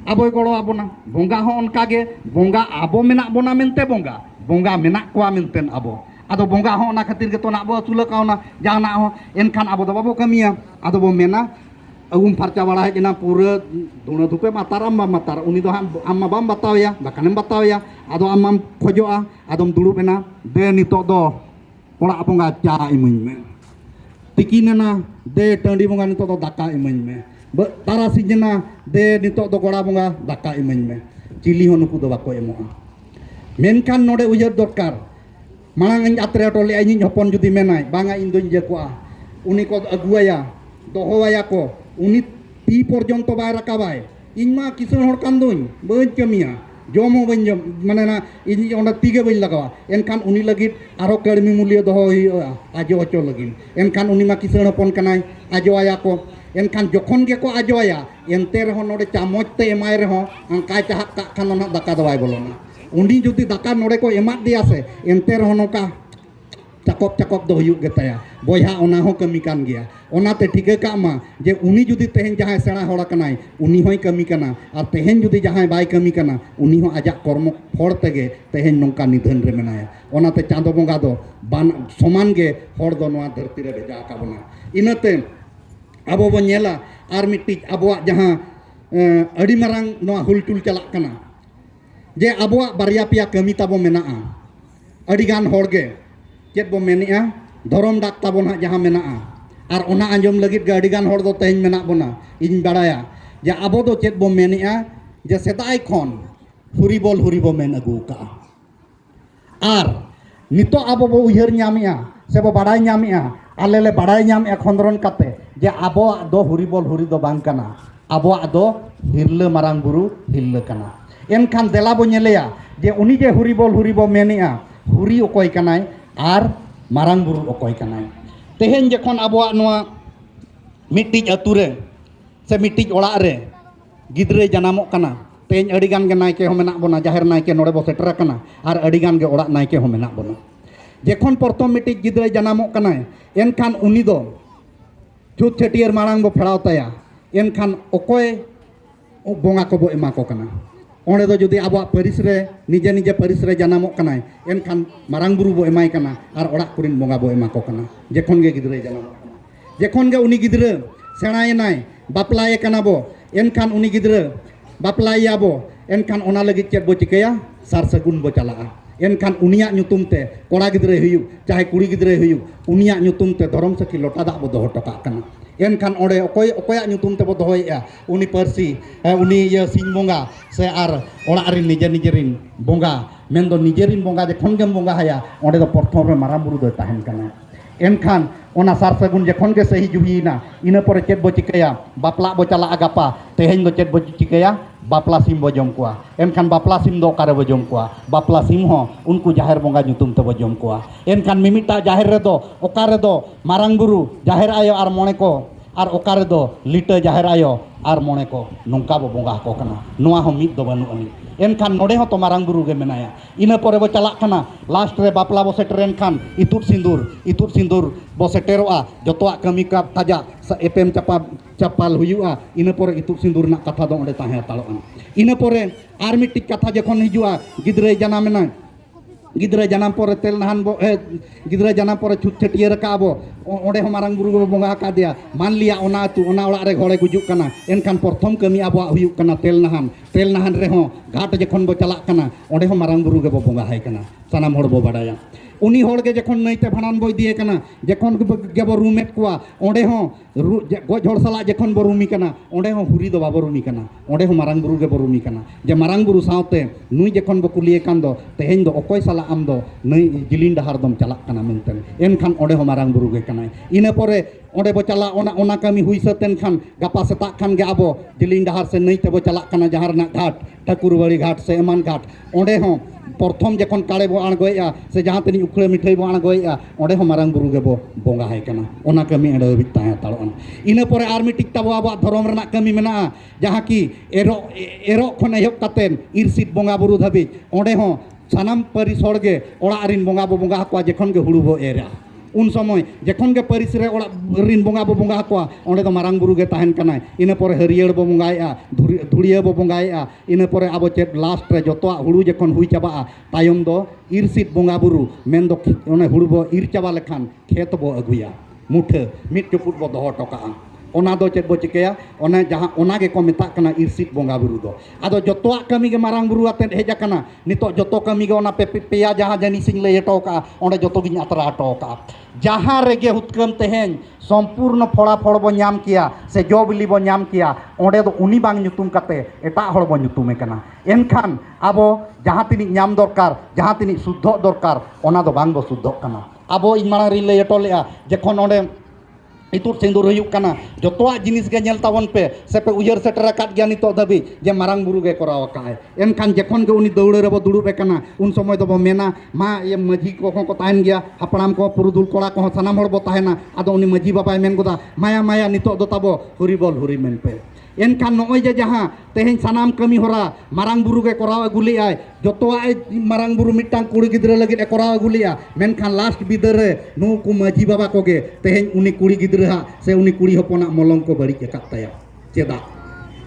ᱟᱵᱚᱭ ᱜᱚᱲᱚ ᱟᱵᱚᱱᱟ ᱵᱚᱸᱜᱟ ᱦᱚᱸ ᱚᱱᱠᱟ ᱜᱮ ᱵᱚᱸᱜᱟ ᱟᱵᱚ ᱢᱮᱱᱟᱜ ᱵᱚᱱᱟ ᱢᱮᱱᱛᱮ ᱵᱚᱸᱜᱟ ᱵᱚᱸᱜᱟ ᱢᱮᱱᱟᱜ ᱠᱚᱣᱟ ᱢᱮᱱᱛᱮ ᱟᱵᱚ ᱟᱫᱚ ᱵᱚᱸᱜᱟ ᱦᱚᱸ ᱚᱱᱟ ᱠᱷᱟᱹᱛᱤᱨ ᱜᱮᱛᱚ ᱱᱟᱦᱟᱜ ᱵᱚ ᱟᱹᱥᱩᱞ ᱟᱠᱟᱣᱱᱟ ᱡᱟᱦᱟᱱᱟᱜ ᱦᱚᱸ ᱮᱱᱠᱷᱟᱱ ᱟᱵᱚ ᱫᱚ ᱵᱟᱵᱚ ᱠᱟᱹᱢᱤᱭᱟ ᱟᱫᱚ ᱵᱚ ᱢᱮᱱᱟ ᱩᱢ ᱯᱷᱟᱨᱪᱟ ᱵᱟᱲᱟ ᱦᱮᱡ ᱮᱱᱟ ᱯᱩᱨᱟᱹ ᱫᱩᱬᱟᱹ ᱫᱷᱩᱯᱮ ᱢᱟᱛᱟᱨ ᱟᱢ ᱵᱟᱢ ᱢᱟᱛᱟᱨ ᱩᱱᱤ ᱫᱚ ᱦᱟᱸᱜ ᱟᱢ ᱢᱟ ᱵᱟᱢ ᱵᱟᱛᱟᱣᱮᱭᱟ ᱵᱟᱠᱷᱟᱱᱮᱢ ᱵᱟᱛᱟᱣᱮᱭᱟ ᱟᱫᱚ ᱟᱢ ᱢᱟᱢ ᱠᱷᱚᱡᱚᱜᱼᱟ ᱟᱫᱚᱢ ᱫᱩᱲᱩᱵ ᱮᱱᱟ ᱫᱮ ᱱᱤᱛᱚᱜ ᱫᱚ ᱚᱲᱟᱜ ᱵᱚᱸᱜᱟ ᱪᱟ ᱤᱢᱟᱹᱧ ᱢᱮ ᱛᱤᱠᱤᱱ ᱮᱱᱟ ᱫᱮ ᱴᱟᱺᱰᱤ ᱵᱚᱸᱜᱟ ᱱᱤᱛᱚᱜ ᱫᱚ ᱫᱟᱠᱟ ᱤᱢᱟᱹᱧ ᱢᱮ ᱛᱟᱨᱟᱥᱤᱧ ᱮᱱᱟ ᱫᱮ ᱱᱤᱛᱚᱜ ᱫᱚ ᱜᱚᱲᱟ ᱵᱚᱸᱜᱟ ᱫᱟᱠᱟ ᱤᱢᱟᱹᱧ ᱢᱮ ᱪᱤᱞᱤ ᱦᱚᱸ ᱱᱩᱠᱩ ᱫᱚ ᱵᱟᱠᱚ ᱮᱢᱚᱜᱼᱟ ᱢᱮᱱᱠᱷᱟᱱ ᱱᱚᱰᱮ ᱩᱭᱦᱟᱹᱨ ᱫᱚᱨᱠᱟᱨ ᱢᱟᱲᱟᱝ ᱤᱧ ᱟᱛᱨᱮ ᱦᱚᱴᱚ ᱞᱮᱫᱼᱟ ᱤᱧᱤᱡ ᱦᱚᱯᱚᱱ ᱡᱩᱫᱤ ᱢᱮᱱᱟᱭ ᱵᱟᱝᱟ ᱤᱧ ᱫᱚᱧ ᱤᱭᱟᱹ ᱠᱚᱜᱼᱟ ᱩᱱᱤ ᱠᱚ ᱟᱹᱜᱩᱣᱟᱭᱟ ᱫᱚᱦᱚᱣᱟᱭᱟ ᱠᱚ ᱩᱱᱤ ᱛᱤ ᱯᱚᱨᱡᱚᱱᱛᱚ ᱵᱟᱭ ᱨᱟᱠᱟᱵᱟᱭ ᱤᱧ ᱢᱟ ᱠᱤᱥᱟᱹᱬ ᱦᱚᱲ ᱠᱟᱱ ᱫᱩᱧ ᱵᱟᱹᱧ ᱠᱟᱹᱢᱤᱭᱟ ᱡᱚᱢ ᱦᱚᱸ ᱵᱟᱹᱧ ᱡᱚᱢ ᱢᱟᱱᱮ ᱱᱟ ᱤᱧ ᱚᱸᱰᱮ ᱛᱤᱜᱮ ᱵᱟᱹᱧ ᱞᱟᱜᱟᱣᱟ ᱮᱱᱠᱷᱟᱱ ᱩᱱᱤ ᱞᱟᱹᱜᱤᱫ ᱟᱨᱦᱚᱸ ᱠᱟᱹᱲᱢᱤ ᱢᱩᱞᱭᱟᱹ ᱫᱚᱦᱚ ᱦᱩᱭᱩᱜᱼᱟ ᱟᱡᱚ ᱦᱚᱪᱚ ᱞᱟᱹᱜᱤᱫ ᱮᱱᱠᱷᱟᱱ ᱩᱱᱤ ᱢᱟ ᱠᱤᱥᱟᱹᱬ ᱦᱚᱯᱚᱱ ᱠᱟᱱᱟᱭ ᱟᱡᱚᱣᱟᱭᱟ ᱠᱚ ᱮᱱᱠᱷᱟन ᱡᱚᱠᱷᱚᱱ ᱜᱮᱠᱚ ᱟᱡᱚᱭᱟ ᱮᱱᱛᱮ ᱨᱮᱦᱚᱸ ᱱᱚᱰᱮ ᱪᱟᱢᱚᱪ ᱛᱮ ᱮᱢᱟᱭ ᱨᱮᱦᱚᱸ ᱟᱝᱠᱟᱭ ᱪᱟᱦᱟᱜ ᱠᱟᱜ ᱠᱷᱟᱱ ᱚᱱᱟ ᱫᱟᱠᱟ ᱫᱚ ᱵᱟᱭ ᱵᱚᱞᱚᱱᱟ ᱩᱱᱤ ᱡᱩᱫᱤ ᱫᱟᱠᱟ ᱱᱚᱰᱮ ᱠᱚ ᱮᱢᱟᱫ ᱫᱮᱭᱟ ᱥᱮ ᱮᱱᱛᱮ ᱨᱮᱦᱚᱸ ᱱᱚᱝᱠᱟ ᱪᱟᱠᱚᱯ ᱪᱟᱠᱚᱯ ᱫᱚ ᱦᱩᱭᱩᱜ ᱜᱮᱛᱟᱭᱟ ᱵᱚᱭᱦᱟ ᱚᱱᱟ ᱦᱚᱸ ᱠᱟᱹᱢᱤ ᱠᱟᱱ ᱜᱮᱭᱟ ᱚᱱᱟᱛᱮ ᱴᱷᱤᱠᱟᱹ ᱠᱟᱜ ᱢᱟ ᱡᱮ ᱩᱱᱤ ᱡᱩᱫᱤ ᱛᱮᱦᱮᱧ ᱡᱟᱦᱟᱸᱭ ᱥᱮᱬᱟ ᱦᱚᱲ ᱠᱟᱱᱟᱭ ᱩᱱᱤ ᱦᱚᱸᱭ ᱠᱟᱹᱢᱤ ᱠᱟᱱᱟ ᱟᱨ ᱛᱮᱦᱮᱧ ᱡᱩᱫᱤ ᱡᱟᱦᱟᱸᱭ ᱵᱟᱭ ᱠᱟᱹᱢᱤ ᱠᱟᱱᱟ ᱩᱱᱤ ᱦᱚᱸ ᱟᱡᱟᱜ ᱠᱚᱨᱢᱚ ᱯᱷᱚᱲ ᱛᱮᱜᱮ ᱛᱮᱦᱮᱧ ᱱᱚᱝᱠᱟ ᱱᱤᱫᱷᱟᱹᱱ ᱨᱮ ᱢᱮᱱᱟᱭᱟ ᱚᱱᱟᱛᱮ ᱪᱟᱸᱫᱚ ᱵᱚᱸᱜᱟ ᱫᱚ ᱵᱟᱱ ᱥᱚᱢᱟᱱ ᱜᱮ ᱦᱚᱲ ᱫᱚ ᱱᱚᱣᱟ ᱫᱷᱟᱹᱨᱛᱤ ᱨᱮ ᱵᱷᱮᱡᱟ ᱟᱠᱟᱫ ᱵᱚᱱᱟ ᱤᱱᱟᱹᱛᱮ ᱟᱵᱚ ᱵᱚᱱ ᱧᱮᱞᱟ ᱟᱨ ᱢᱤᱫᱴᱤᱡ ᱟᱵᱚᱣᱟᱜ ᱡᱟᱦᱟᱸ ᱟᱹᱰᱤ ᱢᱟᱨᱟᱝ ᱱᱚᱣᱟ ᱦᱩᱞᱴᱩᱞ ᱪᱟᱞᱟᱜ ᱠᱟᱱᱟ ᱡᱮ ᱟᱵᱚᱣᱟᱜ ᱵᱟᱨᱭᱟ ᱯᱮᱭᱟ ᱠᱟᱹᱢᱤ ᱛᱟᱵᱚ ᱢᱮᱱᱟᱜᱼᱟ ᱟᱹᱰᱤ ᱜᱟᱱ ᱦᱚᱲ ᱜᱮ ᱪᱮᱫ ᱵᱚ ᱢᱮᱱᱮᱜᱼᱟ ᱫᱷᱚᱨᱚᱢ ᱰᱟᱠ ᱛᱟᱵᱚ ᱱᱟᱜ ᱡᱟᱦᱟᱸ ᱢᱮᱱᱟᱜᱼᱟ ᱟᱨ ᱚᱱᱟ ᱟᱸᱡᱚᱢ ᱞᱟᱹᱜᱤᱫ ᱜᱮ ᱟᱹᱰᱤ ᱜᱟᱱ ᱦᱚᱲ ᱫᱚ ᱛᱮᱦᱮᱧ ᱢᱮᱱᱟᱜ ᱵᱚᱱᱟ ᱤᱧ ᱵᱟᱲᱟᱭᱟ ᱡᱮ ᱟᱵᱚ ᱫᱚ ᱪᱮᱫ ᱵᱚ ᱢᱮᱱᱮᱜᱼᱟ ᱡᱮ ᱥᱮᱫᱟᱭ ᱠᱷᱚᱱ ᱦᱩᱨᱤᱵᱚᱞ ᱦᱩᱨᱤ ᱵᱚ ᱢᱮᱱ ᱟᱹᱜᱩ ᱠᱟᱜᱼᱟ ᱟᱨ ᱱᱤᱛᱚᱜ ᱟᱵᱚ ᱵᱚ ᱩᱭᱦᱟᱹᱨ ᱧᱟᱢᱮᱜᱼᱟ ᱥᱮ ᱵᱚ ᱵᱟᱲᱟᱭ ᱧᱟᱢᱮᱜᱼᱟ ᱟᱞᱮ ᱞᱮ ᱵᱟᱲᱟᱭ ᱧᱟᱢᱮᱜᱼᱟ ᱠᱷᱚᱸᱫᱽᱨᱚᱱ ᱠᱟᱛᱮ ᱡᱮ ᱟᱵᱚᱣᱟᱜ ᱫᱚ ᱦᱩᱨᱤᱵᱚᱞ ᱦᱩᱨᱤ ᱫᱚ ᱵᱟᱝ ᱠᱟᱱᱟ ᱟᱵᱚᱣᱟᱜ ᱫᱚ ᱦᱤᱨᱞᱟᱹ ᱢᱟᱨᱟᱝ ᱵᱩᱨᱩ ᱦᱤᱨᱞᱟᱹ ᱠᱟᱱᱟ ᱮᱱᱠᱷᱟᱱ ᱫᱮᱞᱟ ᱵᱚ ᱧᱮᱞᱮᱭᱟ ᱡᱮ ᱩᱱᱤ ᱡᱮ ᱦᱩᱨᱤᱵᱚᱞ ᱦᱩᱨᱤ ᱵᱚ ᱢᱮᱱᱮᱜᱼᱟ ᱦᱩᱨᱤ ᱚᱠᱚᱭ ᱠᱟᱱᱟᱭ ᱟᱨ ᱢᱟᱨᱟᱝ ᱵᱩᱨᱩ ᱚᱠᱚᱭ ᱠᱟᱱᱟᱭ ᱛᱮᱦᱮᱧ ᱡᱚᱠᱷᱚᱱ ᱟᱵᱚᱣᱟᱜ ᱱᱚᱣᱟ ᱢᱤᱫᱴᱤᱡ ᱟᱛᱳ ᱨᱮ ᱥᱮ ᱢᱤᱫᱴᱤᱡ ᱚᱲᱟᱜ ᱨᱮ ᱜᱤᱫᱽᱨᱟᱹᱭ ᱡᱟᱱᱟᱢᱚᱜ ᱠᱟᱱᱟ ᱛᱮᱦᱮᱧ ᱟᱹᱰᱤ ᱜᱟᱱ ᱜᱮ ᱱᱟᱭᱠᱮ ᱦᱚᱸ ᱢᱮᱱᱟᱜ ᱵᱚᱱᱟ ᱡᱟᱦᱮᱨ ᱱᱟᱭᱠᱮ ᱱᱚᱰᱮ ᱵᱚ ᱥᱮᱴᱮᱨ ᱟᱠᱟᱱᱟ ᱟᱨ ᱟᱹᱰᱤ ᱜᱟᱱ ᱜᱮ ᱚᱲᱟᱜ ᱱᱟᱭᱠᱮ ᱦᱚᱸ ᱢᱮᱱᱟᱜ ᱵᱚᱱᱟ ᱡᱮᱠᱷᱚᱱ ᱯᱨᱚᱛᱷᱚᱢ ᱢᱤᱫᱴᱤᱡ ᱜᱤᱫᱽᱨᱟᱹᱭ ᱡᱟᱱᱟᱢᱚᱜ ᱠᱟᱱᱟᱭ ᱮᱱᱠᱷᱟᱱ ᱩᱱᱤ ᱫᱚ ᱪᱷᱩᱛ ᱪᱷᱟᱹᱴᱭᱟᱹᱨ ᱢᱟᱲᱟᱝ ᱵᱚ ᱯᱷᱮᱲᱟᱣ ᱛᱟᱭᱟ ᱮᱱᱠᱷᱟᱱ ᱚᱠᱚᱭ ᱵᱚᱸᱜᱟ ᱠᱚᱵᱚ ᱮᱢᱟ ᱠᱚ ᱠᱟᱱᱟ ᱚᱸᱰᱮ ᱫᱚ ᱡᱩᱫᱤ ᱟᱵᱚᱣᱟᱜ ᱯᱟᱹᱨᱤᱥ ᱨᱮ ᱱᱤᱡᱮ ᱱᱤᱡᱮ ᱯᱟᱹᱨᱤᱥ ᱨᱮ ᱡᱟᱱᱟᱢᱚᱜ ᱠᱟᱱᱟᱭ ᱮᱱᱠᱷᱟᱱ ᱢᱟᱨᱟᱝ ᱵᱩᱨᱩ ᱵᱚ ᱮᱢᱟᱭ ᱠᱟᱱᱟ ᱟᱨ ᱚᱲᱟᱜ ᱠᱚᱨᱮᱱ ᱵᱚᱸᱜᱟ ᱵᱚ ᱮᱢᱟ ᱠᱚ ᱠᱟᱱᱟ ᱡᱮᱠᱷᱚᱱ ᱜᱮ ᱜᱤᱫᱽᱨᱟᱹᱭ ᱡᱟᱱᱟᱢᱚᱜ ᱠᱟᱱᱟ ᱡᱮᱠᱷᱚᱱ ᱜᱮ ᱩᱱᱤ ᱜᱤᱫᱽᱨᱟᱹ ᱥᱮᱬᱟᱭᱮᱱᱟᱭ ᱵᱟᱯᱞᱟᱭᱮ ᱠᱟᱱᱟ ᱵᱚ ᱮᱱᱠᱷᱟᱱ ᱩᱱᱤ ᱜᱤᱫᱽᱨᱟᱹ ᱵᱟᱯᱞᱟᱭᱮᱭᱟ ᱵᱚ ᱮᱱᱠᱷᱟᱱ ᱚᱱᱟ ᱞᱟᱹᱜᱤᱫ ᱪᱮᱫ ᱵᱚ ᱪᱤᱠᱟᱹᱭᱟ ᱥᱟᱨ ᱥᱟᱹᱜᱩᱱ ᱵᱚ ᱪᱟᱞᱟᱜᱼᱟ ᱮᱱᱠᱷᱟन ᱩᱱᱤᱭᱟᱜ ᱧᱩᱛᱩᱢ ᱛᱮ ᱠᱚᱲᱟ ᱜᱤᱫᱽᱨᱟᱹ ᱦᱩᱭᱩᱜ ᱪᱟᱦᱮ ᱠᱩᱲᱤ ᱜᱤᱫᱽᱨᱟᱹ ᱦᱩᱭᱩᱜ ᱩᱱᱤᱭᱟᱜ ᱧᱩᱛᱩᱢ ᱛᱮ ᱫᱷᱚᱨᱚᱢ ᱥᱟᱹᱠᱷᱤ ᱞᱚᱴᱟ ᱫᱟᱜ ᱵᱚ ᱫᱚᱦᱚ ᱦᱚᱴᱚ ᱠᱟᱜ ᱠᱟᱱᱟ ᱮᱱᱠᱷᱟᱱ ᱚᱸᱰᱮ ᱚᱠᱚᱭ ᱚᱠᱚᱭᱟᱜ ᱧᱩᱛᱩᱢ ᱛᱮᱵᱚ ᱫᱚᱦᱚᱭᱮᱜᱼᱟ ᱩᱱᱤ ᱯᱟᱹᱨᱥᱤ ᱩᱱᱤ ᱤᱭᱟᱹ ᱥᱤᱧ ᱵᱚᱸᱜᱟ ᱥᱮ ᱟᱨ ᱚᱲᱟᱜ ᱨᱮ ᱱᱤᱡᱮ ᱱᱤᱡᱮᱨᱤᱱ ᱵᱚᱸᱜᱟ ᱢᱮᱱᱫᱚ ᱱᱤᱡᱮᱨᱤᱱ ᱵᱚᱸᱜᱟ ᱡᱚᱠᱷᱚᱱ ᱜᱮᱢ ᱵᱚᱸᱜᱟ ᱦᱟᱭᱟ ᱚᱸᱰᱮ ᱫᱚ ᱯᱨᱚᱛᱷᱚᱢ ᱨᱮ ᱢᱟᱨᱟᱝ ᱵᱩᱨᱩ ᱫᱚᱭ ᱛᱟᱦᱮᱱ ᱠᱟᱱᱟ ᱮᱱᱠᱷᱟᱱ ᱚᱱᱟ ᱥᱟᱨ ᱥᱟᱹᱜᱩᱱ ᱡᱚᱠᱷᱚᱱ ᱜᱮ ᱥᱟᱹᱦᱤ ᱡᱩᱦᱤᱭᱮᱱᱟ ᱤᱱᱟᱹ ᱯᱚᱨᱮ ᱪᱮᱫ ᱵᱚ ᱪᱤᱠᱟᱹᱭᱟ ᱵᱟᱯᱞᱟᱜ ᱵᱚ ᱪᱟᱞᱟᱜᱼᱟ ᱜᱟᱯᱟ ᱛᱮᱦᱮᱧ ᱫᱚ ᱪᱮᱫ ᱵᱚ ᱪᱤᱠᱟᱹᱭᱟ ᱵᱟᱯᱞᱟ ᱥᱤᱢ ᱵᱚ ᱡᱚᱢ ᱠᱚᱣᱟ ᱮᱱᱠᱷᱟᱱ ᱵᱟᱯᱞᱟ ᱥᱤᱢ ᱫᱚ ᱚᱠᱟᱨᱮ ᱵᱚ ᱡᱚᱢ ᱠᱚᱣᱟ ᱵᱟᱯᱞᱟ ᱥᱤᱢ ᱦᱚᱸ ᱩᱱᱠᱩ ᱡᱟᱦᱮᱨ ᱵᱚᱸᱜᱟ ᱧᱩᱛᱩᱢ ᱛᱮᱵᱚ ᱡᱚᱢ ᱠᱚᱣᱟ ᱮᱱᱠᱷᱟᱱ ᱢᱤᱢᱤᱫᱴᱟᱝ ᱡᱟᱦᱮᱨ ᱨᱮᱫᱚ ᱚᱠᱟ ᱨᱮᱫᱚ ᱢᱟᱨᱟᱝ ᱵᱩᱨᱩ ᱡᱟᱦᱮᱨ ᱟᱭᱳ ᱟᱨ ᱢᱚᱬᱮ ᱠᱚ ᱟᱨ ᱚᱠᱟ ᱨᱮᱫᱚ ᱞᱤᱴᱟᱹ ᱡᱟᱦᱮᱨ ᱟᱭᱳ ᱟᱨ ᱢᱚᱬᱮ ᱠᱚ ᱱᱚᱝᱠᱟ ᱵᱚ ᱵᱚᱸᱜᱟ ᱟᱠᱚ ᱠᱟᱱᱟ ᱱᱚᱣᱟ ᱦᱚᱸ ᱢᱤᱫ ᱫᱚ ᱵᱟᱹᱱᱩᱜ ᱟᱹᱱᱤᱡ ᱮᱱᱠᱷᱟᱱ ᱱᱚᱰᱮ ᱦᱚᱸᱛᱚ ᱢᱟᱨᱟᱝ ᱵᱩᱨᱩ ᱜᱮ ᱢᱮᱱᱟᱭᱟ ᱤᱱᱟᱹ ᱯᱚᱨᱮ ᱵᱚ ᱪᱟᱞᱟᱜ ᱠᱟᱱᱟ ᱞᱟᱥᱴ ᱨᱮ ᱵᱟᱯᱞᱟ ᱵᱚ ᱥᱮᱴᱮᱨᱮᱱ ᱠᱷᱟᱱ ᱤᱛᱩᱫ ᱥᱤᱸᱫᱩᱨ ᱤᱛᱩᱫ ᱥᱤᱸᱫᱩᱨ ᱵᱚ ᱥᱮᱴᱮᱨᱚᱜᱼᱟ ᱡᱚᱛᱚᱣᱟᱜ ᱠᱟᱹᱢᱤ ᱠᱟᱡᱟᱜ ᱮᱯᱮᱢ ᱪᱟᱯᱟᱞ ᱪᱟᱯᱟᱞ ᱦᱩᱭᱩᱜᱼᱟ ᱤᱱᱟᱹ ᱯᱚᱨᱮ ᱤᱛᱩᱫ ᱥᱤᱸᱫᱩᱨ ᱨᱮᱱᱟᱜ ᱠᱟᱛᱷᱟ ᱫᱚ ᱚᱸᱰᱮ ᱛᱟᱦᱮᱸ ᱦᱟᱛᱟᱲᱚᱜᱼᱟ ᱤᱱᱟᱹ ᱯᱚᱨᱮ ᱟᱨ ᱢᱤᱫᱴᱤᱡ ᱠᱟᱛᱷᱟ ᱡᱚᱠᱷᱚᱱ ᱦᱤᱡᱩᱜᱼᱟ ᱜᱤᱫᱽᱨᱟᱹᱭ ᱡᱟᱱᱟᱢᱮᱱᱟ ᱜᱤᱫᱽᱨᱟᱹ ᱡᱟᱱᱟᱢ ᱯᱚᱨᱮ ᱛᱮᱞ ᱱᱟᱦᱟᱱ ᱵᱚ ᱜᱤᱫᱽᱨᱟᱹ ᱡᱟᱱᱟᱢ ᱯᱚᱨᱮ ᱪᱷᱩᱛ ᱪᱷᱟᱹᱴᱭᱟᱹᱨ ᱟᱠᱟᱫ ᱟᱵᱚ ᱚᱸᱰᱮ ᱦᱚᱸ ᱢᱟᱨᱟᱝ ᱵᱩᱨᱩ ᱵᱚ ᱵᱚᱸᱜᱟ ᱟᱠᱟᱫᱮᱭᱟ ᱢᱟᱱᱞᱤᱭᱟ ᱚᱱᱟ ᱟᱛᱳ ᱚᱱᱟ ᱚᱲᱟᱜ ᱨᱮ ᱦᱚᱲᱮ ᱜᱩᱡᱩᱜ ᱠᱟᱱᱟ ᱮᱱᱠᱷᱟᱱ ᱯᱨᱚᱛᱷᱚᱢ ᱠᱟᱹᱢᱤ ᱟᱵᱚᱣᱟᱜ ᱦᱩᱭᱩᱜ ᱠᱟᱱᱟ ᱛᱮᱞ ᱱᱟᱦᱟᱱ ᱛᱮᱞ ᱱᱟᱦᱟᱱ ᱨᱮᱦᱚᱸ ᱜᱷᱟᱴ ᱡᱚᱠᱷᱚᱱ ᱵᱚ ᱪᱟᱞᱟᱜ ᱠᱟᱱᱟ ᱚᱸᱰᱮ ᱦᱚᱸ ᱢᱟᱨᱟᱝ ᱵᱩᱨᱩ ᱜᱮᱵᱚ ᱵᱚᱸᱜᱟ ᱟᱭ ᱠᱟᱱᱟ ᱥᱟᱱᱟᱢ ᱦᱚᱲ ᱵᱚ ᱵᱟᱰᱟᱭᱟ ᱩᱱᱤ ᱦᱚᱲ ᱜᱮ ᱡᱚᱠᱷᱚᱱ ᱱᱟᱹᱭᱛᱮ ᱵᱷᱟᱸᱰᱟᱱ ᱵᱚ ᱤᱫᱤᱭᱮ ᱠᱟᱱᱟ ᱡᱚᱠᱷᱚᱱ ᱜᱮᱵᱚ ᱨᱩᱢᱮᱫ ᱠᱚᱣᱟ ᱚᱸᱰᱮ ᱦᱚᱸ ᱜᱚᱡ ᱦᱚᱲ ᱥᱟᱞᱟᱜ ᱡᱚᱠᱷᱚᱱ ᱵᱚ ᱨᱩᱢᱤ ᱠᱟᱱᱟ ᱚᱸᱰᱮ ᱦᱚᱸ ᱦᱩᱨᱤ ᱫᱚ ᱵᱟᱵᱚ ᱨᱩᱢᱤ ᱠᱟᱱᱟ ᱚᱸᱰᱮ ᱦᱚᱸ ᱢᱟᱨᱟᱝ ᱵᱩᱨᱩ ᱜᱮᱵᱚ ᱨᱩᱢᱤ ᱠᱟᱱᱟ ᱡᱮ ᱢᱟᱨᱟᱝ ᱵᱩᱨᱩ ᱥᱟᱶᱛᱮ ᱱᱩᱭ ᱡᱚᱠᱷᱚᱱ ᱵᱚ ᱠᱩᱞᱤᱭᱮ ᱠᱟᱱ ᱫᱚ ᱛᱮᱦᱮᱧ ᱫᱚ ᱚᱠᱚᱭ ᱥᱟᱞᱟᱜ ᱟᱢ ᱫᱚ ᱱᱟᱹᱭ ᱡᱤᱞᱤᱧ ᱰᱟᱦᱟᱨ ᱫᱚᱢ ᱪᱟᱞᱟᱜ ᱠᱟᱱᱟ ᱢᱮᱱᱛᱮ ᱮᱱᱠᱷᱟᱱ ᱚᱸᱰᱮ ᱦᱚᱸ ᱢᱟᱨᱟᱝ ᱵᱩᱨᱩ ᱜᱮ ᱠᱟᱱᱟᱭ ᱤᱱᱟᱹ ᱯᱚᱨᱮ ᱚᱸᱰᱮ ᱵᱚ ᱪᱟᱞᱟᱜ ᱚᱱᱟ ᱚᱱᱟ ᱠᱟᱹᱢᱤ ᱦᱩᱭ ᱥᱟᱹᱛ ᱮᱱ ᱠᱷᱟᱱ ᱜᱟᱯᱟ ᱥᱮᱛᱟᱜ ᱠᱷᱟᱱ ᱜᱮ ᱟᱵᱚ ᱡᱤᱞᱤᱧ ᱰᱟᱦᱟᱨ ᱥᱮ ᱱᱟᱹᱭ ᱛᱮᱵᱚ ᱪᱟᱞᱟᱜ ᱠᱟᱱᱟ ᱡᱟᱦᱟᱸ ᱨᱮᱱᱟᱜ ᱜᱷᱟᱴ ᱴᱷᱟᱹᱠᱩᱨᱵᱟᱹᱲᱤ ᱜᱷᱟᱴ ᱥᱮ ᱮᱢᱟᱱ ᱜᱷᱟᱴ ᱚᱸᱰᱮ ᱦᱚᱸ ᱯᱨᱚᱛᱷᱚᱢ ᱡᱚᱠᱷᱚᱱ ᱠᱟᱲᱮ ᱵᱚ ᱟᱬᱜᱚᱭᱮᱜᱼᱟ ᱥᱮ ᱡᱟᱦᱟᱸ ᱛᱤᱱᱤᱡ ᱩᱠᱷᱲᱟᱹ ᱢᱤᱴᱷᱟᱹᱭ ᱵᱚ ᱟᱬᱜᱚᱭᱮᱜᱼᱟ ᱚᱸᱰᱮ ᱦᱚᱸ ᱢᱟᱨᱟᱝ ᱵᱩᱨᱩ ᱜᱮᱵᱚ ᱵᱚᱸᱜᱟ ᱟᱭ ᱠᱟᱱᱟ ᱚᱱᱟ ᱠᱟᱹᱢᱤ ᱮᱸᱰᱮ ᱦᱟᱹᱵᱤᱡ ᱛᱟᱦᱮᱸ ᱦᱟᱛᱟᱲᱚᱜ ᱠᱟᱱᱟ ᱤᱱᱟᱹ ᱯᱚᱨᱮ ᱟᱨ ᱢᱤᱫᱴᱤᱡ ᱛᱟᱵᱚ ᱟᱵᱚᱣᱟᱜ ᱫᱷᱚᱨᱚᱢ ᱨᱮᱱᱟᱜ ᱠᱟᱹᱢᱤ ᱢᱮᱱᱟᱜᱼᱟ ᱡᱟᱦᱟᱸ ᱠᱤ ᱮᱨᱚᱜ ᱮᱨᱚᱜ ᱠᱷᱚᱱ ᱮᱦᱚᱵ ᱠᱟᱛᱮ ᱤᱨᱥᱤᱫ ᱵᱚᱸᱜᱟ ᱵᱩᱨᱩ ᱫᱷᱟᱹᱵᱤᱡ ᱚᱸᱰᱮ ᱦᱚᱸ ᱥᱟᱱᱟᱢ ᱯᱟᱹᱨᱤᱥ ᱦᱚᱲ ᱜᱮ ᱚᱲᱟᱜ ᱨᱤᱱ ᱵᱚᱸᱜᱟ ᱵᱚ ᱵᱚᱸᱜᱟ ᱟᱠᱚᱣᱟ ᱡᱚᱠᱷᱚᱱ ᱜᱮ ᱦᱩᱲᱩ ᱵᱚ ᱮᱨᱟ ᱩᱱ ᱥᱚᱢᱚᱭ ᱡᱮᱠᱷᱚᱱ ᱜᱮ ᱯᱟᱹᱨᱤᱥ ᱨᱮ ᱚᱲᱟᱜ ᱨᱤᱱ ᱵᱚᱸᱜᱟ ᱵᱚ ᱵᱚᱸᱜᱟ ᱟᱠᱚᱣᱟ ᱚᱸᱰᱮ ᱫᱚ ᱢᱟᱨᱟᱝ ᱵᱩᱨᱩ ᱜᱮ ᱛᱟᱦᱮᱱ ᱠᱟᱱᱟᱭ ᱤᱱᱟᱹ ᱯᱚᱨᱮ ᱦᱟᱹᱨᱭᱟᱹᱲ ᱵᱚ ᱵᱚᱸᱜᱟᱭᱮᱜᱼᱟ ᱫᱷᱩᱲᱤᱭᱟᱹ ᱵᱚ ᱵᱚᱸᱜᱟᱭᱮᱜᱼᱟ ᱤᱱᱟᱹ ᱯᱚᱨᱮ ᱟᱵᱚ ᱪᱮᱫ ᱞᱟᱥᱴ ᱨᱮ ᱡᱚᱛᱚᱣᱟᱜ ᱦᱩᱲᱩ ᱡᱚᱠᱷᱚᱱ ᱦᱩᱭ ᱪᱟᱵᱟᱜᱼᱟ ᱛᱟᱭᱚᱢ ᱫᱚ ᱤᱨ ᱥᱤᱫ ᱵᱚᱸᱜᱟ ᱵᱩᱨᱩ ᱢᱮᱱ ᱫᱚ ᱚᱱᱮ ᱦᱩᱲᱩ ᱵᱚ ᱤᱨ ᱪᱟᱵᱟ ᱞᱮᱠᱷᱟᱱ ᱠᱷᱮᱛ ᱵᱚ ᱟᱹᱜᱩᱭᱟ ᱢᱩᱴᱷᱟᱹ ᱢᱤᱫ ᱪᱩᱯᱩᱫ ᱵᱚ ᱫᱚᱦᱚ ᱦᱚᱴᱚ ᱠᱟᱜᱼᱟ ᱚᱱᱟ ᱫᱚ ᱪᱮᱫ ᱵᱚ ᱪᱤᱠᱟᱹᱭᱟ ᱚᱱᱮ ᱡᱟᱦᱟᱸ ᱚᱱᱟ ᱜᱮᱠᱚ ᱢᱮᱛᱟᱜ ᱠᱟᱱᱟ ᱤᱨ ᱥᱤᱫ ᱵᱚᱸᱜᱟ ᱵᱩᱨᱩ ᱫᱚ ᱟᱫᱚ ᱡᱚᱛᱚᱣᱟᱜ ᱠᱟᱹᱢᱤ ᱜᱮ ᱢᱟᱨᱟᱝ ᱵᱩᱨᱩ ᱟᱛᱮᱫ ᱦᱮᱡ ᱟᱠᱟᱱᱟ ᱱᱤᱛᱚᱜ ᱡᱚᱛᱚ ᱠᱟᱹᱢᱤ ᱜᱮ ᱚᱱᱟ ᱯᱮᱭᱟ ᱡᱟᱦᱟᱸ ᱡᱤᱱᱤᱥ ᱤᱧ ᱞᱟᱹᱭ ᱦᱚᱴᱚ ᱠᱟᱜᱼᱟ ᱚᱸᱰᱮ ᱡᱚᱛᱚ ᱜᱤᱧ ᱟᱛᱨᱟ ᱦᱚᱴᱚ ᱠᱟᱜᱼᱟ ᱡᱟᱦᱟᱸ ᱨᱮᱜᱮ ᱦᱩᱛᱠᱟᱹᱢ ᱛᱮᱦᱮᱧ ᱥᱚᱢᱯᱩᱨᱱᱚ ᱯᱷᱚᱲᱟ ᱯᱷᱚᱲ ᱵᱚᱱ ᱧᱟᱢ ᱠᱮᱭᱟ ᱥᱮ ᱡᱚ ᱵᱤᱞᱤ ᱵᱚᱱ ᱧᱟᱢ ᱠᱮᱭᱟ ᱚᱸᱰᱮ ᱫᱚ ᱩᱱᱤ ᱵᱟᱝ ᱧᱩᱛᱩᱢ ᱠᱟᱛᱮ ᱮᱴᱟᱜ ᱦᱚᱲ ᱵᱚᱱ ᱧᱩᱛᱩᱢᱮ ᱠᱟᱱᱟ ᱮᱱᱠᱷᱟᱱ ᱟᱵᱚ ᱡᱟᱦᱟᱸ ᱛᱤᱱᱟᱹᱜ ᱧᱟᱢ ᱫᱚᱨᱠᱟᱨ ᱡᱟᱦᱟᱸ ᱛᱤᱱᱟᱹᱜ ᱥᱩᱫᱽᱫᱷᱚᱜ ᱫᱚᱨᱠᱟᱨ ᱚᱱᱟ ᱫᱚ ᱵᱟᱝ ᱵᱚ ᱥᱩᱫᱽᱫᱷᱚᱜ ᱠᱟᱱᱟ ᱟᱵᱚ ᱤᱧ ᱢᱟᱲᱟᱝ ᱨᱤᱧ ᱞᱟᱹᱭ ᱦᱚᱴᱚ ᱞᱮᱜᱼᱟ ᱡᱚᱠᱷᱚᱱ ᱚᱸᱰᱮ ᱤᱛᱩᱫ ᱥᱤᱸᱫᱩᱨ ᱦᱩᱭᱩᱜ ᱠᱟᱱᱟ ᱡᱚᱛᱚᱣᱟᱜ ᱡᱤᱱᱤᱥ ᱜᱮ ᱧᱮᱞ ᱛᱟᱵᱚᱱ ᱯᱮ ᱥᱮ ᱯᱮ ᱩᱭᱦᱟᱹᱨ ᱥᱮᱴᱮᱨ ᱟᱠᱟᱫ ᱜᱮᱭᱟ ᱱᱤᱛᱚᱜ ᱫᱷᱟᱹᱵᱤᱡ ᱡᱮ ᱢᱟᱨᱟᱝ ᱵᱩᱨᱩ ᱜᱮ ᱠᱚᱨᱟᱣ ᱟᱠᱟᱫᱼᱟᱭ ᱮᱱᱠᱷᱟᱱ ᱡᱚᱠᱷᱚᱱ ᱜᱮ ᱩᱱᱤ ᱫᱟᱹᱣᱲᱟᱹ ᱨᱮᱵᱚ ᱫᱩᱲᱩᱵ ᱮ ᱠᱟᱱᱟ ᱩᱱ ᱥᱚᱢᱚᱭ ᱫᱚᱵᱚ ᱢᱮᱱᱟ ᱢᱟ ᱤᱭᱟᱹ ᱢᱟᱺᱡᱷᱤ ᱠᱚᱦᱚᱸ ᱠᱚ ᱛᱟᱦᱮᱱ ᱜᱮᱭᱟ ᱦᱟᱯᱲᱟᱢ ᱠᱚ ᱯᱩᱨᱩᱫᱷᱩᱞ ᱠᱚᱲᱟ ᱠᱚᱦᱚᱸ ᱥᱟᱱᱟᱢ ᱦᱚᱲ ᱵᱚ ᱛᱟᱦᱮᱱᱟ ᱟᱫᱚ ᱩᱱᱤ ᱢᱟᱺᱡᱷᱤ ᱵᱟᱵᱟᱭ ᱢᱮᱱ ᱜᱚᱫᱟ ᱢᱟᱭᱟ ᱢᱟᱭᱟ ᱱᱤᱛᱚᱜ ᱫᱚ ᱛᱟᱵᱚ ᱦᱚᱨᱤᱵᱚᱞ ᱦᱚᱨᱤ ᱢᱮᱱ ᱯᱮ ᱮᱱᱠᱷᱟᱱ ᱱᱚᱜᱼᱚᱭ ᱡᱮ ᱡᱟᱦᱟᱸ ᱛᱮᱦᱮᱧ ᱥᱟᱱᱟᱢ ᱠᱟᱹᱢᱤ ᱦᱚᱨᱟ ᱢᱟᱨᱟᱝ ᱵᱩᱨᱩ ᱜᱮ ᱠᱚᱨᱟᱣ ᱟᱹᱜᱩ ᱞᱮᱫᱟᱭ ᱡᱚᱛᱚᱣᱟᱜ ᱢᱟᱨᱟᱝ ᱵᱩᱨᱩ ᱢᱤᱫᱴᱟᱝ ᱠᱩᱲᱤ ᱜᱤᱫᱽᱨᱟᱹ ᱞᱟᱹᱜᱤᱫ ᱮ ᱠᱚᱨᱟᱣ ᱟᱹᱜᱩ ᱞᱮᱫᱟ ᱢᱮᱱᱠᱷᱟᱱ ᱞᱟᱥᱴ ᱵᱤᱫᱟᱹ ᱨᱮ ᱱᱩᱠᱩ ᱢᱟᱹᱡᱷᱤ ᱵᱟᱵᱟ ᱠᱚᱜᱮ ᱛᱮᱦᱮᱧ ᱩᱱᱤ ᱠᱩᱲᱤ ᱜᱤᱫᱽᱨᱟᱹ ᱥᱮ ᱩᱱᱤ ᱠᱩᱲᱤ ᱦᱚᱯᱚᱱᱟᱜ ᱢᱚᱞᱚᱝ ᱠᱚ ᱵᱟᱹᱲᱤᱡ ᱟᱠᱟᱫ ᱛᱟᱭᱟ ᱪᱮᱫᱟᱜ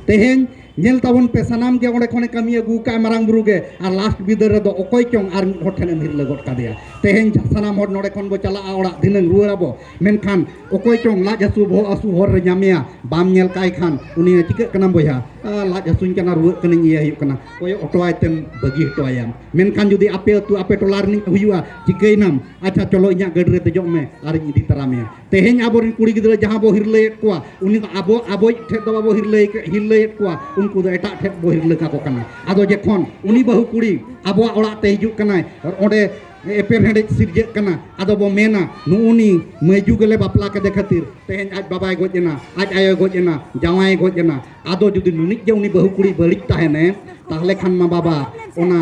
ᱛᱮᱦᱮᱧ ᱧᱮᱞ ᱛᱟᱵᱚᱱ ᱯᱮ ᱥᱟᱱᱟᱢ ᱜᱮ ᱚᱸᱰᱮ ᱠᱷᱚᱱᱮ ᱠᱟᱹᱢᱤ ᱟᱹᱜᱩ ᱠᱟᱜᱼᱟ ᱢᱟᱨᱟᱝ ᱵᱩᱨᱩ ᱜᱮ ᱟᱨ ᱞᱟᱥᱴ ᱵᱤᱫᱟᱹ ᱨᱮᱫᱚ ᱚᱠᱚᱭ ᱪᱚᱝ ᱟᱨ ᱢᱤᱫ ᱦᱚᱲ ᱴᱷᱮᱱᱮᱢ ᱦᱤᱨᱞᱟᱹ ᱜᱚᱫ ᱠᱟᱫᱮᱭᱟ ᱛᱮᱦᱮᱧ ᱥᱟᱱᱟᱢ ᱦᱚᱲ ᱱᱚᱸᱰᱮ ᱠᱷᱚᱱ ᱵᱚ ᱪᱟᱞᱟᱜᱼᱟ ᱚᱲᱟᱜ ᱫᱷᱤᱱᱟᱹᱝ ᱨᱩᱣᱟᱹᱲ ᱟᱵᱚ ᱢᱮᱱᱠᱷᱟᱱ ᱚᱠᱚᱭ ᱪᱚᱝ ᱞᱟᱡ ᱦᱟᱹᱥᱩ ᱵᱚᱦᱚᱜ ᱦᱟᱹᱥᱩ ᱦᱚᱨ ᱨᱮ ᱧᱟᱢᱮᱭᱟ ᱵᱟᱢ ᱧᱮᱞ ᱠᱟᱭ ᱠᱷᱟᱱ ᱩᱱᱤ ᱪᱤᱠᱟᱹᱜ ᱠᱟᱱᱟ ᱵᱚᱭᱦᱟ ᱞᱟᱡ ᱦᱟᱹᱥᱩᱧ ᱠᱟᱱᱟ ᱨᱩᱣᱟᱹᱜ ᱠᱟᱹᱱᱟᱹᱧ ᱤᱭᱟᱹ ᱦᱩᱭᱩᱜ ᱠᱟᱱᱟ ᱠᱚᱭᱚᱜ ᱦᱚᱴᱚᱣᱟᱭ ᱛᱮᱢ ᱵᱟᱹᱜᱤ ᱦᱚᱴᱚᱣᱟᱭᱟᱢ ᱢᱮᱱᱠᱷᱟᱱ ᱡᱩᱫᱤ ᱟᱯᱮ ᱟᱹᱛᱩ ᱟᱯᱮ ᱴᱚᱞᱟ ᱨᱤᱱᱤᱡ ᱦᱩᱭᱩᱜᱼᱟ ᱪᱤᱠᱟᱹᱭᱱᱟᱢ ᱟᱪᱪᱷᱟ ᱪᱚᱞᱚ ᱤᱧᱟᱹᱜ ᱜᱟᱹᱰᱤ ᱨᱮ ᱫᱮᱡᱚᱜ ᱢᱮ ᱟᱨᱤᱧ ᱤᱫᱤ ᱛᱟᱨᱟ ᱢᱮᱭᱟ ᱛᱮᱦᱮᱧ ᱟᱵᱚᱨᱮᱱ ᱠᱩᱲᱤ ᱜᱤᱫᱽᱨᱟᱹ ᱡᱟᱦᱟᱸ ᱵᱚ ᱦᱤᱨᱞᱟᱹᱭᱮᱫ ᱠᱚᱣᱟ ᱩᱱᱤ ᱫᱚ ᱟᱵᱚ ᱟᱵᱚᱭᱤᱡ ᱴᱷᱮᱡ ᱫᱚ ᱵᱟᱵᱚ ᱦᱤᱨᱞᱟᱹᱭ ᱦᱤᱨᱞᱟᱹᱭᱮᱫ ᱠᱚᱣᱟ ᱩᱱᱠᱩ ᱫᱚ ᱮᱴᱟᱜ ᱴᱷᱮᱡ ᱵᱚ ᱦᱤᱨᱞᱟᱹ ᱠᱟᱠᱚ ᱠᱟᱱᱟ ᱟᱫᱚ ᱡᱚᱠᱷᱚᱱ ᱩᱱᱤ ᱵᱟᱹᱦᱩ ᱠᱩᱲᱤ ᱟᱵᱚᱣᱟᱜ ᱚᱲᱟᱜ ᱛᱮ ᱦᱤᱡᱩᱜ ᱠᱟᱱᱟᱭ ᱚᱸᱰᱮ ᱮᱯᱮᱨ ᱦᱮᱰᱮᱡ ᱥᱤᱨᱡᱟᱹᱜ ᱠᱟᱱᱟ ᱟᱫᱚ ᱵᱚ ᱢᱮᱱᱟ ᱱᱩᱜᱩᱱᱤ ᱢᱟᱹᱭᱡᱩ ᱜᱮᱞᱮ ᱵᱟᱯᱞᱟ ᱠᱮᱫᱮ ᱠᱷᱟᱹᱛᱤᱨ ᱛᱮᱦᱮᱧ ᱟᱡ ᱵᱟᱵᱟᱭ ᱜᱚᱡ ᱮᱱᱟ ᱟᱡ ᱟᱭᱳ ᱜᱚᱡ ᱮᱱᱟ ᱡᱟᱶᱟᱭ ᱜᱚᱡ ᱮᱱᱟ ᱟᱫᱚ ᱡᱩᱫᱤ ᱱᱩᱱᱤᱡ ᱜᱮ ᱩᱱᱤ ᱵᱟᱹᱦᱩ ᱠᱩᱲᱤ ᱵᱟᱹᱲᱤᱡ ᱛᱟᱦᱮᱱᱮ ᱛᱟᱦᱞᱮ ᱠᱷᱟᱱ ᱢᱟ ᱵᱟᱵᱟ ᱚᱱᱟ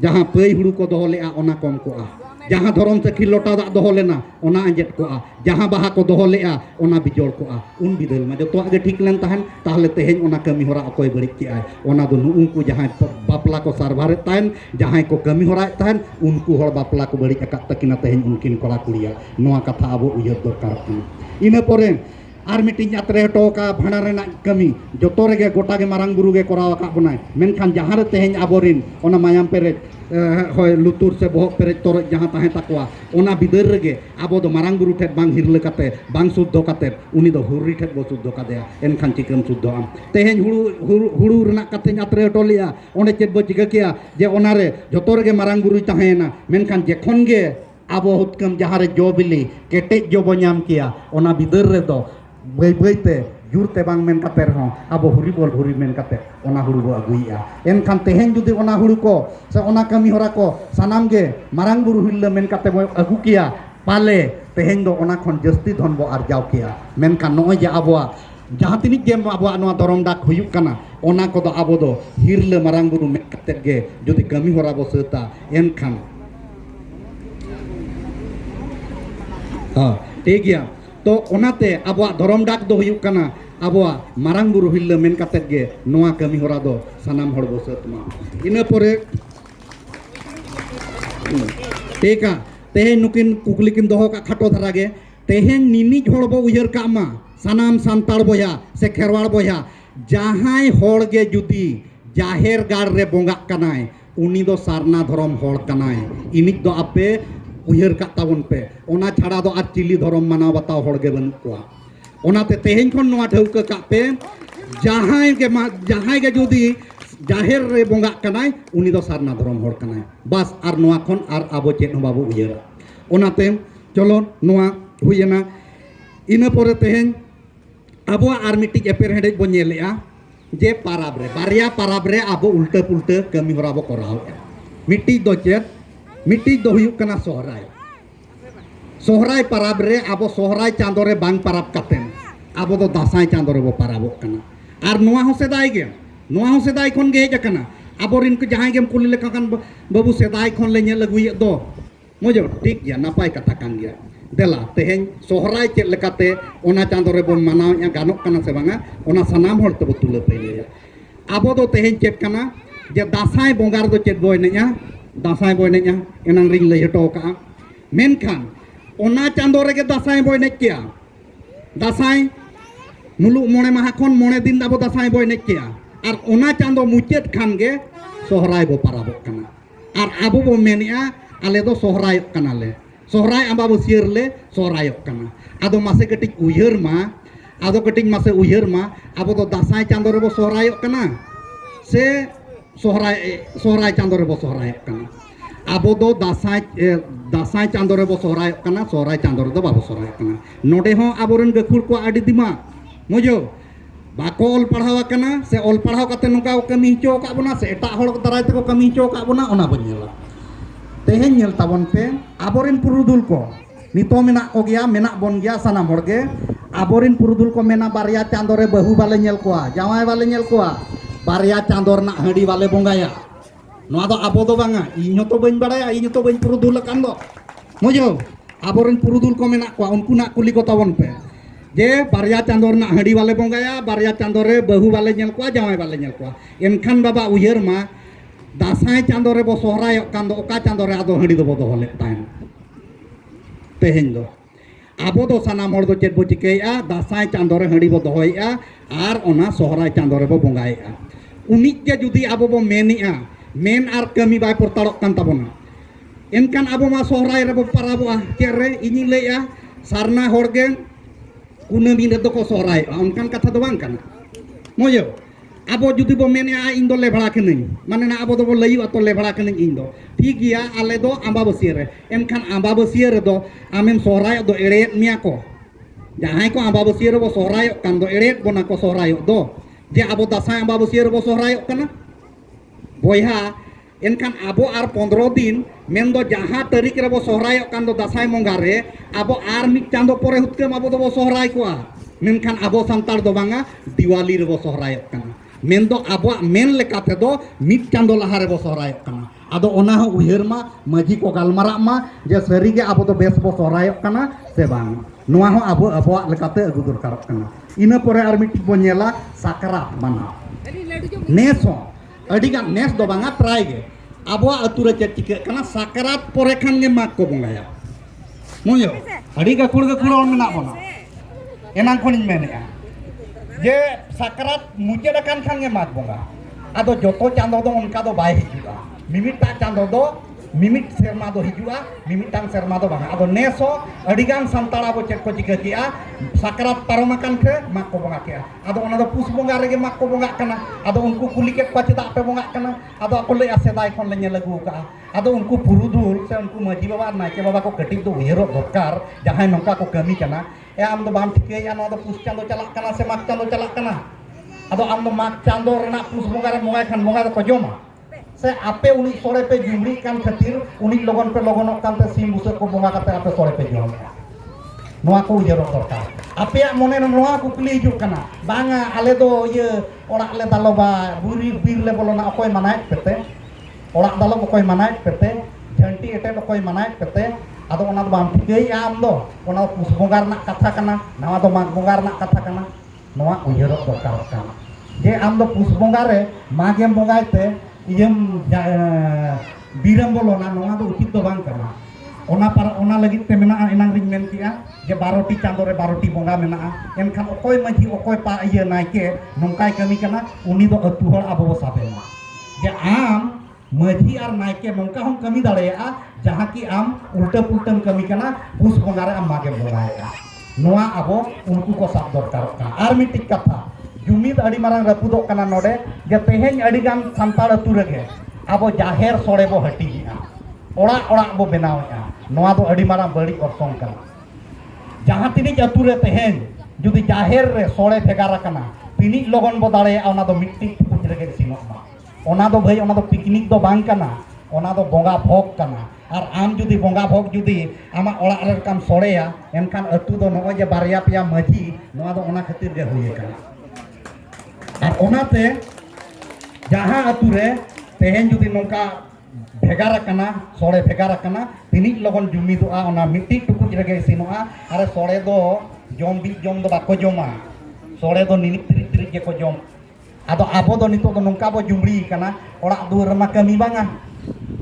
ᱡᱟᱦᱟᱸ ᱯᱟᱹᱭ ᱦᱩᱲᱩ ᱠᱚ ᱫᱚᱦᱚ ᱞᱮᱜᱼᱟ ᱚᱱᱟ ᱠᱚᱢ ᱠᱚᱜᱼᱟ ᱡᱟᱦᱟᱸ ᱫᱷᱚᱨᱚᱢ ᱥᱟᱹᱠᱷᱤ ᱞᱚᱴᱟ ᱫᱟᱜ ᱫᱚᱦᱚ ᱞᱮᱱᱟ ᱚᱱᱟ ᱟᱸᱡᱮᱫ ᱠᱚᱜᱼᱟ ᱡᱟᱦᱟᱸ ᱵᱟᱦᱟ ᱠᱚ ᱫᱚᱦᱚ ᱞᱮᱜᱼᱟ ᱚᱱᱟ ᱵᱤᱡᱚᱲ ᱠᱚᱜᱼᱟ ᱩᱱ ᱵᱤᱫᱟᱹᱞ ᱢᱟ ᱡᱚᱛᱚᱣᱟᱜ ᱜᱮ ᱴᱷᱤᱠ ᱞᱮᱱ ᱛᱟᱦᱮᱱ ᱛᱟᱦᱚᱞᱮ ᱛᱮᱦᱮᱧ ᱚᱱᱟ ᱠᱟᱹᱢᱤ ᱦᱚᱨᱟ ᱚᱠᱚᱭ ᱵᱟᱹᱲᱤᱡ ᱠᱮᱜᱼᱟᱭ ᱚᱱᱟ ᱫᱚ ᱱᱩᱜᱩ ᱡᱟᱦᱟᱸᱭ ᱵᱟᱯᱞᱟ ᱠᱚ ᱥᱟᱨᱵᱷᱟᱨᱮᱫ ᱛᱟᱦᱮᱱ ᱡᱟᱦᱟᱸᱭ ᱠᱚ ᱠᱟᱹᱢᱤ ᱦᱚᱨᱟᱭᱮᱫ ᱛᱟᱦᱮᱱ ᱩᱱᱠᱩ ᱦᱚᱲ ᱵᱟᱯᱞᱟ ᱠᱚ ᱵᱟᱹᱲᱤᱡ ᱟᱠᱟᱫ ᱛᱟᱹᱠᱤᱱᱟ ᱛᱮᱦᱮᱧ ᱩᱱᱠᱤᱱ ᱠᱚᱲᱟ ᱠᱩᱲᱤᱭᱟᱜ ᱱᱚᱣᱟ ᱠᱟᱛᱷᱟ ᱟᱵᱚ ᱩᱭᱦᱟᱹᱨ ᱫᱚᱨᱠᱟᱨᱚᱜ ᱠᱟᱱᱟ ᱤᱱᱟᱹ ᱯᱚᱨᱮ ᱟᱨ ᱢᱤᱫᱴᱤᱡ ᱟᱛᱨᱮ ᱦᱚᱴᱚ ᱟᱠᱟᱫ ᱵᱷᱟᱸᱰᱟᱱ ᱨᱮᱱᱟᱜ ᱠᱟᱹᱢᱤ ᱡᱚᱛᱚ ᱨᱮᱜᱮ ᱜᱚᱴᱟ ᱜᱮ ᱢᱟᱨᱟᱝ ᱵᱩᱨᱩ ᱜᱮ ᱠᱚᱨᱟᱣ ᱟᱠᱟᱫ ᱵᱚᱱᱟᱭ ᱢᱮᱱᱠᱷᱟᱱ ᱡᱟᱦᱟᱸ ᱨᱮ ᱛᱮᱦᱮᱧ ᱟᱵᱚᱨᱤᱱ ᱚᱱᱟ ᱢᱟᱭᱟᱢ ᱯᱮᱨᱮᱡ ᱦᱚᱭ ᱞᱩᱛᱩᱨ ᱥᱮ ᱵᱚᱦᱚᱜ ᱯᱮᱨᱮᱡ ᱛᱚᱨᱚᱡ ᱡᱟᱦᱟᱸ ᱛᱟᱦᱮᱸ ᱛᱟᱠᱚᱣᱟ ᱚᱱᱟ ᱵᱤᱫᱟᱹᱨ ᱨᱮᱜᱮ ᱟᱵᱚ ᱫᱚ ᱢᱟᱨᱟᱝ ᱵᱩᱨᱩ ᱴᱷᱮᱱ ᱵᱟᱝ ᱦᱤᱨᱞᱟᱹ ᱠᱟᱛᱮ ᱵᱟᱝ ᱥᱩᱫᱽᱫᱷᱚ ᱠᱟᱛᱮ ᱩᱱᱤ ᱫᱚ ᱦᱩᱨᱨᱤ ᱴᱷᱮᱱ ᱵᱚ ᱥᱩᱫᱽᱫᱷᱚ ᱠᱟᱫᱮᱭᱟ ᱮᱱᱠᱷᱟᱱ ᱪᱤᱠᱟᱹᱢ ᱥᱩᱫᱽᱫᱷᱚ ᱟᱢ ᱛᱮᱦᱮᱧ ᱦᱩᱲᱩ ᱦᱩᱲᱩ ᱨᱮᱱᱟᱜ ᱠᱟᱛᱷᱟᱧ ᱟᱛᱨᱮ ᱦᱚᱴᱚ ᱞᱮᱫᱼᱟ ᱚᱸᱰᱮ ᱪᱮᱫ ᱵᱚ ᱪᱤᱠᱟᱹ ᱠᱮᱭᱟ ᱡᱮ ᱚᱱᱟᱨᱮ ᱡᱚᱛᱚ ᱨᱮᱜᱮ ᱢᱟᱨᱟᱝ ᱵᱩᱨᱩᱭ ᱛᱟᱦᱮᱸᱭᱮᱱᱟ ᱢᱮᱱᱠᱷᱟᱱ ᱡᱚᱠᱷᱚᱱ ᱜᱮ ᱟᱵᱚ ᱩᱛᱠᱟᱹᱢ ᱡᱟᱦᱟᱸ ᱨᱮ ᱡᱚ ᱵᱤᱞᱤ ᱠᱮᱴᱮᱡ ᱡᱚ ᱵᱚ ᱧᱟᱢ ᱠᱮᱭᱟ ᱚᱱᱟ ᱵᱤᱫᱟᱹᱞ ᱨᱮᱫᱚ ᱵᱟᱹᱭ ᱵᱟᱹᱭᱛᱮ ᱡᱩᱨᱛᱮ ᱵᱟᱝ ᱢᱮᱱ ᱠᱟᱛᱮ ᱨᱮᱦᱚᱸ ᱟᱵᱚ ᱦᱩᱨᱤ ᱵᱚᱞ ᱦᱩᱨᱤ ᱢᱮᱱ ᱠᱟᱛᱮ ᱚᱱᱟ ᱦᱩᱲᱩ ᱵᱚ ᱟᱹᱜᱩᱭᱮᱜᱼᱟ ᱮᱱᱠᱷᱟᱱ ᱛᱮᱦᱮᱧ ᱡᱩᱫᱤ ᱚᱱᱟ ᱦᱩᱲᱩ ᱠᱚ ᱥᱮ ᱚᱱᱟ ᱠᱟᱹᱢᱤ ᱦᱚᱨᱟ ᱠᱚ ᱥᱟᱱᱟᱢ ᱜᱮ ᱢᱟᱨᱟᱝ ᱵᱩᱨᱩ ᱦᱤᱨᱞᱟᱹ ᱢᱮᱱ ᱠᱟᱛᱮ ᱵᱚ ᱟᱹᱜᱩ ᱠᱮᱭᱟ ᱯᱟᱞᱮ ᱛᱮᱦᱮᱧ ᱫᱚ ᱚᱱᱟ ᱠᱷᱚᱱ ᱡᱟᱹᱥᱛᱤ ᱫᱷᱚᱱ ᱵᱚ ᱟᱨᱡᱟᱣ ᱠᱮᱭᱟ ᱢᱮᱱᱠᱷᱟᱱ ᱱᱚᱜᱼᱚᱭ ᱡᱮ ᱟᱵᱚᱣᱟᱜ ᱡᱟᱦᱟᱸ ᱛᱤᱱᱤᱡ ᱜᱮ ᱟᱵᱚᱣᱟᱜ ᱱᱚᱣᱟ ᱫᱚᱨᱚᱢ ᱰᱟᱠ ᱦᱩᱭᱩᱜ ᱠᱟᱱᱟ ᱚᱱᱟ ᱠᱚᱫᱚ ᱟᱵᱚ ᱫᱚ ᱦᱤᱨᱞᱟᱹ ᱢᱟᱨᱟᱝ ᱵᱩᱨᱩ ᱢᱮᱱ ᱠᱟᱛᱮ ᱜᱮ ᱡᱩᱫᱤ ᱠᱟᱹᱢᱤ ᱦᱚᱨᱟ ᱵᱚ ᱥᱟᱹᱛᱟ ᱮᱱᱠᱷᱟᱱ ᱦᱮᱸ ᱴᱷᱤᱠ ᱜᱮᱭᱟ ᱛᱚ ᱚᱱᱟᱛᱮ ᱟᱵᱚᱣᱟᱜ ᱫᱷᱚᱨᱚᱢ ᱰᱟᱠ ᱫᱚ ᱦᱩᱭᱩᱜ ᱠᱟᱱᱟ ᱟᱵᱚᱣᱟᱜ ᱢᱟᱨᱟᱝ ᱵᱩᱨᱩ ᱦᱤᱨᱞᱟᱹ ᱢᱮᱱ ᱠᱟᱛᱮᱫ ᱜᱮ ᱱᱚᱣᱟ ᱠᱟᱹᱢᱤ ᱦᱚᱨᱟ ᱫᱚ ᱥᱟᱱᱟᱢ ᱦᱚᱲ ᱵᱚ ᱥᱟᱹᱛ ᱢᱟ ᱤᱱᱟᱹ ᱯᱚᱨᱮ ᱴᱷᱤᱠᱟ ᱛᱮᱦᱮᱧ ᱱᱩᱠᱤᱱ ᱠᱩᱠᱞᱤ ᱠᱤᱱ ᱫᱚᱦᱚ ᱠᱟᱜ ᱠᱷᱟᱴᱚ ᱫᱷᱟᱨᱟ ᱜᱮ ᱛᱮᱦᱮᱧ ᱱᱤᱱᱤᱡ ᱦᱚᱲ ᱵᱚ ᱩᱭᱦᱟᱹᱨ ᱠᱟᱜ ᱢᱟ ᱥᱟᱱᱟᱢ ᱥᱟᱱᱛᱟᱲ ᱵᱚᱭᱦᱟ ᱥᱮ ᱠᱷᱮᱨᱣᱟᱲ ᱵᱚᱭᱦᱟ ᱡᱟᱦᱟᱸᱭ ᱦᱚᱲ ᱜᱮ ᱡᱩᱫᱤ ᱡᱟᱦᱮᱨ ᱜᱟᱲ ᱨᱮ ᱵᱚᱸᱜᱟᱜ ᱠᱟᱱᱟᱭ ᱩᱱᱤ ᱫᱚ ᱥᱟᱨᱱᱟ ᱫᱷᱚᱨᱚᱢ ᱦᱚᱲ ᱠᱟᱱᱟᱭ ᱤᱱᱤᱡ ᱫᱚ ᱟᱯᱮ ᱩᱭᱦᱟᱹᱨ ᱠᱟᱜ ᱛᱟᱵᱚᱱ ᱯᱮ ᱚᱱᱟ ᱪᱷᱟᱲᱟ ᱫᱚ ᱟᱨ ᱪᱤᱞᱤ ᱫᱷᱚᱨᱚᱢ ᱢᱟᱱᱟᱣ ᱵᱟᱛᱟᱣ ᱦᱚᱲ ᱜᱮ ᱵᱟᱹᱱᱩᱜ ᱠᱚᱣᱟ ᱚᱱᱟᱛᱮ ᱛᱮᱦᱮᱧ ᱠᱷᱚᱱ ᱱᱚᱣᱟ ᱴᱷᱟᱹᱣᱠᱟᱹ ᱠᱟᱜ ᱯᱮ ᱡᱟᱦᱟᱸᱭ ᱜᱮ ᱡᱟᱦᱟᱸᱭ ᱜᱮ ᱡᱩᱫᱤ ᱡᱟᱦᱮᱨ ᱨᱮ ᱵᱚᱸᱜᱟᱜ ᱠᱟᱱᱟᱭ ᱩᱱᱤ ᱫᱚ ᱥᱟᱨᱱᱟ ᱫᱷᱚᱨᱚᱢ ᱦᱚᱲ ᱠᱟᱱᱟᱭ ᱵᱟᱥ ᱟᱨ ᱱᱚᱣᱟ ᱠᱷᱚᱱ ᱟᱨ ᱟᱵᱚ ᱪᱮᱫ ᱦᱚᱸ ᱵᱟᱵᱚ ᱩᱭᱦᱟᱹᱨᱟ ᱚᱱᱟᱛᱮ ᱪᱚᱞᱚ ᱱᱚᱣᱟ ᱦᱩᱭᱮᱱᱟ ᱤᱱᱟᱹ ᱯᱚᱨᱮ ᱛᱮᱦᱮᱧ ᱟᱵᱚᱣᱟᱜ ᱟᱨ ᱢᱤᱫᱴᱤᱡ ᱮᱯᱮᱨᱦᱮᱸᱰᱮᱡ ᱵᱚᱱ ᱧᱮᱞᱮᱜᱼᱟ ᱡᱮ ᱯᱟᱨᱟᱵᱽ ᱨᱮ ᱵᱟᱨᱭᱟ ᱯᱟᱨᱟᱵᱽ ᱨᱮ ᱟᱵᱚ ᱩᱞᱴᱟᱹ ᱯᱩᱞᱴᱟᱹ ᱠᱟᱹᱢᱤ ᱦᱚᱨᱟ ᱵᱚ ᱠᱚᱨᱟᱣᱮᱫᱼᱟ ᱢᱤᱫᱴᱤᱡ ᱫᱚ ᱪᱮᱫ ᱢᱤᱫᱴᱤᱡ ᱫᱚ ᱦᱩᱭᱩᱜ ᱠᱟᱱᱟ ᱥᱚᱦᱨᱟᱭ ᱥᱚᱦᱨᱟᱭ ᱯᱟᱨᱟᱵᱽ ᱨᱮ ᱟᱵᱚ ᱥᱚᱦᱨᱟᱭ ᱪᱟᱸᱫᱳ ᱨᱮ ᱵᱟᱝ ᱯᱟᱨᱟᱵᱽ ᱠᱟᱛᱮ ᱟᱵᱚ ᱫᱚ ᱫᱟᱸᱥᱟᱭ ᱪᱟᱸᱫᱳ ᱨᱮᱵᱚ ᱯᱟᱨᱟᱵᱚᱜ ᱠᱟᱱᱟ ᱟᱨ ᱱᱚᱣᱟ ᱦᱚᱸ ᱥᱮᱫᱟᱭ ᱜᱮ ᱱᱚᱣᱟ ᱦᱚᱸ ᱥᱮᱫᱟᱭ ᱠᱷᱚᱱ ᱜᱮ ᱦᱮᱡ ᱟᱠᱟᱱᱟ ᱟᱵᱚᱨᱮᱱ ᱠᱚ ᱡᱟᱦᱟᱸᱭ ᱜᱮᱢ ᱠᱩᱞᱤ ᱞᱮᱠᱚ ᱠᱷᱟᱱ ᱵᱟᱹᱵᱩ ᱥᱮᱫᱟᱭ ᱠᱷᱚᱱ ᱞᱮ ᱧᱮᱞ ᱟᱹᱜᱩᱭᱮᱫ ᱫᱚ ᱢᱚᱡᱚ ᱴᱷᱤᱠ ᱜᱮᱭᱟ ᱱᱟᱯᱟᱭ ᱠᱟᱛᱷᱟ ᱠᱟᱱ ᱜᱮᱭᱟ ᱫᱮᱞᱟ ᱛᱮᱦᱮᱧ ᱥᱚᱦᱨᱟᱭ ᱪᱮᱫ ᱞᱮᱠᱟᱛᱮ ᱚᱱᱟ ᱪᱟᱸᱫᱚ ᱨᱮᱵᱚᱱ ᱢᱟᱱᱟᱣᱮᱫᱼᱟ ᱜᱟᱱᱚᱜ ᱠᱟᱱᱟ ᱥᱮ ᱵᱟᱝᱟ ᱚᱱᱟ ᱥᱟᱱᱟᱢ ᱦᱚᱲ ᱛᱮᱵᱚ ᱛᱩᱞᱟᱹ ᱯᱟᱹᱭᱞᱟᱹᱭᱟ ᱟᱵᱚ ᱫᱚ ᱛᱮᱦᱮᱧ ᱪᱮᱫ ᱠᱟᱱᱟ ᱡᱮ ᱫᱟᱸᱥᱟᱭ ᱵᱚᱸᱜᱟ ᱨᱮᱫᱚ ᱪᱮᱫ ᱵᱚ ᱮᱱᱮᱡᱼᱟ ᱫᱟᱸᱥᱟᱭ ᱵᱚ ᱮᱱᱮᱡᱼᱟ ᱮᱱᱟᱝ ᱨᱤᱧ ᱞᱟᱹᱭ ᱦᱚᱴᱚ ᱠᱟᱜᱼᱟ ᱢᱮᱱᱠᱷᱟᱱ ᱚᱱᱟ ᱪᱟᱸᱫᱚ ᱨᱮᱜᱮ ᱫᱟᱸᱥᱟᱭ ᱵᱚ ᱮᱱᱮᱡ ᱠᱮᱭᱟ ᱫᱟᱸᱥᱟᱭ ᱢᱩᱞᱩᱜ ᱢᱚᱬᱮ ᱢᱟᱦᱟ ᱠᱷᱚᱱ ᱢᱚᱬᱮ ᱫᱤᱱ ᱟᱵᱚ ᱫᱟᱸᱥᱟᱭ ᱵᱚ ᱮᱱᱮᱡ ᱠᱮᱭᱟ ᱟᱨ ᱚᱱᱟ ᱪᱟᱸᱫᱚ ᱢᱩᱪᱟᱹᱫ ᱠᱷᱟᱱ ᱜᱮ ᱥᱚᱦᱨᱟᱭ ᱵᱚ ᱯᱟᱨᱟᱵᱚᱜ ᱠᱟᱱᱟ ᱟᱨ ᱟᱵᱚ ᱵᱚ ᱢᱮᱱᱮᱜᱼᱟ ᱟᱞᱮ ᱫᱚ ᱥᱚᱦᱨᱟᱭᱚᱜ ᱠᱟᱱᱟᱞᱮ ᱥᱚᱦᱨᱟᱭ ᱟᱢᱵᱟᱵᱟᱹᱥᱭᱟᱹ ᱨᱮᱞᱮ ᱥᱚᱦᱨᱟᱭᱚᱜ ᱠᱟᱱᱟ ᱟᱫᱚ ᱢᱟᱥᱮ ᱠᱟᱹᱴᱤᱡ ᱩᱭᱦᱟᱹᱨ ᱢᱟ ᱟᱫᱚ ᱠᱟᱹᱴᱤᱡ ᱢᱟᱥᱮ ᱩᱭᱦᱟᱹᱨ ᱢᱟ ᱟᱵᱚ ᱫᱚ ᱫᱟᱸᱥᱟᱭ ᱪᱟᱸᱫᱚ ᱨᱮᱵᱚ ᱥᱚᱦᱨᱟᱭᱚᱜ ᱠᱟᱱᱟ ᱥᱮ ᱥᱚᱦᱨᱟᱭ ᱥᱚᱦᱨᱟᱭ ᱪᱟᱸᱫᱚ ᱨᱮᱵᱚ ᱥᱚᱦᱨᱟᱭᱚᱜ ᱠᱟᱱᱟ ᱟᱵᱚ ᱫᱚ ᱫᱟᱸᱥᱟᱭ ᱫᱟᱸᱥᱟᱭ ᱪᱟᱸᱫᱚ ᱨᱮᱵᱚ ᱥᱚᱦᱨᱟᱭᱚᱜ ᱠᱟᱱᱟ ᱥᱚᱦᱨᱟᱭ ᱪᱟᱸᱫᱚ ᱨᱮᱫᱚ ᱵᱟᱵᱚ ᱥᱚᱦᱨᱟᱭᱚᱜ ᱠᱟᱱᱟ ᱱᱚᱰᱮ ᱦᱚᱸ ᱟᱵᱚᱨᱮᱱ ᱜᱟᱹᱠᱷᱩᱲ ᱠᱚᱣᱟᱜ ᱟᱹᱰᱤ ᱫᱤᱢᱟᱜ ᱢᱚᱡᱚ ᱵᱟᱠᱚ ᱚᱞ ᱯᱟᱲᱦᱟᱣ ᱟᱠᱟᱱᱟ ᱥᱮ ᱚᱞ ᱯᱟᱲᱦᱟᱣ ᱠᱟᱛᱮ ᱱᱚᱝᱠᱟ ᱠᱚ ᱠᱟᱹᱢᱤ ᱦᱚᱪᱚ ᱟᱠᱟᱫ ᱵᱚᱱᱟ ᱥᱮ ᱮᱴᱟᱜ ᱦᱚᱲ ᱫᱟᱨᱟᱭ ᱛᱮᱠᱚ ᱠᱟᱹᱢᱤ ᱦᱚᱪᱚ ᱟᱠᱟᱫ ᱵᱚᱱᱟ ᱚᱱᱟ ᱵᱚᱱ ᱧᱮᱞᱟ ᱛᱮᱦᱮᱧ ᱧᱮᱞ ᱛᱟᱵᱚᱱ ᱯᱮ ᱟᱵᱚᱨᱮᱱ ᱯᱩᱨᱩᱫᱷᱩᱞ ᱠᱚ ᱱᱤᱛᱚᱜ ᱢᱮᱱᱟᱜ ᱠᱚᱜᱮᱭᱟ ᱢᱮᱱᱟᱜ ᱵᱚᱱ ᱜᱮᱭᱟ ᱥᱟᱱᱟᱢ ᱦᱚᱲ ᱜᱮ ᱟᱵᱚᱨᱮᱱ ᱯᱩᱨᱩᱫᱷᱩᱞ ᱠᱚ ᱢᱮᱱᱟ ᱵᱟᱨᱭᱟ ᱪᱟᱸᱫᱚ ᱨᱮ ᱵᱟᱹᱦᱩ ᱵᱟᱞᱮ ᱧᱮᱞ ᱠᱚᱣᱟ ᱡᱟᱶᱟᱭ ᱵᱟᱞᱮ ᱧᱮᱞ ᱠᱚᱣᱟ ᱵᱟᱨᱭᱟ ᱪᱟᱸᱫᱚ ᱨᱮᱱᱟᱜ ᱦᱟᱺᱰᱤ ᱵᱟᱞᱮ ᱵᱚᱸᱜᱟᱭᱟ ᱱᱚᱣᱟ ᱫᱚ ᱟᱵᱚ ᱫᱚ ᱵᱟᱝᱟ ᱤᱧ ᱦᱚᱸᱛᱚ ᱵᱟᱹᱧ ᱵᱟᱲᱟᱭᱟ ᱤᱧ ᱦᱚᱸᱛᱚ ᱵᱟᱹᱧ ᱯᱩᱨᱩᱫᱷᱩᱞ ᱟᱠᱟᱱ ᱫᱚ ᱵᱩᱡᱷᱟᱹᱣ ᱟᱵᱚᱨᱮᱱ ᱯᱩᱨᱩᱫᱷᱩᱞ ᱠᱚ ᱢᱮᱱᱟᱜ ᱠᱚᱣᱟ ᱩᱱᱠᱩᱱᱟᱜ ᱠᱩᱞᱤ ᱠᱚ ᱛᱟᱵᱚᱱ ᱯᱮ ᱡᱮ ᱵᱟᱨᱭᱟ ᱪᱟᱸᱫᱚ ᱨᱮᱱᱟᱜ ᱦᱟᱺᱰᱤ ᱵᱟᱞᱮ ᱵᱚᱸᱜᱟᱭᱟ ᱵᱟᱨᱭᱟ ᱪᱟᱸᱫᱚ ᱨᱮ ᱵᱟᱹᱦᱩ ᱵᱟᱞᱮ ᱧᱮᱞ ᱠᱚᱣᱟ ᱡᱟᱶᱟᱭ ᱵᱟᱞᱮ ᱧᱮᱞ ᱠᱚᱣᱟ ᱮᱱᱠᱷᱟᱱ ᱵᱟᱵᱟ ᱩᱭᱦᱟᱹᱨ ᱢᱟ ᱫᱟᱥᱟᱭ ᱪᱟᱸᱫᱚ ᱨᱮ ᱵᱚ ᱥᱚᱦᱨᱟᱭᱚᱜ ᱠᱟᱱ ᱫᱚ ᱚᱠᱟ ᱪᱟᱸᱫᱚ ᱨᱮ ᱟᱫᱚ ᱦᱟᱺᱰᱤ ᱫᱚᱵᱚ ᱫᱚᱦᱚ ᱞᱮᱫ ᱛᱟᱦᱮᱱ ᱛᱮᱦᱮᱧ ᱫᱚ ᱟᱵᱚ ᱫᱚ ᱥᱟᱱᱟᱢ ᱦᱚᱲ ᱫᱚ ᱪᱮᱫ ᱵᱚ ᱪᱤᱠᱟᱹᱭᱮᱜᱼᱟ ᱫᱟᱥᱟᱸᱭ ᱪᱟᱸᱫᱚ ᱨᱮ ᱦᱟᱺᱰᱤ ᱵᱚ ᱫᱚᱦᱚᱭᱮᱜᱼᱟ ᱟᱨ ᱚᱱᱟ ᱥᱚᱦᱨᱟᱭ ᱪᱟᱸᱫᱚ ᱨᱮᱵᱚ ᱵᱚᱸᱜᱟᱭᱮᱜᱼᱟ ᱩᱱᱤᱡ ᱜᱮ ᱡᱩᱫᱤ ᱟᱵᱚ ᱵᱚ ᱢᱮᱱᱮᱜᱼᱟ ᱢᱮᱱ ᱟᱨ ᱠᱟᱹᱢᱤ ᱵᱟᱭ ᱯᱚᱨᱛᱟᱲᱚᱜ ᱠᱟᱱ ᱛᱟᱵᱚᱱᱟ ᱮᱱᱠᱷᱟᱱ ᱟᱵᱚ ᱢᱟ ᱥᱚᱦᱨᱟᱭ ᱨᱮᱵᱚ ᱯᱟᱨᱟᱵᱚᱜᱼᱟ ᱪᱮᱫ ᱨᱮ ᱤᱧᱤᱧ ᱞᱟᱹᱭᱮᱜᱼᱟ ᱥᱟᱨᱱᱟ ᱦᱚᱲ ᱜᱮ ᱠᱩᱱᱟᱹᱢᱤ ᱨᱮᱫᱚ ᱠᱚ ᱥᱚᱦᱨᱟᱭᱚᱜᱼᱟ ᱚᱱᱠᱟᱱ ᱠᱟᱛᱷᱟ ᱫᱚ ᱵᱟᱝ ᱠᱟᱱᱟ ᱢᱚᱡᱚ ᱟᱵᱚ ᱡᱩᱫᱤ ᱵᱚ ᱢᱮᱱᱮᱜᱼᱟ ᱤᱧ ᱫᱚ ᱞᱮᱵᱷᱲᱟ ᱠᱟᱹᱱᱟᱹᱧ ᱢᱟᱱᱮ ᱟᱵᱚ ᱫᱚᱵᱚ ᱞᱟᱹᱭᱚᱜᱼᱟ ᱛᱚ ᱞᱮᱵᱷᱲᱟ ᱠᱟᱹᱱᱟᱹᱧ ᱤᱧ ᱫᱚ ᱴᱷᱤᱠ ᱜᱮᱭᱟ ᱟᱞᱮ ᱫᱚ ᱟᱢᱵᱟᱵᱟᱹᱥᱭᱟᱹ ᱨᱮ ᱮᱱᱠᱷᱟᱱ ᱟᱢᱵᱟᱵᱟᱹᱥᱤᱭᱟᱹ ᱨᱮᱫᱚ ᱟᱢᱮᱢ ᱥᱚᱦᱨᱟᱭᱚᱜ ᱫᱚ ᱮᱲᱮᱭᱮᱫ ᱢᱮᱭᱟ ᱠᱚ ᱡᱟᱦᱟᱸᱭ ᱠᱚ ᱟᱢᱵᱟᱵᱟᱹᱥᱤᱭᱟᱹ ᱨᱮᱵᱚ ᱥᱚᱦᱨᱟᱭᱚᱜ ᱠᱟᱱ ᱫᱚ ᱮᱲᱮᱭᱮᱫ ᱵᱚᱱᱟ ᱠᱚ ᱥᱚᱦᱨᱟᱭᱚᱜ ᱫᱚ ᱡᱮ ᱟᱵᱚ ᱫᱟᱥᱟᱭ ᱟᱢᱵᱟᱵᱟᱹᱥᱤᱭᱟᱹ ᱨᱮᱵᱚ ᱥᱚᱦᱨᱟᱭᱚᱜ ᱠᱟᱱᱟ ᱵᱚᱭᱦᱟ ᱮᱱᱠᱷᱟᱱ ᱟᱵᱚ ᱟᱨ ᱯᱚᱱᱫᱨᱚ ᱫᱤᱱ ᱢᱮᱱ ᱫᱚ ᱡᱟᱦᱟᱸ ᱛᱟᱹᱨᱤᱠᱷ ᱨᱮᱵᱚ ᱥᱚᱦᱨᱟᱭᱚᱜ ᱠᱟᱱ ᱫᱚ ᱫᱟᱥᱟᱭ ᱵᱚᱸᱜᱟ ᱨᱮ ᱟᱵᱚ ᱟᱨ ᱢᱤᱫ ᱪᱟᱸᱫᱚ ᱯᱚᱨᱮ ᱦᱩᱛᱠᱟᱹᱢ ᱟᱵᱚ ᱫᱚᱵᱚ ᱥᱚᱦᱨᱟᱭ ᱠᱚᱜᱼᱟ ᱢᱮᱱᱠᱷᱟᱱ ᱟᱵᱚ ᱥᱟᱱᱛᱟᱲ ᱫᱚ ᱵᱟᱝᱟ ᱫᱤᱣᱟᱞᱤ ᱨᱮᱵᱚ ᱥᱚᱦᱨᱟᱭᱚᱜ ᱠᱟᱱᱟ ᱢᱮᱱ ᱫᱚ ᱟᱵᱚᱣᱟᱜ ᱢᱮᱱ ᱞᱮᱠᱟ ᱛᱮᱫᱚ ᱢᱤᱫ ᱪᱟᱸᱫᱚ ᱞᱟᱦᱟ ᱨᱮᱵᱚ ᱥᱚᱦᱨᱟᱭᱚᱜ ᱠᱟᱱᱟ ᱟᱫᱚ ᱚᱱᱟ ᱦᱚᱸ ᱩᱭᱦᱟᱹᱨ ᱢᱟ ᱢᱟᱹᱡᱷᱤ ᱠᱚ ᱜᱟᱞᱢᱟᱨᱟᱜ ᱢᱟ ᱡᱮ ᱥᱟᱹᱨᱤᱜᱮ ᱟᱵᱚ ᱫᱚ ᱵᱮᱥ ᱵᱚ ᱥᱚᱦᱨᱟᱭᱚᱜ ᱠᱟᱱᱟ ᱥᱮ ᱵᱟᱝ ᱱᱚᱣᱟ ᱦᱚᱸ ᱟᱵᱚ ᱟᱵᱚᱣᱟᱜ ᱞᱮᱠᱟᱛᱮ ᱟᱹᱜᱩ ᱫᱚᱨᱠᱟᱨᱚᱜ ᱠᱟᱱᱟ ᱤᱱᱟᱹ ᱯᱚᱨᱮ ᱟᱨ ᱢᱤᱫᱴᱤᱡ ᱵᱚ ᱧᱮᱞᱟ ᱥᱟᱠᱨᱟᱛ ᱢᱟᱱᱟᱣ ᱱᱮᱥ ᱦᱚᱸ ᱟᱹᱰᱤᱜᱟᱱ ᱱᱮᱥ ᱫᱚ ᱵᱟᱝᱟ ᱯᱨᱟᱭ ᱜᱮ ᱟᱵᱚᱣᱟᱜ ᱟᱹᱛᱩ ᱨᱮ ᱪᱮᱫ ᱪᱤᱠᱟᱹᱜ ᱠᱟᱱᱟ ᱥᱟᱠᱨᱟᱛ ᱯᱚᱨᱮ ᱠᱷᱟᱱ ᱜᱮ ᱢᱟᱜᱽ ᱠᱚ ᱵᱚᱸᱜᱟᱭᱟ ᱢᱩᱭᱚ ᱟᱹᱰᱤ ᱜᱟᱹᱠᱷᱩᱲ ᱜᱟᱹᱠᱷᱩᱲ ᱦᱚᱲ ᱢᱮᱱᱟᱜ ᱵᱚᱱᱟ ᱮᱱᱟᱝ ᱠᱷᱚᱱᱤᱧ ᱢᱮᱱᱮᱜᱼᱟ ᱡᱮ ᱥᱟᱠᱨᱟᱛ ᱢᱩᱪᱟᱹᱫ ᱟᱠᱟᱱ ᱠᱷᱟᱱ ᱜᱮ ᱢᱟᱜᱽ ᱵᱚᱸᱜᱟ ᱟᱫᱚ ᱡᱚᱛᱚ ᱪᱟᱸᱫᱚ ᱫᱚ ᱚᱱᱠᱟ ᱫᱚ ᱵᱟᱭ ᱦᱤᱡᱩᱜᱼᱟ ᱢᱤᱢᱤᱫᱴᱟᱝ ᱪᱟᱸᱫᱚ ᱫᱚ ᱢᱤᱢᱤᱫ ᱥᱮᱨᱢᱟ ᱫᱚ ᱦᱤᱡᱩᱜᱼᱟ ᱢᱤᱢᱤᱫᱴᱟᱝ ᱥᱮᱨᱢᱟ ᱫᱚ ᱵᱟᱝᱟ ᱟᱫᱚ ᱱᱮᱥ ᱦᱚᱸ ᱟᱹᱰᱤᱜᱟᱱ ᱥᱟᱱᱛᱟᱲ ᱟᱵᱚ ᱪᱮᱫ ᱠᱚ ᱪᱤᱠᱟᱹ ᱠᱮᱜᱼᱟ ᱥᱟᱠᱨᱟᱛ ᱯᱟᱨᱚᱢ ᱟᱠᱟᱱ ᱠᱷᱟᱹ ᱢᱟᱜᱽ ᱠᱚ ᱵᱚᱸᱜᱟ ᱠᱮᱜᱼᱟ ᱟᱫᱚ ᱚᱱᱟ ᱫᱚ ᱯᱩᱥ ᱵᱚᱸᱜᱟ ᱨᱮᱜᱮ ᱢᱟᱜᱽ ᱠᱚ ᱵᱚᱸᱜᱟᱜ ᱠᱟᱱᱟ ᱟᱫᱚ ᱩᱱᱠᱩ ᱠᱩᱞᱤ ᱠᱮᱫ ᱠᱚᱣᱟ ᱪᱮᱫᱟᱜ ᱯᱮ ᱵᱚᱸᱜᱟᱜ ᱠᱟᱱᱟ ᱟᱫᱚ ᱟᱠᱚ ᱞᱟᱹᱭᱟ ᱥᱮᱫᱟᱭ ᱠᱷᱚᱱ ᱞᱮ ᱧᱮᱞ ᱟᱹᱜᱩ ᱟᱠᱟᱜᱼᱟ ᱟᱫᱚ ᱩᱱᱠᱩ ᱯᱩᱨᱩᱫᱷᱩᱞ ᱥᱮ ᱩᱱᱠᱩ ᱢᱟᱹᱡᱷᱤ ᱵᱟᱵᱟ ᱟᱨ ᱱᱟᱭᱠᱮ ᱵᱟᱵᱟ ᱠᱚ ᱠᱟᱹᱴᱤᱡ ᱫᱚ ᱩᱭᱦᱟᱹᱨᱚᱜ ᱫᱚᱨᱠᱟᱨ ᱡᱟᱦᱟᱸᱭ ᱱᱚᱝᱠᱟ ᱠᱚ ᱠᱟᱹᱢᱤ ᱠᱟᱱᱟ ᱮ ᱟᱢ ᱫᱚ ᱵᱟᱢ ᱴᱷᱤᱠᱟᱹᱭᱮᱫᱼᱟ ᱱᱚᱣᱟ ᱫᱚ ᱯᱩᱥ ᱪᱟᱸᱫᱚ ᱪᱟᱞᱟᱜ ᱠᱟᱱᱟ ᱥᱮ ᱢᱟᱜᱽ ᱪᱟᱸᱫᱚ ᱪᱟᱞᱟᱜ ᱠᱟᱱᱟ ᱟᱫᱚ ᱟᱢ ᱫᱚ ᱢᱟᱜᱽ ᱪᱟᱸᱫᱚ ᱨᱮᱱᱟᱜ ᱯᱩᱥ ᱵᱚᱸᱜᱟ ᱨᱮ ᱵᱚᱸᱜᱟᱭ ᱠᱷᱟᱱ ᱵᱚᱸᱜᱟ ᱫᱚᱠᱚ ᱡᱚᱢᱟ ᱥᱮ ᱟᱯᱮ ᱩᱱᱤ ᱥᱚᱲᱮ ᱯᱮ ᱡᱩᱢᱲᱤᱜ ᱠᱟᱱ ᱠᱷᱟᱹᱛᱤᱨ ᱩᱱᱤ ᱞᱚᱜᱚᱱ ᱯᱮ ᱞᱚᱜᱚᱱᱚᱜ ᱠᱟᱱᱛᱮ ᱥᱤᱢ ᱵᱩᱥᱟᱹᱜ ᱠᱚ ᱵᱚᱸᱜᱟ ᱠᱟᱛᱮ ᱟᱯᱮ ᱥᱚᱲᱮ ᱯᱮ ᱡᱚᱢᱮᱫᱼᱟ ᱱᱚᱣᱟ ᱠᱚ ᱩᱭᱦᱟᱹᱨᱚᱜ ᱫᱚᱨᱠᱟᱨ ᱟᱯᱮᱭᱟᱜ ᱢᱚᱱᱮ ᱨᱮ ᱱᱚᱣᱟ ᱠᱩᱠᱞᱤ ᱦᱤᱡᱩᱜ ᱠᱟᱱᱟ ᱵᱟᱝᱟ ᱟᱞᱮ ᱫᱚ ᱤᱭᱟᱹ ᱚᱲᱟᱜ ᱞᱮ ᱫᱟᱞᱚᱵᱟ ᱵᱩᱨᱩ ᱵᱤᱨ ᱞᱮ ᱵᱚᱞᱚᱱᱟ ᱚᱠᱚᱭ ᱢᱟᱱᱟᱭᱮᱫ ᱯᱮᱛᱮ ᱚᱲᱟᱜ ᱫᱟᱞᱚᱵ ᱚᱠᱚᱭ ᱢᱟᱱᱟᱭᱮᱫ ᱯᱮᱛᱮ ᱡᱷᱟᱹᱱᱴᱤ ᱮᱴᱮᱫ ᱚᱠᱚᱭ ᱢᱟᱱᱟᱭᱮᱫ ᱯᱮᱛᱮ ᱟᱫᱚ ᱚᱱᱟ ᱫᱚ ᱵᱟᱢ ᱴᱷᱤᱠᱟᱹᱭᱮᱫᱼᱟ ᱟᱢ ᱫᱚ ᱚᱱᱟ ᱫᱚ ᱯᱩᱥ ᱵᱚᱸᱜᱟ ᱨᱮᱱᱟᱜ ᱠᱟᱛᱷᱟ ᱠᱟᱱᱟ ᱱᱟᱣᱟ ᱫᱚ ᱢᱟᱜᱽ ᱵᱚᱸᱜᱟ ᱨᱮᱱᱟᱜ ᱠᱟᱛᱷᱟ ᱠᱟᱱᱟ ᱱᱚᱣᱟ ᱩᱭᱦᱟᱹᱨᱚᱜ ᱫᱚᱨᱠᱟᱨᱚᱜ ᱠᱟᱱᱟ ᱡᱮ ᱟᱢ ᱫᱚ ᱯᱩᱥ ᱵᱚᱸᱜᱟ ᱨᱮ ᱢᱟᱜᱮᱢ ᱵᱚᱸᱜᱟᱭ ᱛᱮ ᱤᱭᱟᱹᱢ ᱵᱤᱨᱮᱢ ᱵᱚᱞᱚᱱᱟ ᱱᱚᱣᱟ ᱫᱚ ᱩᱪᱤᱛ ᱫᱚ ᱵᱟᱝ ᱠᱟᱱᱟ ᱚᱱᱟ ᱯᱟᱨ ᱚᱱᱟ ᱞᱟᱹᱜᱤᱫ ᱛᱮ ᱢᱮᱱᱟᱜᱼᱟ ᱮᱱᱟᱝ ᱨᱤᱧ ᱢᱮᱱ ᱠᱮᱜᱼᱟ ᱡᱮ ᱵᱟᱨᱚᱴᱤ ᱪᱟᱸᱫᱳ ᱨᱮ ᱵᱟᱨᱚᱴᱤ ᱵᱚᱸᱜᱟ ᱢᱮᱱᱟᱜᱼᱟ ᱮᱱᱠᱷᱟᱱ ᱚᱠᱚᱭ ᱢᱟᱺᱡᱷᱤ ᱚᱠᱚᱭ ᱯᱟ ᱤᱭᱟᱹ ᱱᱟᱭᱠᱮ ᱱᱚᱝᱠᱟᱭ ᱠᱟᱹᱢᱤ ᱠᱟᱱᱟ ᱩᱱᱤ ᱫᱚ ᱟᱹᱛᱩ ᱦᱚᱲ ᱟᱵᱚ ᱵᱚ ᱥᱟᱵᱮᱭᱟ ᱡᱮ ᱟᱢ ᱢᱟᱹᱡᱷᱤ ᱟᱨ ᱱᱟᱭᱠᱮ ᱱᱚᱝᱠᱟ ᱦᱚᱸᱢ ᱠᱟᱹᱢᱤ ᱫᱟᱲᱮᱭᱟᱜᱼᱟ ᱡᱟᱦᱟᱸ ᱠᱤ ᱟᱢ ᱩᱞᱴᱟᱹ ᱯᱩᱞᱴᱟᱹᱢ ᱠᱟᱹᱢᱤ ᱠᱟᱱᱟ ᱯᱩᱥ ᱵᱚᱸᱜᱟ ᱨᱮ ᱟᱢ ᱢᱟᱜᱮᱢ ᱵᱚᱸᱜᱟᱭᱮᱫᱼᱟ ᱱᱚᱣᱟ ᱟᱵᱚ ᱩᱱᱠᱩ ᱠᱚ ᱥᱟᱵ ᱫᱚᱨᱠᱟᱨᱚᱜ ᱠᱟᱱᱟ ᱟᱨ ᱢᱤᱫᱴᱤᱡ ᱠᱟᱛᱷᱟ ᱡᱩᱢᱤᱫ ᱟᱹᱰᱤ ᱢᱟᱨᱟᱝ ᱨᱟᱹᱯᱩᱫᱚᱜ ᱠᱟᱱᱟ ᱱᱚᱰᱮ ᱡᱮ ᱛᱮᱦᱮᱧ ᱟᱹᱰᱤ ᱜᱟᱱ ᱥᱟᱱᱛᱟᱲ ᱟᱹᱛᱩ ᱨᱮᱜᱮ ᱟᱵᱚ ᱡᱟᱦᱮᱨ ᱥᱚᱲᱮ ᱵᱚ ᱦᱟᱹᱴᱤᱧᱮᱫᱼᱟ ᱚᱲᱟᱜ ᱚᱲᱟᱜ ᱵᱚ ᱵᱮᱱᱟᱣᱮᱫᱼᱟ ᱱᱚᱣᱟ ᱫᱚ ᱟᱹᱰᱤ ᱢᱟᱨᱟᱝ ᱵᱟᱹᱲᱤᱡ ᱚᱨᱥᱚᱝ ᱠᱟᱱᱟ ᱡᱟᱦᱟᱸ ᱛᱤᱱᱤᱡ ᱟᱹᱛᱩ ᱨᱮ ᱛᱮᱦᱮᱧ ᱡᱩᱫᱤ ᱡᱟᱦᱮᱨ ᱨᱮ ᱥᱚᱲᱮ ᱵᱷᱮᱜᱟᱨ ᱟᱠᱟᱱᱟ ᱛᱤᱱᱤᱡ ᱞᱚᱜᱚᱱ ᱵᱚ ᱫᱟᱲᱮᱭᱟᱜᱼᱟ ᱚᱱᱟ ᱫᱚ ᱢᱤᱫᱴᱤᱡ ᱴᱩᱠᱩᱡ ᱨᱮᱜᱮ ᱤᱥᱤᱱᱚᱜ ᱢᱟ ᱚᱱᱟ ᱫᱚ ᱵᱷᱟᱹᱭ ᱚᱱᱟ ᱫᱚ ᱯᱤᱠᱱᱤᱠ ᱫᱚ ᱵᱟᱝ ᱠᱟᱱᱟ ᱚᱱᱟ ᱫᱚ ᱵᱚᱸᱜᱟ ᱵᱷᱳᱜᱽ ᱠᱟᱱᱟ ᱟᱨ ᱟᱢ ᱡᱩᱫᱤ ᱵᱚᱸᱜᱟ ᱵᱷᱳᱜᱽ ᱡᱩᱫᱤ ᱟᱢᱟᱜ ᱚᱲᱟᱜ ᱨᱮ ᱞᱮᱠᱟᱢ ᱥᱚᱲᱮᱭᱟ ᱮᱱᱠᱷᱟᱱ ᱟᱹᱛᱩ ᱫᱚ ᱱᱚᱜᱼᱚᱭ ᱡᱮ ᱵᱟᱨᱭᱟ ᱯᱮᱭᱟ ᱢᱟᱹᱡᱷᱤ ᱱᱚᱣᱟ ᱫᱚ ᱚᱱᱟ ᱠᱷᱟᱹᱛᱤᱨ ᱜᱮ ᱦᱩᱭ ᱟᱠᱟᱱᱟ ᱟᱨ ᱚᱱᱟᱛᱮ ᱡᱟᱦᱟᱸ ᱟᱹᱛᱩ ᱨᱮ ᱛᱮᱦᱮᱧ ᱡᱩᱫᱤ ᱱᱚᱝᱠᱟ ᱵᱷᱮᱜᱟᱨ ᱟᱠᱟᱱᱟ ᱥᱚᱲᱮ ᱵᱷᱮᱜᱟᱨ ᱟᱠᱟᱱᱟ ᱛᱤᱱᱤᱡ ᱞᱚᱜᱚᱱ ᱡᱩᱢᱤᱫᱚᱜᱼᱟ ᱚᱱᱟ ᱢᱤᱫᱴᱤᱡ ᱴᱩᱠᱩᱡ ᱨᱮᱜᱮ ᱤᱥᱤᱱᱚᱜᱼᱟ ᱟᱨ ᱥᱚᱲᱮ ᱫᱚ ᱡᱚᱢ ᱵᱤᱡ ᱡᱚᱢ ᱫᱚ ᱵᱟᱠᱚ ᱡᱚᱢᱟ ᱥᱚᱲᱮ ᱫᱚ ᱱᱤᱱᱤᱡ ᱛᱤᱨᱤᱡ ᱛᱤᱨᱤᱡ ᱜᱮᱠᱚ ᱡᱚᱢ ᱟᱫᱚ ᱟᱵᱚ ᱫᱚ ᱱᱤᱛᱚᱜ ᱫᱚ ᱱᱚᱝᱠᱟ ᱵᱚ ᱡᱩᱢᱲᱤ ᱟᱠᱟᱱᱟ ᱚᱲᱟᱜ ᱫᱩᱣᱟᱹᱨ ᱨᱮᱢᱟ ᱠᱟᱹᱢᱤ ᱵᱟᱝᱟ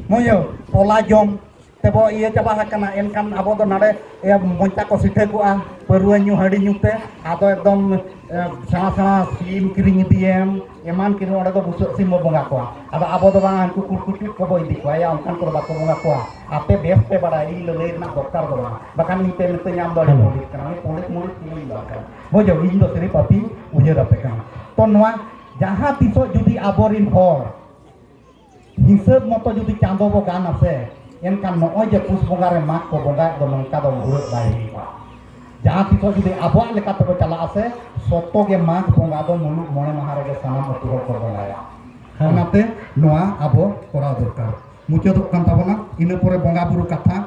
ᱢᱚᱭᱚ ᱯᱚᱞᱟ ᱡᱚᱢ ᱛᱮᱵᱚ ᱤᱭᱟᱹ ᱪᱟᱵᱟ ᱟᱠᱟᱱᱟ ᱮᱱᱠᱷᱟᱱ ᱟᱵᱚ ᱫᱚ ᱱᱟᱰᱮ ᱢᱚᱧᱪᱟ ᱠᱚ ᱥᱤᱴᱷᱟᱹ ᱠᱚᱜᱼᱟ ᱯᱟᱹᱨᱣᱟᱹ ᱧᱩ ᱦᱟᱺᱰᱤ ᱧᱩ ᱛᱮ ᱟᱫᱚ ᱮᱠᱫᱚᱢ ᱥᱮᱬᱟ ᱥᱮᱬᱟ ᱥᱤᱢ ᱠᱤᱨᱤᱧ ᱤᱫᱤᱭᱮᱢ ᱮᱢᱟᱱ ᱠᱤᱨᱤᱧ ᱚᱸᱰᱮ ᱫᱚ ᱵᱩᱥᱟᱹᱜ ᱥᱤᱢ ᱵᱚ ᱵᱚᱸᱜᱟ ᱠᱚᱣᱟ ᱟᱫᱚ ᱟᱵᱚ ᱫᱚ ᱵᱟᱝ ᱩᱱᱠᱩ ᱠᱩᱲᱠᱩᱴᱤ ᱠᱚᱵᱚ ᱤᱫᱤ ᱠᱚᱣᱟ ᱭᱟ ᱚᱱᱠᱟᱱ ᱠᱚᱫᱚ ᱵᱟᱠᱚ ᱵᱚᱸᱜᱟ ᱠᱚᱣᱟ ᱟᱯᱮ ᱵᱮᱥ ᱯᱮ ᱵᱟᱲᱟᱭ ᱤᱧ ᱞᱟᱹᱞᱟᱹᱭ ᱨᱮᱱᱟᱜ ᱫᱚᱨᱠᱟᱨ ᱫᱚ ᱵᱟᱝ ᱵᱟᱠᱷᱟᱱ ᱤᱧ ᱯᱮ ᱢᱤᱛᱟᱹᱧ ᱟᱢ ᱫᱚ ᱟᱹᱰᱤ ᱯᱚᱸᱰᱤᱛ ᱠᱟᱱᱟ ᱩᱱᱤ ᱯᱚᱸᱰᱤᱛ ᱢᱩᱲᱤᱛ ᱤᱧ ᱫᱚ ᱠᱟᱱᱟ ᱵᱩᱡᱷᱟᱹᱣ ᱤᱧ ᱫᱚ ᱥᱤᱨᱤᱯ ᱟᱯᱮ ᱩᱭᱦᱟᱹᱨ ᱟᱯᱮ ᱠᱟᱱᱟ ᱛᱚ ᱱᱚᱣᱟ ᱡᱟᱦᱟᱸ ᱛᱤᱥᱚᱜ ᱡᱩᱫᱤ ᱟᱵᱚᱨᱮᱱ ᱦᱚᱲ ᱦᱤᱥᱟᱹᱵ ᱢᱚᱛᱚ ᱡᱩᱫᱤ ᱪᱟᱸᱫᱚ ᱵᱚ ᱜᱟᱱ ᱟᱥᱮ ᱮᱱᱠᱷᱟᱱ ᱱᱚᱜᱼᱚᱭ ᱡᱮ ᱯᱩᱥ ᱵᱚᱸᱜᱟ ᱨᱮ ᱢᱟᱜᱽ ᱠᱚ ᱵᱚᱸᱜᱟᱭᱮᱫ ᱫᱚ ᱱᱚᱝᱠᱟ ᱫᱚ ᱵᱷᱩᱲᱟᱹᱜ ᱵᱟᱭ ᱦᱩᱭᱩᱜᱼᱟ ᱡᱟᱦᱟᱸ ᱛᱤᱥᱚᱜ ᱡᱩᱫᱤ ᱟᱵᱚᱣᱟᱜ ᱞᱮᱠᱟ ᱛᱮᱵᱚ ᱪᱟᱞᱟᱜ ᱟᱥᱮ ᱥᱚᱛᱚ ᱜᱮ ᱢᱟᱜᱽ ᱵᱚᱸᱜᱟ ᱫᱚ ᱢᱩᱞᱩᱜ ᱢᱚᱬᱮ ᱢᱟᱦᱟ ᱨᱮᱜᱮ ᱥᱟᱱᱟᱢ ᱟᱹᱛᱩ ᱦᱚᱲ ᱠᱚ ᱵᱚᱸᱜᱟᱭᱟ ᱚᱱᱟᱛᱮ ᱱᱚᱣᱟ ᱟᱵᱚ ᱠᱚᱨᱟᱣ ᱫᱚᱨᱠᱟর ᱢᱩᱪᱟᱹᱫᱚᱜ ᱠᱟᱱ ᱛᱟᱵᱚᱱᱟ ᱤᱱᱟᱹ ᱯᱚᱨᱮ ᱵᱚᱸᱜᱟ ᱵᱩᱨᱩ ᱠᱟᱛᱷᱟ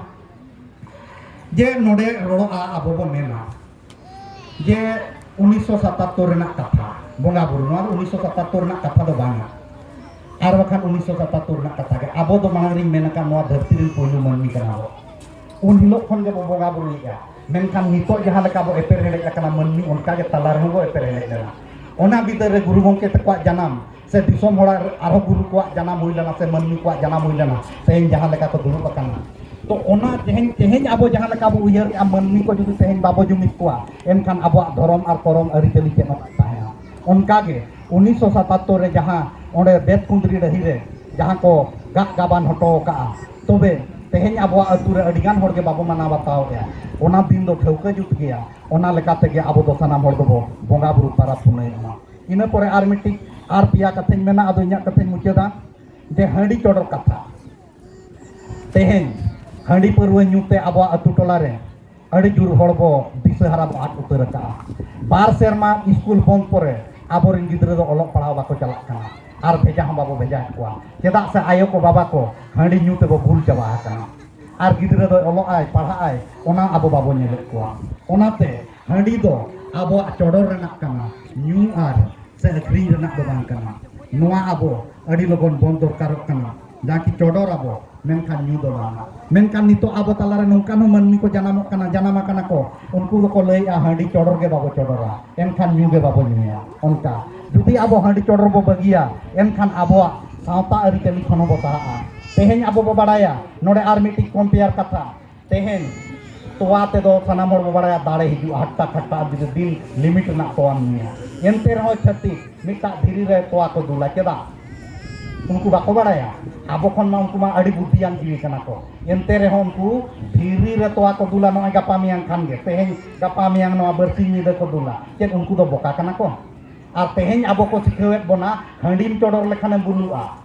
ᱡᱮ ᱱᱚᱰᱮ ᱨᱚᱲᱚᱜᱼᱟ ᱟᱵᱚ ᱵᱚ ᱢᱮᱱᱟ ᱡᱮ ᱩᱱᱤᱥᱥᱚ ᱥᱟᱛᱟᱛᱛᱳᱨ ᱨᱮᱱᱟᱜ ᱠᱟᱛᱷᱟ ᱵᱚᱸᱜᱟ ᱵᱩᱨᱩ ᱱᱚᱣᱟ ᱫᱚ ᱩᱱᱤᱥᱥᱚ ᱥᱟᱛᱟᱛᱛᱳᱨ ᱨᱮᱱᱟᱜ ᱠᱟᱛᱷᱟ ᱫᱚ ᱵᱟᱝᱟ ᱟᱨ ᱵᱟᱠᱷᱟᱱ ᱩᱱᱤᱥᱥᱚ ᱥᱟᱛᱟᱛᱛᱳᱨ ᱨᱮᱱᱟᱜ ᱠᱟᱛᱷᱟ ᱜᱮ ᱟᱵᱚ ᱫᱚ ᱢᱟᱲᱟᱝ ᱨᱤᱧ ᱢᱮᱱ ᱟᱠᱟᱫ ᱱᱚᱣᱟ ᱫᱷᱟᱹᱨᱛᱤ ᱨᱮᱱ ᱯᱳᱭᱞᱳ ᱢᱟᱹᱱᱢᱤ ᱠᱟᱱᱟ ᱵᱚ ᱩᱱ ᱦᱤᱞᱳᱜ ᱠᱷᱚᱱ ᱜᱮᱵᱚ ᱵᱚᱸᱜᱟ ᱵᱩᱨᱩᱭᱮᱫᱼᱟ ᱢᱮᱱᱠᱷᱟᱱ ᱱᱤᱛᱚᱜ ᱡᱟᱦᱟᱸ ᱞᱮᱠᱟ ᱵᱚ ᱮᱯᱮᱨ ᱦᱮᱰᱮᱡ ᱟᱠᱟᱱᱟ ᱢᱟᱹᱱᱢᱤ ᱚᱱᱠᱟ ᱜᱮ ᱛᱟᱞᱟ ᱨᱮᱦᱚᱸ ᱵᱚ ᱮᱯᱮᱨ ᱦᱮᱰᱮᱡ ᱞᱮᱱᱟ ᱚᱱᱟ ᱵᱤᱫᱟᱹᱞ ᱨᱮ ᱜᱩᱨᱩ ᱜᱚᱢᱠᱮ ᱛᱟᱠᱚᱣᱟᱜ ᱡᱟᱱᱟᱢ ᱥᱮ ᱫᱤᱥᱚᱢ ᱦᱚᱲᱟᱜ ᱟᱨᱦᱚᱸ ᱜᱩᱨᱩ ᱠᱚᱣᱟᱜ ᱡᱟᱱᱟᱢ ᱦᱩᱭ ᱞᱮᱱᱟ ᱥᱮ ᱢᱟᱹᱱᱢᱤ ᱠᱚᱣᱟᱜ ᱡᱟᱱᱟᱢ ᱦᱩᱭ ᱞᱮᱱᱟ ᱛᱮᱦᱮᱧ ᱡᱟᱦᱟᱸ ᱞᱮᱠᱟ ᱠᱚ ᱫᱩᱲᱩᱵ ᱟᱠᱟᱱᱟ ᱛᱚ ᱚᱱᱟ ᱛᱮᱦᱮᱧ ᱛᱮᱦᱮᱧ ᱟᱵᱚ ᱡᱟᱦᱟᱸ ᱞᱮᱠᱟ ᱵᱚ ᱩᱭᱦᱟᱹᱨ ᱠᱮᱜᱼᱟ ᱢᱟᱹᱱᱢᱤ ᱠᱚ ᱡᱩᱫᱤ ᱛᱮᱦᱮᱧ ᱵᱟᱵᱚ ᱡᱩᱢᱤᱫ ᱠᱚᱣᱟ ᱮᱱᱠᱷᱟᱱ ᱟᱵᱚᱣᱟᱜ ᱫᱷᱚᱨᱚᱢ ᱟᱨ ᱠᱚᱨᱚᱢ ᱟᱹᱨᱤᱪᱟᱹᱞᱤ ᱪᱮᱫ ᱦᱚᱸ ᱛᱟᱦᱮᱱᱟ ᱚᱱᱠᱟᱜᱮ ᱩᱱᱤᱥᱥᱚ ᱥᱟᱛᱟᱛᱛᱳᱨ ᱨᱮ ᱡᱟᱦᱟᱸ ᱚᱸᱰᱮ ᱵᱮᱫ ᱠᱩᱸᱫᱽᱨᱤ ᱰᱟᱹᱦᱤ ᱨᱮ ᱡᱟᱦᱟᱸ ᱠᱚ ᱜᱟᱜ ᱜᱟᱵᱟᱱ ᱦᱚᱴᱚ ᱟᱠᱟᱜᱼᱟ ᱛᱚᱵᱮ ᱛᱮᱦᱮᱧ ᱟᱵᱚᱣᱟᱜ ᱟᱹᱛᱩ ᱨᱮ ᱟᱹᱰᱤᱜᱟᱱ ᱦᱚᱲᱜᱮ ᱵᱟᱵᱚ ᱢᱟᱱᱟᱣ ᱵᱟᱛᱟᱣᱮᱜᱼᱟ ᱚᱱᱟ ᱫᱤᱱ ᱫᱚ ᱴᱷᱟᱹᱣᱠᱟᱹ ᱡᱩᱛ ᱜᱮᱭᱟ ᱚᱱᱟ ᱞᱮᱠᱟ ᱛᱮᱜᱮ ᱟᱵᱚ ᱫᱚ ᱥᱟᱱᱟᱢ ᱦᱚᱲ ᱫᱚᱵᱚ ᱵᱚᱸᱜᱟ ᱵᱩᱨᱩ ᱯᱟᱨᱟᱵᱽ ᱯᱩᱱᱟᱹᱭᱚᱜᱼᱟ ᱤᱱᱟᱹ ᱯᱚᱨᱮ ᱟᱨ ᱢᱤᱫᱴᱤᱡ ᱟᱨ ᱯᱮᱭᱟ ᱠᱟᱛᱷᱟᱧ ᱢᱮᱱᱟ ᱟᱫᱚ ᱤᱧᱟᱹᱜ ᱠᱟᱛᱷᱟᱧ ᱢᱩᱪᱟᱹᱫᱟ ᱡᱮ ᱦᱟᱺᱰᱤ ᱪᱚᱰᱚᱨ ᱠᱟᱛᱷᱟ ᱛᱮᱦᱮᱧ ᱦᱟᱺᱰᱤ ᱯᱟᱹᱨᱣᱟᱹ ᱧᱩᱛᱮ ᱟᱵᱚᱣᱟᱜ ᱟᱹᱛᱩ ᱴᱚᱞᱟ ᱨᱮ ᱟᱹᱰᱤ ᱡᱳᱨ ᱦᱚᱲ ᱵᱚ ᱫᱤᱥᱟᱹᱦᱟᱨᱟ ᱵᱚ ᱟᱫ ᱩᱛᱟᱹᱨ ᱟᱠᱟᱜᱼᱟ ᱵᱟᱨ ᱥᱮᱨᱢᱟ ᱥᱠᱩᱞ ᱵᱚᱱᱫ ᱯᱚᱨᱮ ᱟᱵᱚᱨᱮᱱ ᱜᱤᱫᱽᱨᱟᱹ ᱫᱚ ᱚᱞᱚᱜ ᱯᱟᱲᱦᱟᱣ ᱵᱟᱠᱚ ᱪᱟᱞᱟᱜ ᱠᱟᱱᱟ ᱟᱨ ᱵᱷᱮᱡᱟ ᱦᱚᱸ ᱵᱟᱵᱚ ᱵᱷᱮᱡᱟᱭᱮᱫ ᱠᱚᱣᱟ ᱪᱮᱫᱟᱜ ᱥᱮ ᱟᱭᱳ ᱠᱚ ᱵᱟᱵᱟ ᱠᱚ ᱦᱟᱺᱰᱤ ᱧᱩ ᱛᱮᱵᱚ ᱵᱷᱩᱞ ᱪᱟᱵᱟ ᱟᱠᱟᱱᱟ ᱟᱨ ᱜᱤᱫᱽᱨᱟᱹ ᱫᱚ ᱚᱞᱚᱜᱼᱟᱭ ᱯᱟᱲᱦᱟᱜᱼᱟᱭ ᱚᱱᱟ ᱟᱵᱚ ᱵᱟᱵᱚ ᱧᱮᱞᱮᱫ ᱠᱚᱣᱟ ᱚᱱᱟᱛᱮ ᱦᱟᱺᱰᱤ ᱫᱚ ᱟᱵᱚᱣᱟᱜ ᱪᱚᱰᱚᱨ ᱨᱮᱱᱟᱜ ᱠᱟᱱᱟ ᱧᱩ ᱟᱨ ᱥᱮ ᱟᱹᱠᱷᱨᱤᱧ ᱨᱮᱱᱟᱜ ᱫᱚ ᱵᱟᱝ ᱠᱟᱱᱟ ᱱᱚᱣᱟ ᱟᱵᱚ ᱟᱹᱰᱤ ᱞᱚᱜᱚᱱ ᱵᱚᱱ ᱫᱚᱨᱠᱟᱨᱚᱜ ᱠᱟᱱᱟ ᱡᱟᱠᱤ ᱪᱚᱰᱚᱨ ᱟᱵᱚ ᱢᱮᱱᱠᱷᱟᱱ ᱧᱩ ᱫᱚ ᱵᱟᱝ ᱢᱮᱱᱠᱷᱟᱱ ᱱᱤᱛᱚᱜ ᱟᱵᱚ ᱛᱟᱞᱟᱨᱮ ᱱᱚᱝᱠᱟᱱ ᱦᱚᱸ ᱢᱟᱹᱱᱢᱤ ᱠᱚ ᱡᱟᱱᱟᱢᱚᱜ ᱠᱟᱱᱟ ᱡᱟᱱᱟᱢ ᱟᱠᱟᱱᱟ ᱠᱚ ᱩᱱᱠᱩ ᱫᱚᱠᱚ ᱞᱟᱹᱭᱮᱜᱼᱟ ᱦᱟᱺᱰᱤ ᱪᱚᱰᱚᱨ ᱜᱮ ᱵᱟᱵᱚ ᱪᱚᱰᱚᱨᱟ ᱮᱱᱠᱷᱟᱱ ᱧᱩ ᱜᱮ ᱵᱟᱵᱚ ᱧᱩᱭᱟ ᱚᱱᱠᱟ ᱡᱩᱫᱤ ᱟᱵᱚ ᱦᱟᱺᱰᱤ ᱪᱚᱰᱚᱨ ᱵᱚ ᱵᱟᱹᱜᱤᱭᱟ ᱮᱱᱠᱷᱟᱱ ᱟᱵᱚᱣᱟᱜ ᱥᱟᱶᱛᱟ ᱟᱹᱨᱤᱪᱟᱹᱞᱤ ᱠᱷᱚᱱ ᱦᱚᱸᱵᱚ ᱥᱟᱦᱟᱜᱼᱟ ᱛᱮᱦᱮᱧ ᱟᱵᱚ ᱵᱚ ᱵᱟᱲᱟᱭᱟ ᱱᱚᱰᱮ ᱟᱨ ᱢᱤᱫᱴᱤᱡ ᱠᱚᱢᱯᱮᱭᱟᱨ ᱠᱟᱛᱷᱟ ᱛᱮᱦᱮᱧ ᱛᱚᱣᱟ ᱛᱮᱫᱚ ᱥᱟᱱᱟᱢ ᱦᱚᱲ ᱵᱚ ᱵᱟᱲᱟᱭᱟ ᱫᱟᱲᱮ ᱦᱤᱡᱩᱜᱼᱟ ᱦᱟᱴᱴᱟ ᱠᱷᱟᱴᱴᱟ ᱡᱩᱫᱤ ᱫᱤᱱ ᱞᱤᱢᱤᱴ ᱨᱮᱱᱟᱜ ᱛᱚᱣᱟᱢ ᱧᱩᱭᱟ ᱮᱱᱛᱮ ᱨᱮᱦᱚᱸ ᱪᱷᱟᱹᱛᱤᱠ ᱢᱤᱫᱴᱟᱜ ᱫᱷᱤᱨᱤ ᱨᱮ ᱛᱚᱣᱟ ᱠᱚ ᱫᱩᱞᱟ ᱪᱮᱫᱟᱜ ᱩᱱᱠᱩ ᱵᱟᱠᱚ ᱵᱟᱲᱟᱭᱟ ᱟᱵᱚ ᱠᱷᱚᱱ ᱢᱟ ᱩᱱᱠᱩ ᱢᱟ ᱟᱹᱰᱤ ᱵᱩᱫᱽᱫᱷᱤᱭᱟᱱ ᱡᱤᱣᱤ ᱠᱟᱱᱟ ᱠᱚ ᱮᱱᱛᱮ ᱨᱮᱦᱚᱸ ᱩᱱᱠᱩ ᱫᱷᱤᱨᱤ ᱨᱮ ᱛᱚᱣᱟ ᱠᱚ ᱫᱩᱞᱟ ᱱᱚᱜᱼᱚᱭ ᱜᱟᱯᱟ ᱢᱮᱭᱟᱝ ᱠᱷᱟᱱ ᱜᱮ ᱛᱮᱦᱮᱧ ᱜᱟᱯᱟ ᱢᱮᱭᱟᱝ ᱱᱚᱣᱟ ᱵᱟᱹᱨᱥᱤᱧ ᱧᱤᱫᱟᱹ ᱠᱚ ᱫᱩᱞᱟ ᱪᱮᱫ ᱩᱱᱠᱩ ᱫᱚ ᱵᱚᱠᱟ ᱠᱟᱱᱟ ᱠᱚ ᱟᱨ ᱛᱮᱦᱮᱧ ᱟᱵᱚ ᱠᱚ ᱥᱤᱠᱷᱟᱹᱣᱮᱫ ᱵᱚᱱᱟ ᱦᱟᱺᱰᱤᱢ ᱪᱚᱰᱚᱨ ᱞᱮᱠᱷᱟᱱᱮᱢ ᱵᱩᱞᱩᱜᱼᱟ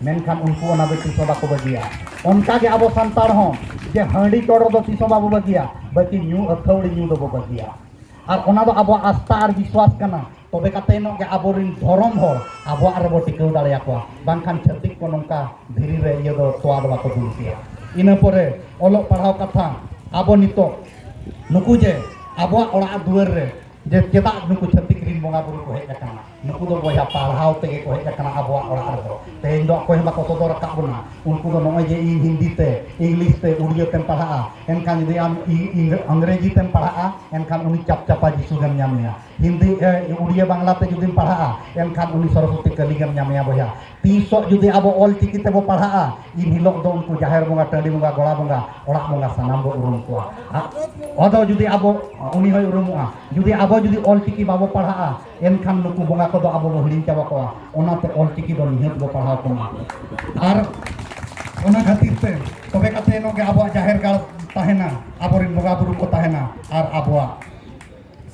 ᱢᱮᱱᱠᱷᱟᱱ ᱩᱱᱠᱩ ᱚᱱᱟ ᱫᱚ ᱛᱤᱥ ᱦᱚᱸ ᱵᱟᱠᱚ ᱵᱟᱹᱜᱤᱭᱟ ᱚᱱᱠᱟ ᱜᱮ ᱟᱵᱚ ᱥᱟᱱᱛᱟᱲ ᱦᱚᱸ ᱡᱮ ᱦᱟᱺᱰᱤ ᱪᱚᱰᱚᱨ ᱫᱚ ᱛᱤᱥ ᱦᱚᱸ ᱵᱟᱵᱚ ᱵᱟᱹᱜᱤᱭᱟ ᱵᱟᱹᱠᱤ ᱧᱩ ᱟᱹᱛᱷᱟᱹᱣᱲᱤ ᱧᱩ ᱫᱚᱵᱚ ᱵᱟᱹᱜᱤᱭᱟ ᱟᱨ ᱚᱱᱟ ᱫᱚ ᱟᱵᱚᱣᱟᱜ ᱟᱥᱛᱟ ᱟᱨ ᱵᱤᱥᱣᱟᱥ ᱠᱟᱱᱟ ᱛᱚᱵᱮ ᱠᱟᱛᱮ ᱱᱚᱜ ᱜᱮ ᱟᱵᱚᱨᱤᱱ ᱫᱷᱚᱨᱚᱢ ᱦᱚᱲ ᱟᱵᱚᱣᱟᱜ ᱨᱮᱵᱚ ᱴᱤᱠᱟᱹᱣ ᱫᱟᱲᱮᱭᱟ ᱠᱚᱣᱟ ᱵᱟᱝᱠᱷᱟᱱ ᱪᱷᱟᱹᱛᱤᱠ ᱠᱚ ᱱᱚᱝᱠᱟ ᱫᱷᱤᱨᱤ ᱨᱮ ᱤᱭᱟᱹ ᱫᱚ ᱛᱚᱣᱟ ᱫᱚ ᱵᱟᱠᱚ ᱫᱩᱞ ᱠᱮᱭᱟ ᱤᱱᱟᱹ ᱯᱚᱨᱮ ᱚᱞᱚᱜ ᱯᱟᱲᱦᱟᱣ ᱠᱟᱛᱷᱟ ᱟᱵᱚ ᱱᱤᱛᱚᱜ ᱱᱩᱠᱩ ᱡᱮ ᱟᱵᱚᱣᱟᱜ ᱚᱲᱟᱜ ᱫᱩᱣᱟᱹᱨ ᱨᱮ ᱡᱮ ᱪᱮᱫᱟᱜ ᱱᱩᱠᱩ ᱪᱷᱟᱹᱛᱤᱠ ᱨᱤᱱ ᱵᱚᱸᱜᱟ ᱵᱩᱨᱩ ᱠᱚ ᱦᱮᱡ ᱟᱠᱟᱱᱟ ᱱᱩᱠᱩ ᱫᱚ ᱵᱚᱭᱦᱟ ᱯᱟᱲᱦᱟᱣ ᱛᱮᱜᱮ ᱠᱚ ᱦᱮᱡ ᱟᱠᱟᱱᱟ ᱟᱵᱚᱣᱟᱜ ᱚᱲᱟᱜ ᱨᱮᱫᱚ ᱛᱮᱦᱮᱧ ᱫᱚ ᱚᱠᱚᱭ ᱦᱚᱸ ᱵᱟᱠᱚ ᱥᱚᱫᱚᱨ ᱟᱠᱟᱫ ᱵᱚᱱᱟ ᱩᱱᱠᱩ ᱫᱚ ᱱᱚᱜᱼᱚᱭ ᱡᱮ ᱤᱧ ᱦᱤᱱᱫᱤ ᱛᱮ ᱤᱝᱞᱤᱥ ᱛᱮ ᱩᱲᱤᱭᱟᱹ ᱛᱮᱢ ᱯᱟᱲᱦᱟᱜᱼᱟ ᱮᱱᱠᱷᱟᱱ ᱡᱩᱫᱤ ᱟᱢ ᱤᱝᱨᱮᱡᱤ ᱛᱮᱢ ᱯᱟᱲᱦᱟᱜᱼᱟ ᱮᱱᱠᱷᱟᱱ ᱩᱱᱤ ᱪᱟᱯ ᱪᱟᱯᱟ ᱡᱤᱥᱩ ᱜᱮᱢ ᱧᱟᱢᱮᱭᱟ ᱦᱤᱱᱫᱤ ᱩᱲᱤᱭᱟᱹ ᱵᱟᱝᱞᱟ ᱛᱮ ᱡᱩᱫᱤᱢ ᱯᱟᱲᱦᱟᱜᱼᱟ ᱮᱱᱠᱷᱟᱱ ᱩᱱᱤ ᱥᱚᱨᱚᱥᱚᱛᱤ ᱠᱟᱹᱞᱤ ᱜᱮᱢ ᱧᱟᱢᱮᱭᱟ ᱵᱚᱭᱦᱟ ᱛᱤᱥᱚᱜ ᱡᱩᱫᱤ ᱟᱵᱚ ᱚᱞ ᱪᱤᱠᱤ ᱛᱮᱵᱚ ᱯᱟᱲᱦᱟᱜᱼᱟ ᱤᱱ ᱦᱤᱞᱳᱜ ᱫᱚ ᱩᱱᱠᱩ ᱡᱟᱦᱮᱨ ᱵᱚᱸᱜᱟ ᱴᱟᱺᱰᱤ ᱵᱚᱸᱜᱟ ᱜᱚᱲᱟ ᱵᱚᱸᱜᱟ ᱚᱲᱟᱜ ᱵᱚᱸᱜᱟ ᱥᱟᱱᱟᱢ ᱵᱚ ᱩᱨᱩᱢ ᱠᱚᱣᱟ ᱟᱫᱚ ᱡᱩᱫᱤ ᱟᱵᱚ ᱩᱱᱤ ᱦᱚᱸᱭ ᱩᱨᱩᱢᱚᱜᱼᱟ ᱡᱩᱫᱤ ᱟᱵᱚ ᱡᱩᱫᱤ ᱚᱞ ᱪᱤᱠᱤ ᱵᱟᱵᱚ ᱯᱟᱲᱦᱟᱜᱼᱟ ᱮᱱᱠᱷᱟᱱ ᱱᱩᱠᱩ ᱵᱚᱸᱜᱟ ᱠᱚᱫᱚ ᱟᱵᱚ ᱵᱚ ᱦᱤᱲᱤᱧ ᱪᱟᱵᱟ ᱠᱚᱣᱟ ᱚᱱᱟᱛᱮ ᱚᱞᱪᱤᱠᱤ ᱫᱚ ᱱᱤᱦᱟᱹᱛ ᱵᱚ ᱯᱟᱲᱦᱟᱣ ᱠᱚᱢᱟ ᱟᱨ ᱚᱱᱟ ᱠᱷᱟᱹᱛᱤᱨ ᱛᱮ ᱛᱚᱵᱮ ᱠᱟᱛᱮ ᱱᱚᱜ ᱜᱮ ᱟᱵᱚᱣᱟᱜ ᱡᱟᱦᱮᱨ ᱜᱟᱲ ᱛᱟᱦᱮᱱᱟ ᱟᱵᱚᱨᱮᱱ ᱵᱚᱸᱜᱟ ᱵᱩᱨᱩ ᱠᱚ ᱛᱟᱦᱮᱱᱟ ᱟᱨ ᱟᱵᱚᱣᱟᱜ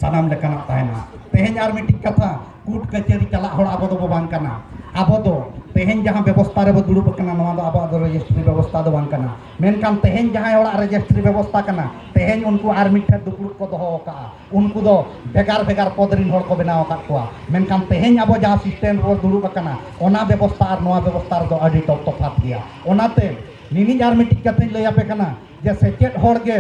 ᱥᱟᱱᱟᱢ ᱞᱮᱠᱟᱱᱟᱜ ᱛᱟᱦᱮᱱᱟ ᱛᱮᱦᱮᱧ ᱟᱨ ᱢᱤᱫᱴᱤᱡ ᱠᱟᱛᱷᱟ ᱠᱩᱴ ᱠᱟᱹᱪᱟᱹᱨᱤ ᱪᱟᱞᱟᱜ ᱦᱚᱲ ᱟᱵᱚ ᱫᱚᱵᱚ ᱵᱟᱝ ᱠᱟᱱᱟ ᱟᱵᱚ ᱫᱚ ᱛᱮᱦᱮᱧ ᱡᱟᱦᱟᱸ ᱵᱮᱵᱚᱥᱛᱷᱟ ᱨᱮᱵᱚ ᱫᱩᱲᱩᱵ ᱟᱠᱟᱱᱟ ᱱᱚᱣᱟ ᱫᱚ ᱟᱵᱚᱣᱟᱜ ᱫᱚ ᱨᱮᱡᱤᱥᱴᱨᱤ ᱵᱮᱵᱚᱥᱛᱷᱟ ᱫᱚ ᱵᱟᱝ ᱠᱟᱱᱟ ᱢᱮᱱᱠᱷᱟᱱ ᱛᱮᱦᱮᱧ ᱡᱟᱦᱟᱸᱭ ᱦᱚᱲᱟᱜ ᱨᱮᱡᱤᱥᱴᱨᱤ ᱵᱮᱵᱚᱥᱛᱷᱟ ᱠᱟᱱᱟ ᱛᱮᱦᱮᱧ ᱩᱱᱠᱩ ᱟᱨ ᱢᱤᱫ ᱴᱷᱮᱱ ᱫᱩᱯᱲᱩᱵ ᱠᱚ ᱫᱚᱦᱚ ᱟᱠᱟᱫᱼᱟ ᱩᱱᱠᱩ ᱫᱚ ᱵᱷᱮᱜᱟᱨ ᱵᱷᱮᱜᱟᱨ ᱯᱚᱫ ᱨᱤᱱ ᱦᱚᱲ ᱠᱚ ᱵᱮᱱᱟᱣ ᱟᱠᱟᱫ ᱠᱚᱣᱟ ᱢᱮᱱᱠᱷᱟᱱ ᱛᱮᱦᱮᱧ ᱟᱵᱚ ᱡᱟᱦᱟᱸ ᱥᱤᱥᱴᱮᱢ ᱨᱮᱵᱚ ᱫᱩᱲᱩᱵ ᱟᱠᱟᱱᱟ ᱚᱱᱟ ᱵᱮᱵᱚᱥᱛᱷᱟ ᱟᱨ ᱱᱚᱣᱟ ᱵᱮᱵᱚᱥᱛᱷᱟ ᱨᱮᱫᱚ ᱟᱹᱰᱤ ᱫᱚ ᱛᱚᱯᱷᱟᱛ ᱜᱮᱭᱟ ᱚᱱᱟᱛᱮ ᱱᱤᱱᱤᱡ ᱟᱨ ᱢᱤᱫᱴᱤᱡ ᱠᱟᱛᱷᱟᱧ ᱞᱟᱹᱭ ᱟᱯᱮ ᱠᱟᱱᱟ ᱡᱮ ᱥᱮᱪᱮᱫ ᱦᱚᱲ ᱜᱮ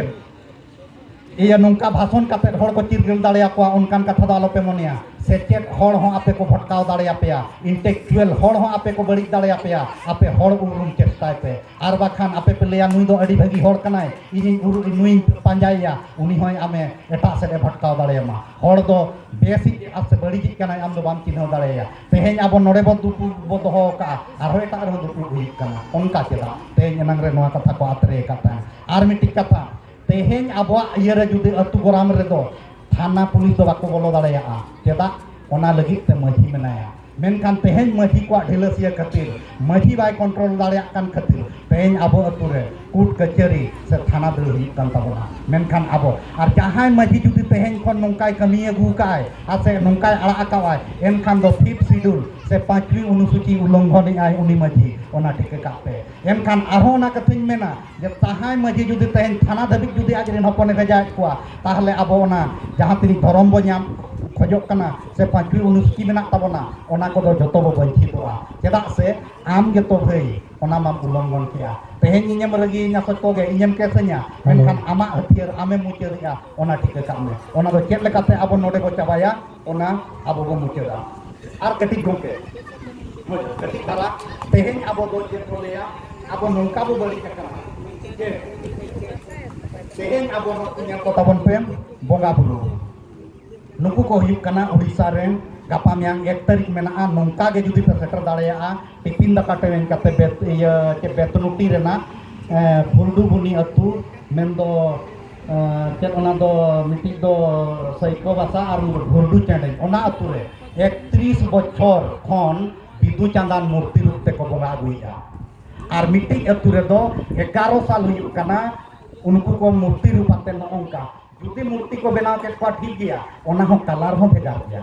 ᱤᱭᱟᱹ ᱱᱚᱝᱠᱟ ᱵᱷᱟᱥᱚᱱ ᱠᱟᱛᱮ ᱦᱚᱲ ᱠᱚ ᱪᱤᱨᱜᱟᱹᱞ ᱫᱟᱲᱮᱭᱟᱠᱚᱣᱟ ᱚᱱᱠᱟᱱ ᱠᱟᱛᱷᱟ ᱫᱚ ᱟᱞᱚᱯᱮ ᱢᱚᱱᱮᱭᱟ ᱥᱮᱪᱮᱫ ᱦᱚᱲ ᱦᱚᱸ ᱟᱯᱮ ᱠᱚ ᱵᱷᱚᱴᱠᱟᱣ ᱫᱟᱲᱮᱭᱟᱯᱮᱭᱟ ᱤᱱᱴᱮᱠᱪᱩᱭᱮᱞ ᱦᱚᱲ ᱦᱚᱸ ᱟᱯᱮ ᱠᱚ ᱵᱟᱹᱲᱤᱡ ᱫᱟᱲᱮᱭᱟᱯᱮᱭᱟ ᱟᱯᱮ ᱦᱚᱲ ᱩᱨᱩᱢ ᱪᱮᱥᱴᱟᱭ ᱯᱮ ᱟᱨ ᱵᱟᱠᱷᱟᱱ ᱟᱯᱮ ᱯᱮ ᱞᱟᱹᱭᱟ ᱱᱩᱭ ᱫᱚ ᱟᱹᱰᱤ ᱵᱷᱟᱹᱜᱤ ᱦᱚᱲ ᱠᱟᱱᱟᱭ ᱤᱧᱤᱧ ᱩᱨᱩ ᱱᱩᱭ ᱯᱟᱸᱡᱟᱭᱮᱭᱟ ᱩᱱᱤ ᱦᱚᱸᱭ ᱟᱢᱮ ᱮᱴᱟᱜ ᱥᱮᱫ ᱮ ᱵᱷᱟᱴᱠᱟᱣ ᱫᱟᱲᱮᱭᱟᱢᱟ ᱦᱚᱲ ᱫᱚ ᱵᱮᱥᱤᱡ ᱟᱨ ᱥᱮ ᱵᱟᱹᱲᱤᱡᱤᱡ ᱠᱟᱱᱟᱭ ᱟᱢ ᱫᱚ ᱵᱟᱢ ᱪᱤᱱᱦᱟᱹᱣ ᱫᱟᱲᱮᱭᱟᱭᱟ ᱛᱮᱦᱮᱧ ᱟᱵᱚ ᱱᱚᱰᱮ ᱵᱚ ᱫᱩᱯᱩᱲᱩᱵ ᱵᱚ ᱫᱚᱦᱚ ᱟᱠᱟᱫᱼᱟ ᱟᱨᱦᱚᱸ ᱮᱴᱟᱜ ᱨᱮᱦᱚᱸ ᱫᱩᱯᱩᱲᱩᱵ ᱦᱩᱭᱩᱜ ᱠᱟᱱᱟ ᱚᱱᱠᱟ ᱪᱮᱫᱟᱜ ᱛᱮᱦᱮᱧ ᱮᱱᱟᱝ ᱨᱮ ᱱᱚᱣᱟ ᱠᱟᱛᱷᱟ ᱠᱚ ᱟᱛᱨᱮ ᱟᱠᱟᱫ ᱛᱟᱦᱮᱸᱫ ᱟᱨ ᱢᱤᱫᱴᱤᱡ ᱠᱟᱛᱷᱟ ᱛᱮᱦᱮᱧ ᱟᱵᱚᱣᱟᱜ ᱤᱭᱟᱹ ᱨᱮ ᱡᱩᱫᱤ ᱟᱹᱛᱩ ᱜᱚᱨᱟᱢ ᱨᱮᱫᱚ ᱛᱷᱟᱱᱟ ᱯᱩᱞᱤᱥ ᱫᱚ ᱵᱟᱠᱚ ᱵᱚᱞᱚ ᱫᱟᱲᱮᱭᱟᱜᱼᱟ ᱪᱮᱫᱟᱜ ᱚᱱᱟ ᱞᱟᱹᱜᱤᱫ ᱛᱮ ᱢᱟᱹᱡᱷᱤ ᱢᱮᱱᱟᱭᱟ ᱢᱮᱱᱠᱷᱟᱱ ᱛᱮᱦᱮᱧ ᱢᱟᱹᱡᱷᱤ ᱠᱚᱣᱟᱜ ᱰᱷᱤᱞᱟᱹᱥᱤᱭᱟᱹ ᱠᱷᱟᱹᱛᱤᱨ ᱢᱟᱹᱡᱷᱤ ᱵᱟᱭ ᱠᱚᱱᱴᱨᱳᱞ ᱫᱟᱲᱮᱭᱟᱜ ᱠᱟᱱ ᱠᱷᱟᱹᱛᱤᱨ ᱛᱮᱦᱮᱧ ᱟᱵᱚ ᱟᱹᱛᱩ ᱨᱮ ᱠᱳᱨᱴ ᱠᱟᱹᱪᱷᱟᱹᱨᱤ ᱥᱮ ᱛᱷᱟᱱᱟ ᱫᱟᱹᱲ ᱦᱩᱭᱩᱜ ᱠᱟᱱ ᱛᱟᱵᱚᱱᱟ ᱢᱮᱱᱠᱷᱟᱱ ᱟᱵᱚ ᱟᱨ ᱡᱟᱦᱟᱸᱭ ᱢᱟᱹᱡᱷᱤ ᱡᱩᱫᱤ ᱛᱮᱦᱮᱧ ᱠᱷᱚᱱ ᱱᱚᱝᱠᱟᱭ ᱠᱟᱹᱢᱤ ᱟᱹᱜᱩ ᱠᱟᱜᱼᱟᱭ ᱟᱨ ᱥᱮ ᱱᱚᱝᱠᱟᱭ ᱟᱲᱟᱜ ᱟᱠᱟᱣᱟᱭ ᱮᱱᱠᱷᱟᱱ ᱫᱚ ᱯᱷᱤᱯᱛᱷ ᱥᱤᱰᱩᱞ ᱥᱮ ᱯᱟᱸᱪᱣᱤ ᱚᱱᱩᱥᱩᱪᱤ ᱩᱞᱞᱚᱝᱜᱷᱚᱱᱮᱜᱼᱟᱭ ᱩᱱᱤ ᱢᱟᱹᱡᱷᱤ ᱚᱱᱟ ᱴᱷᱤᱠᱟᱹ ᱠᱟᱜ ᱯᱮ ᱮᱱᱠᱷᱟᱱ ᱟᱨᱦᱚᱸ ᱚᱱᱟ ᱠᱟᱛᱷᱟᱧ ᱢᱮᱱᱟ ᱡᱟᱦᱟᱸᱭ ᱢᱟᱹᱡᱷᱤ ᱡᱩᱫᱤ ᱛᱮᱦᱮᱧ ᱛᱷᱟᱱᱟ ᱫᱷᱟᱹᱵᱤᱡ ᱡᱩᱫᱤ ᱟᱡ ᱨᱮᱱ ᱦᱚᱯᱚᱱᱮ ᱵᱷᱮᱡᱟᱭᱮᱫ ᱠᱚᱣᱟ ᱛᱟᱦᱚᱞᱮ ᱟᱵᱚ ᱚᱱᱟ ᱡᱟᱦᱟᱸ ᱛᱤᱱᱟᱹᱜ ᱫᱷᱚᱨᱚᱢ ᱵᱚ ᱧᱟᱢ ᱠᱷᱚᱡᱚᱜ ᱠᱟᱱᱟ ᱥᱮ ᱯᱟᱸᱪᱩ ᱚᱱᱩᱥᱩᱪᱤ ᱢᱮᱱᱟᱜ ᱛᱟᱵᱚᱱᱟ ᱚᱱᱟ ᱠᱚᱫᱚ ᱡᱚᱛᱚ ᱵᱚ ᱵᱚᱧᱪᱤᱛᱚᱜᱼᱟ ᱪᱮᱫᱟᱜ ᱥᱮ ᱟᱢ ᱜᱮᱛᱚ ᱵᱷᱟᱹᱭ ᱚᱱᱟ ᱢᱟᱢ ᱩᱞᱞᱚᱝᱜᱷᱚᱱ ᱠᱮᱜᱼᱟ ᱛᱮᱦᱮᱧ ᱤᱧᱮᱢ ᱨᱟᱹᱜᱤᱭᱤᱧᱟ ᱥᱚᱪ ᱠᱚᱜᱮ ᱤᱧᱮᱢ ᱠᱮᱥᱟᱹᱧᱟ ᱢᱮᱱᱠᱷᱟᱱ ᱟᱢᱟᱜ ᱦᱟᱹᱛᱭᱟᱹᱨ ᱟᱢᱮᱢ ᱢᱩᱪᱟᱹᱫᱮᱜᱼᱟ ᱚᱱᱟ ᱴᱷᱤᱠᱟᱹ ᱠᱟᱜ ᱢᱮ ᱚᱱᱟ ᱫᱚ ᱪᱮᱫ ᱞᱮᱠᱟᱛᱮ ᱟᱵᱚ ᱱᱚᱰᱮ ᱵᱚ ᱪᱟᱵᱟᱭᱟ ᱚᱱᱟ ᱟᱵᱚ ᱵᱚᱱ ᱢᱩᱪᱟᱹᱫᱟ ᱟᱨ ᱠᱟᱹᱴᱤᱡ ᱜᱚᱢᱠᱮ ᱠᱟᱹᱴᱤᱡ ᱫᱷᱟᱨᱟ ᱛᱮᱦᱮᱧ ᱟᱵᱚ ᱫᱚ ᱪᱮᱫ ᱠᱚ ᱞᱟᱹᱭᱟ ᱟᱵᱚ ᱱᱚᱝᱠᱟ ᱵᱚ ᱵᱟᱹᱲᱤᱡ ᱟᱠᱟᱱᱟ ᱡᱮ ᱛᱮᱦᱮᱧ ᱟᱵᱚ ᱱᱩᱠᱩ ᱧᱮᱞ ᱠᱚ ᱛᱟᱵᱚᱱ ᱯᱮ ᱵᱚᱸᱜᱟ ᱵᱩᱨᱩ ᱱᱩᱠᱩ ᱠᱚ ᱦᱩᱭᱩᱜ ᱠᱟᱱᱟ ᱩᱲᱤᱥᱥᱟ ᱨᱮᱱ ᱜᱟᱯᱟ ᱢᱮᱭᱟᱝ ᱮᱠ ᱛᱟᱹᱨᱤᱠᱷ ᱢᱮᱱᱟᱜᱼᱟ ᱱᱚᱝᱠᱟ ᱜᱮ ᱡᱩᱫᱤ ᱯᱮ ᱥᱮᱴᱮᱨ ᱫᱟᱲᱮᱭᱟᱜᱼᱟ ᱴᱤᱯᱤᱱ ᱫᱟᱠᱟ ᱴᱨᱮᱱ ᱠᱟᱛᱮ ᱤᱭᱟᱹ ᱵᱮᱛᱱᱩᱴᱤ ᱨᱮᱱᱟᱜ ᱯᱷᱩᱞᱰᱩᱵᱩᱱᱤ ᱟᱹᱛᱩ ᱢᱮᱱᱫᱚ ᱪᱮᱫ ᱚᱱᱟ ᱫᱚ ᱢᱤᱫᱴᱤᱡ ᱫᱚ ᱥᱟᱹᱭᱠᱚ ᱵᱟᱥᱟ ᱟᱨ ᱜᱷᱩᱨᱰᱩ ᱪᱮᱬᱮ ᱚᱱᱟ ᱟᱹᱛᱩ ᱨᱮ ᱮᱠᱛᱨᱤᱥ ᱵᱚᱪᱷᱚᱨ ᱠᱷᱚᱱ ᱵᱤᱫᱩ ᱪᱟᱸᱫᱟᱱ ᱢᱩᱨᱛᱤ ᱨᱩᱯ ᱛᱮᱠᱚ ᱵᱚᱸᱜᱟ ᱟᱹᱜᱩᱭᱮᱫᱼᱟ ᱟᱨ ᱢᱤᱫᱴᱤᱡ ᱟᱹᱛᱩ ᱨᱮᱫᱚ ᱮᱜᱟᱨᱚ ᱥᱟᱞ ᱦᱩᱭᱩᱜ ᱠᱟᱱᱟ ᱩᱱᱠᱩ ᱠᱚ ᱢᱩᱨᱛᱤ ᱨᱩᱯ ᱟᱛᱮ ᱱᱚᱜᱼᱚᱝᱠᱟ ᱡᱩᱫᱤ ᱢᱩᱨᱛᱤ ᱠᱚ ᱵᱮᱱᱟᱣ ᱠᱮᱫ ᱠᱚᱣᱟ ᱴᱷᱤᱠ ᱜᱮᱭᱟ ᱚᱱᱟ ᱦᱚᱸ ᱠᱟᱞᱟᱨ ᱦᱚᱸ ᱵᱷᱮᱜᱟᱨ ᱜᱮᱭᱟ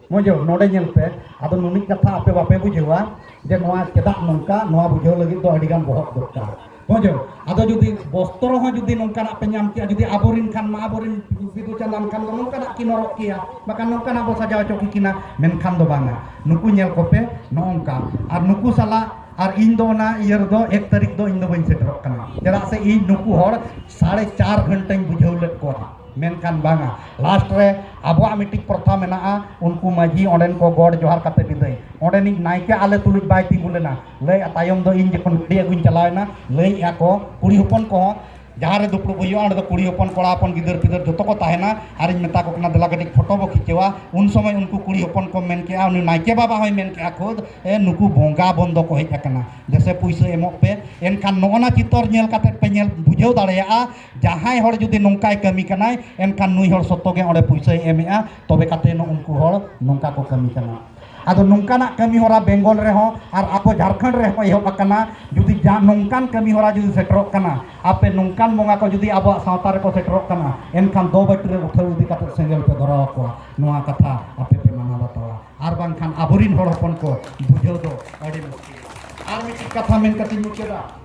ᱢᱚᱡᱚ ᱱᱚᱰᱮ ᱧᱮᱞ ᱯᱮ ᱟᱫᱚ ᱱᱩᱱᱤᱡ ᱠᱟᱛᱷᱟ ᱟᱯᱮ ᱵᱟᱯᱮ ᱵᱩᱡᱷᱟᱹᱣᱟ ᱡᱮ ᱱᱚᱣᱟ ᱪᱮᱫᱟᱜ ᱱᱚᱝᱠᱟ ᱱᱚᱣᱟ ᱵᱩᱡᱷᱟᱹᱣ ᱞᱟᱹᱜᱤᱫ ᱫᱚ ᱟᱹᱰᱤ ᱜᱟᱱ ᱵᱚᱦᱚᱜ ᱫᱚᱨᱠᱟᱨ ᱢᱚᱡᱚ ᱟᱫᱚ ᱡᱩᱫᱤ ᱵᱚᱥᱛᱨᱚ ᱦᱚᱸ ᱡᱩᱫᱤ ᱱᱚᱝᱠᱟᱱᱟᱜ ᱯᱮ ᱧᱟᱢ ᱠᱮᱭᱟ ᱡᱩᱫᱤ ᱟᱵᱚᱨᱤᱱ ᱠᱷᱟᱱ ᱢᱟ ᱟᱵᱚᱨᱤᱱ ᱵᱤᱫᱩ ᱪᱟᱸᱫᱟᱱ ᱠᱷᱟᱱ ᱫᱚ ᱱᱚᱝᱠᱟᱱᱟᱜ ᱠᱤᱱ ᱦᱚᱨᱚᱜ ᱠᱮᱭᱟ ᱵᱟᱠᱷᱟᱱ ᱱᱚᱝᱠᱟᱱᱟᱜ ᱵᱚ ᱥᱟᱡᱟᱣ ᱦᱚᱪᱚ ᱠᱤᱠᱤᱱᱟ ᱢᱮᱱᱠᱷᱟᱱ ᱫᱚ ᱵᱟᱝᱟ ᱱᱩᱠᱩ ᱧᱮᱞ ᱠᱚᱯᱮ ᱱᱚᱝᱠᱟ ᱟᱨ ᱱᱩᱠᱩ ᱥᱟᱞᱟᱜ ᱟᱨ ᱤᱧ ᱫᱚ ᱚᱱᱟ ᱤᱭᱟᱹ ᱨᱮᱫᱚ ᱮᱠ ᱛᱟᱹᱨᱤᱠᱷ ᱫᱚ ᱤᱧ ᱫᱚ ᱵᱟᱹᱧ ᱥᱮᱴᱮᱨᱚᱜ ᱠᱟᱱᱟ ᱪᱮᱫᱟᱜ ᱥᱮ ᱤᱧ ᱱᱩᱠᱩ ᱦᱚᱲ ᱥᱟᱲᱮ ᱪᱟᱨ ᱜᱷᱚᱱᱴᱟᱧ ᱵᱩᱡᱷᱟᱹᱣ ᱞᱮᱫ ᱠᱚᱣᱟ ᱢᱮᱱᱠᱟᱱ ᱵᱟᱝᱟ ᱞᱟᱥᱴ ᱨᱮ ᱟᱵᱚᱣᱟᱜ ᱢᱤᱫᱴᱤᱡ ᱯᱨᱚᱛᱷᱟ ᱢᱮᱱᱟᱜᱼᱟ ᱩᱱᱠᱩ ᱢᱟᱹᱡᱷᱤ ᱚᱸᱰᱮᱱ ᱠᱚ ᱜᱚᱰ ᱡᱚᱦᱟᱨ ᱠᱟᱛᱮ ᱵᱤᱫᱟᱹᱭ ᱚᱸᱰᱮᱱᱤᱡ ᱱᱟᱭᱠᱮ ᱟᱞᱮ ᱛᱩᱞᱩᱡ ᱵᱟᱭ ᱛᱤᱸᱜᱩ ᱞᱮᱱᱟ ᱞᱟᱹᱭ ᱛᱟᱭᱚᱢ ᱫᱚ ᱤᱧ ᱡᱚᱠᱷᱚᱱ ᱜᱟᱹᱰᱤ ᱟᱹᱜᱩᱧ ᱪᱟᱞᱟᱣᱮᱱᱟ ᱞᱟᱹᱭᱮᱜᱼᱟ ᱠᱚ ᱠᱩᱲᱤ ᱦᱚᱯᱚᱱ ᱠᱚᱦᱚᱸ ᱡᱟᱦᱟᱸ ᱨᱮ ᱫᱩᱯᱲᱩᱵ ᱦᱩᱭᱩᱜᱼᱟ ᱚᱸᱰᱮ ᱫᱚ ᱠᱩᱲᱤ ᱦᱚᱯᱚᱱ ᱠᱚᱲᱟ ᱦᱚᱯᱚᱱ ᱜᱤᱫᱟᱹᱨ ᱯᱤᱫᱟᱹᱨ ᱡᱚᱛᱚ ᱠᱚ ᱛᱟᱦᱮᱱᱟ ᱟᱨᱤᱧ ᱢᱮᱛᱟ ᱠᱚ ᱠᱟᱱᱟ ᱫᱮᱞᱟ ᱠᱟᱹᱴᱤᱡ ᱯᱷᱳᱴᱳ ᱵᱚ ᱠᱷᱤᱪᱟᱹᱣᱟ ᱩᱱ ᱥᱚᱢᱚᱭ ᱩᱱᱠᱩ ᱠᱩᱲᱤ ᱦᱚᱯᱚᱱ ᱠᱚ ᱢᱮᱱ ᱠᱮᱜᱼᱟ ᱩᱱᱤ ᱱᱟᱭᱠᱮ ᱵᱟᱵᱟ ᱦᱚᱸᱭ ᱢᱮᱱ ᱠᱮᱜᱼᱟ ᱠᱷᱩᱫ ᱮ ᱱᱩᱠᱩ ᱵᱚᱸᱜᱟ ᱵᱚᱱ ᱫᱚᱠᱚ ᱦᱮᱡ ᱟᱠᱟᱱᱟ ᱫᱮᱥᱮ ᱯᱩᱭᱥᱟᱹ ᱮᱢᱚᱜ ᱯᱮ ᱮᱱᱠᱷᱟᱱ ᱱᱚᱜᱼᱚ ᱱᱟ ᱪᱤᱛᱟᱹᱨ ᱧᱮᱞ ᱠᱟᱛᱮ ᱯᱮ ᱧᱮᱞ ᱵᱩᱡᱷᱟᱹᱣ ᱫᱟᱲᱮᱭᱟᱜᱼᱟ ᱡᱟᱦᱟᱸᱭ ᱦᱚᱲ ᱡᱩᱫᱤ ᱱᱚᱝᱠᱟᱭ ᱠᱟᱹᱢᱤ ᱠᱟᱱᱟᱭ ᱮᱱᱠᱷᱟᱱ ᱱᱩᱭ ᱦᱚᱲ ᱥᱚᱛᱚ ᱜᱮ ᱚᱸᱰᱮ ᱯᱩᱭᱥᱟᱹᱭ ᱮᱢᱮᱜᱼᱟ ᱛᱚᱵᱮ ᱠᱟᱛᱮ ᱩᱱᱠᱩ ᱦᱚᱲ ᱱᱚᱝᱠᱟ ᱠᱚ ᱠᱟᱹᱢᱤ ᱠᱟᱱᱟ ᱟᱫᱚ ᱱᱚᱝᱠᱟᱱᱟᱜ ᱠᱟᱹᱢᱤ ᱦᱚᱨᱟ ᱵᱮᱝᱜᱚᱞ ᱨᱮᱦᱚᱸ ᱟᱨ ᱟᱵᱚ ᱡᱷᱟᱲᱠᱷᱚᱸᱰ ᱨᱮᱦᱚᱸ ᱮᱦᱚᱵ ᱟᱠᱟᱱᱟ ᱡᱩᱫᱤ ᱡᱟᱦᱟᱸ ᱱᱚᱝᱠᱟᱱ ᱠᱟᱹᱢᱤ ᱦᱚᱨᱟ ᱡᱩᱫᱤ ᱥᱮᱴᱮᱨᱚᱜ ᱠᱟᱱᱟ ᱟᱯᱮ ᱱᱚᱝᱠᱟᱱ ᱵᱚᱸᱜᱟ ᱠᱚ ᱡᱩᱫᱤ ᱟᱵᱚᱣᱟᱜ ᱥᱟᱶᱛᱟ ᱨᱮᱠᱚ ᱥᱮᱴᱮᱨᱚᱜ ᱠᱟᱱᱟ ᱮᱱᱠᱷᱟᱱ ᱫᱚ ᱵᱟᱹᱴᱤ ᱨᱮ ᱩᱴᱷᱟᱹᱣ ᱤᱫᱤ ᱠᱟᱛᱮ ᱥᱮᱸᱜᱮᱞ ᱯᱮ ᱫᱷᱚᱨᱟᱣ ᱟᱠᱚᱣᱟ ᱱᱚᱣᱟ ᱠᱟᱛᱷᱟ ᱟᱯᱮ ᱯᱮ ᱢᱟᱱᱟᱣ ᱵᱟᱛᱟᱣᱟ ᱟᱨ ᱵᱟᱝᱠᱷᱟᱱ ᱟᱵᱚᱨᱤᱱ ᱦᱚᱲ ᱦᱚᱯᱚᱱ ᱠᱚ ᱵᱩᱡᱷᱟᱹᱣ ᱫᱚ ᱟᱹᱰᱤ ᱢᱩᱥᱠᱤᱞ ᱟᱨ ᱢᱤᱫᱴᱤᱡ ᱠᱟᱛᱷᱟ ᱢᱮᱱ ᱠᱟᱛᱮᱧ ᱢᱩᱪᱟᱹᱫᱟ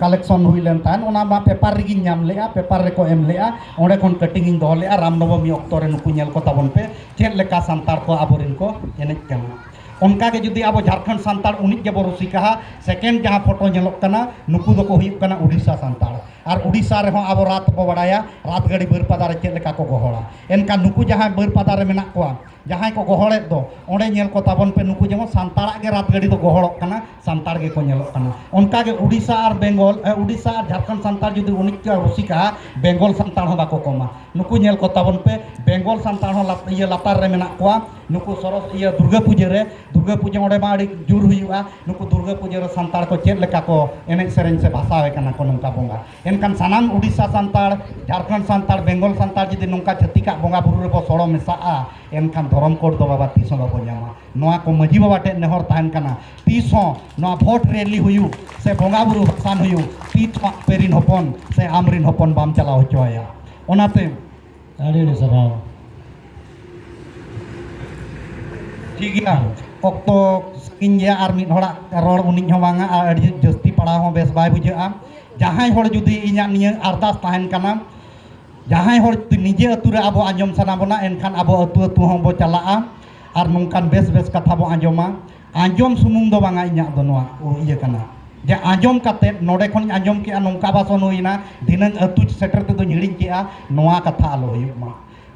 ᱠᱟᱞᱮᱠᱥᱚᱱ ᱦᱩᱭ ᱞᱮᱱ ᱛᱟᱦᱮᱸᱫ ᱚᱱᱟ ᱢᱟ ᱯᱮᱯᱟᱨ ᱨᱮᱜᱤᱧ ᱧᱟᱢ ᱞᱮᱜᱼᱟ ᱯᱮᱯᱟᱨ ᱨᱮᱠᱚ ᱮᱢ ᱞᱮᱜᱼᱟ ᱚᱸᱰᱮ ᱠᱷᱚᱱ ᱠᱟᱹᱴᱤᱝ ᱤᱧ ᱫᱚᱦᱚ ᱞᱮᱜᱼᱟ ᱨᱟᱢᱱᱚᱵᱚᱢᱤ ᱚᱠᱛᱚ ᱨᱮ ᱱᱩᱠᱩ ᱧᱮᱞ ᱠᱚ ᱛᱟᱵᱚᱱ ᱯᱮ ᱪᱮᱫ ᱞᱮᱠᱟ ᱥᱟᱱᱛᱟᱲ ᱠᱚ ᱟᱵᱚᱨᱮᱱ ᱠᱚ ᱮᱱᱮᱡ ᱠᱟᱱᱟ ᱚᱱᱠᱟ ᱜᱮ ᱡᱩᱫᱤ ᱟᱵᱚ ᱡᱷᱟᱲᱠᱷᱚᱸᱰ ᱥᱟᱱᱛᱟᱲ ᱩᱱᱤᱡ ᱜᱮᱵᱚ ᱨᱩᱥᱤᱠᱟᱦᱟ ᱥᱮᱠᱮᱱᱰ ᱡᱟᱦᱟᱸ ᱯᱷᱳᱴᱳ ᱧᱮᱞᱚᱜ ᱠᱟᱱᱟ ᱱᱩᱠᱩ ᱫᱚᱠᱚ ᱦᱩᱭᱩᱜ ᱠᱟᱱᱟ ᱩᱰᱤᱥᱟ ᱥᱟᱱᱛᱟᱲ ᱟᱨ ᱩᱰᱤᱥᱟ ᱨᱮᱦᱚᱸ ᱟᱵᱚ ᱨᱟᱛ ᱵᱚ ᱵᱟᱲᱟᱭᱟ ᱨᱟᱛ ᱜᱟᱹᱰᱤ ᱵᱟᱹᱨᱯᱟᱫᱟ ᱨᱮ ᱪᱮᱫ ᱞᱮᱠᱟ ᱠᱚ ᱜᱚᱦᱚᱲᱟ ᱮᱱᱠᱷᱟᱱ ᱱᱩᱠᱩ ᱡᱟᱦᱟᱸᱭ ᱵᱟᱹᱨᱯᱟᱫᱟ ᱨᱮ ᱢᱮᱱᱟᱜ ᱠᱚᱣᱟ ᱡᱟᱦᱟᱸᱭ ᱠᱚ ᱜᱚᱦᱚᱲᱮᱫ ᱫᱚ ᱚᱸᱰᱮ ᱧᱮᱞ ᱠᱚ ᱛᱟᱵᱚᱱ ᱯᱮ ᱱᱩᱠᱩ ᱡᱮᱢᱚᱱ ᱥᱟᱱᱛᱟᱲᱟᱜ ᱜᱮ ᱨᱟᱛ ᱜᱟᱹᱰᱤ ᱫᱚ ᱜᱚᱦᱚᱲᱚᱜ ᱠᱟᱱᱟ ᱥᱟᱱᱛᱟᱲ ᱜᱮᱠᱚ ᱧᱮᱞᱚᱜ ᱠᱟᱱᱟ ᱚᱱᱠᱟᱜᱮ ᱩᱰᱤᱥᱟ ᱟᱨ ᱵᱮᱝᱜᱚᱞ ᱩᱰᱤᱥᱟ ᱟᱨ ᱡᱷᱟᱲᱠᱷᱚᱸᱰ ᱥᱟᱱᱛᱟᱲ ᱡᱩᱫᱤ ᱩᱱᱤᱡ ᱠᱚ ᱨᱩᱥᱤᱠᱟ ᱵᱮᱝᱜᱚᱞ ᱥᱟᱱᱛᱟᱲ ᱦᱚᱸ ᱵᱟᱠᱚ ᱠᱚᱢᱟ ᱱᱩᱠᱩ ᱧᱮᱞ ᱠᱚ ᱛᱟᱵᱚᱱ ᱯᱮ ᱵᱮᱝᱜᱚᱞ ᱥᱟᱱᱛᱟᱲ ᱦᱚᱸ ᱤᱭᱟᱹ ᱞᱟᱛᱟᱨ ᱨᱮ ᱢᱮᱱᱟᱜ ᱠᱚᱣᱟ ᱱᱩᱠᱩ ᱥᱚᱨᱚᱥ ᱤᱭᱟᱹ ᱫᱩᱨᱜᱟᱹ ᱯᱩᱡᱟᱹ ᱨᱮ ᱫᱩᱨᱜᱟᱹ ᱯᱩᱡᱟᱹ ᱚᱸᱰᱮ ᱢᱟ ᱟᱹᱰᱤ ᱡᱳᱨ ᱦᱩᱭᱩᱜᱼᱟ ᱱᱩᱠᱩ ᱫᱩᱨᱜᱟᱹ ᱯᱩᱡᱟᱹ ᱨᱮ ᱥᱟᱱᱛᱟᱲ ᱠᱚ ᱪᱮᱫ ᱞᱮᱠᱟ ᱠᱚ ᱮᱱᱮᱡ ᱥᱮᱨᱮᱧ ᱥᱮ ᱵᱷᱟᱥᱟᱣᱮ ᱠᱟᱱᱟ ᱠᱚ ᱱᱚᱝᱠᱟ ᱵᱚᱸᱜᱟ ᱮᱱᱠᱷᱟᱱ ᱥᱟᱱᱟᱢ ᱩᱰᱤᱥᱟ ᱥᱟᱱᱛᱟᱲ ᱡᱷᱟᱲᱠᱷᱚᱸᱰ ᱥᱟᱱᱛᱟᱲ ᱵᱮᱝᱜᱚᱞ ᱥᱟᱱᱛᱟᱲ ᱡᱩᱫᱤ ᱱᱚᱝᱠᱟ ᱪᱷᱟᱹᱛᱤᱠᱟᱜ ᱵᱚᱸᱜᱟ ᱵᱩᱨᱩ ᱨᱮᱵᱚ ᱥᱚᱲᱚ ᱢᱮᱥᱟᱜᱼᱟ ᱮᱱᱠᱷᱟᱱ ᱫᱷᱚᱨᱚᱢ ᱠᱳᱰ ᱫᱚ ᱵᱟᱵᱟ ᱛᱤᱥ ᱦᱚᱸ ᱵᱟᱵᱚ ᱧᱟᱢᱟ ᱱᱚᱣᱟ ᱠᱚ ᱢᱟᱹᱡᱷᱤ ᱵᱟᱵᱟ ᱴᱷᱮᱱ ᱱᱮᱦᱚᱨ ᱛᱟᱦᱮᱱ ᱠᱟᱱᱟ ᱛᱤᱥ ᱦᱚᱸ ᱱᱚᱣᱟ ᱵᱷᱳᱴ ᱨᱮᱞᱤ ᱦᱩᱭᱩᱜ ᱥᱮ ᱵᱚᱸᱜᱟ ᱵᱩᱨᱩ ᱵᱷᱟᱥᱟᱱ ᱦᱩᱭᱩᱜ ᱛᱤᱥ ᱦᱚᱸ ᱟᱯᱮ ᱨᱤᱱ ᱦᱚᱯᱚᱱ ᱥᱮ ᱟᱢ ᱨᱤᱱ ᱦᱚᱯᱚᱱ ᱵᱟᱢ ᱪᱟᱞᱟᱣ ᱦᱚᱪᱚ ᱟᱭᱟ ᱚᱱᱟᱛᱮ ᱟᱹᱰᱤ ᱟᱹᱰᱤ ᱥᱟᱨᱦᱟᱣ ᱴᱷᱤᱠ ᱜᱮᱭᱟ ᱚᱠᱛᱚ ᱥᱟᱺᱜᱤᱧ ᱜᱮᱭᱟ ᱟᱨ ᱢᱤᱫ ᱦᱚᱲᱟᱜ ᱨᱚᱲ ᱩᱱᱤ ᱦᱚᱸ ᱵᱟᱝᱟ ᱟᱨ ᱟᱹᱰᱤ ᱡᱟᱹᱥᱛᱤ ᱯᱟᱲᱟᱣ ᱦᱚᱸ ᱵᱮᱥ ᱵᱟᱭ ᱵᱩᱡᱷᱟᱹᱜᱼᱟ ᱡᱟᱦᱟᱸᱭ ᱦᱚᱲ ᱡᱩᱫᱤ ᱤᱧᱟᱹᱜ ᱱᱤᱭᱟᱹ ᱟᱨᱫᱟᱥ ᱛᱟᱦᱮᱱ ᱠᱟᱱᱟ ᱡᱟᱦᱟᱸᱭ ᱦᱚᱲ ᱡᱩᱫᱤ ᱱᱤᱡᱮ ᱟᱹᱛᱩ ᱨᱮ ᱟᱵᱚ ᱟᱸᱡᱚᱢ ᱥᱟᱱᱟ ᱵᱚᱱᱟ ᱮᱱᱠᱷᱟᱱ ᱟᱵᱚ ᱟᱹᱛᱩ ᱟᱹᱛᱩ ᱦᱚᱸᱵᱚ ᱪᱟᱞᱟᱜᱼᱟ ᱟᱨ ᱱᱚᱝᱠᱟᱱ ᱵᱮᱥ ᱵᱮᱥ ᱠᱟᱛᱷᱟ ᱵᱚ ᱟᱸᱡᱚᱢᱟ ᱟᱸᱡᱚᱢ ᱥᱩᱢᱩᱝ ᱫᱚ ᱵᱟᱝᱟ ᱤᱧᱟᱹᱜ ᱫᱚ ᱱᱚᱣᱟ ᱤᱭᱟᱹ ᱠᱟᱱᱟ ᱡᱮ ᱟᱸᱡᱚᱢ ᱠᱟᱛᱮ ᱱᱚᱰᱮ ᱠᱷᱚᱱᱤᱧ ᱟᱸᱡᱚᱢ ᱠᱮᱜᱼᱟ ᱱᱚᱝᱠᱟ ᱵᱷᱟᱥᱚᱱ ᱦᱩᱭᱱᱟ ᱫᱷᱤᱱᱟᱹᱝ ᱟᱹᱛᱩ ᱥᱮᱴᱮᱨ ᱛᱮᱫᱚᱧ ᱦᱤᱲᱤᱧ ᱠᱮᱜᱼᱟ ᱱᱚᱣᱟ ᱠᱟᱛᱷᱟ ᱟᱞᱚ ᱦᱩᱭᱩᱜ ᱢᱟ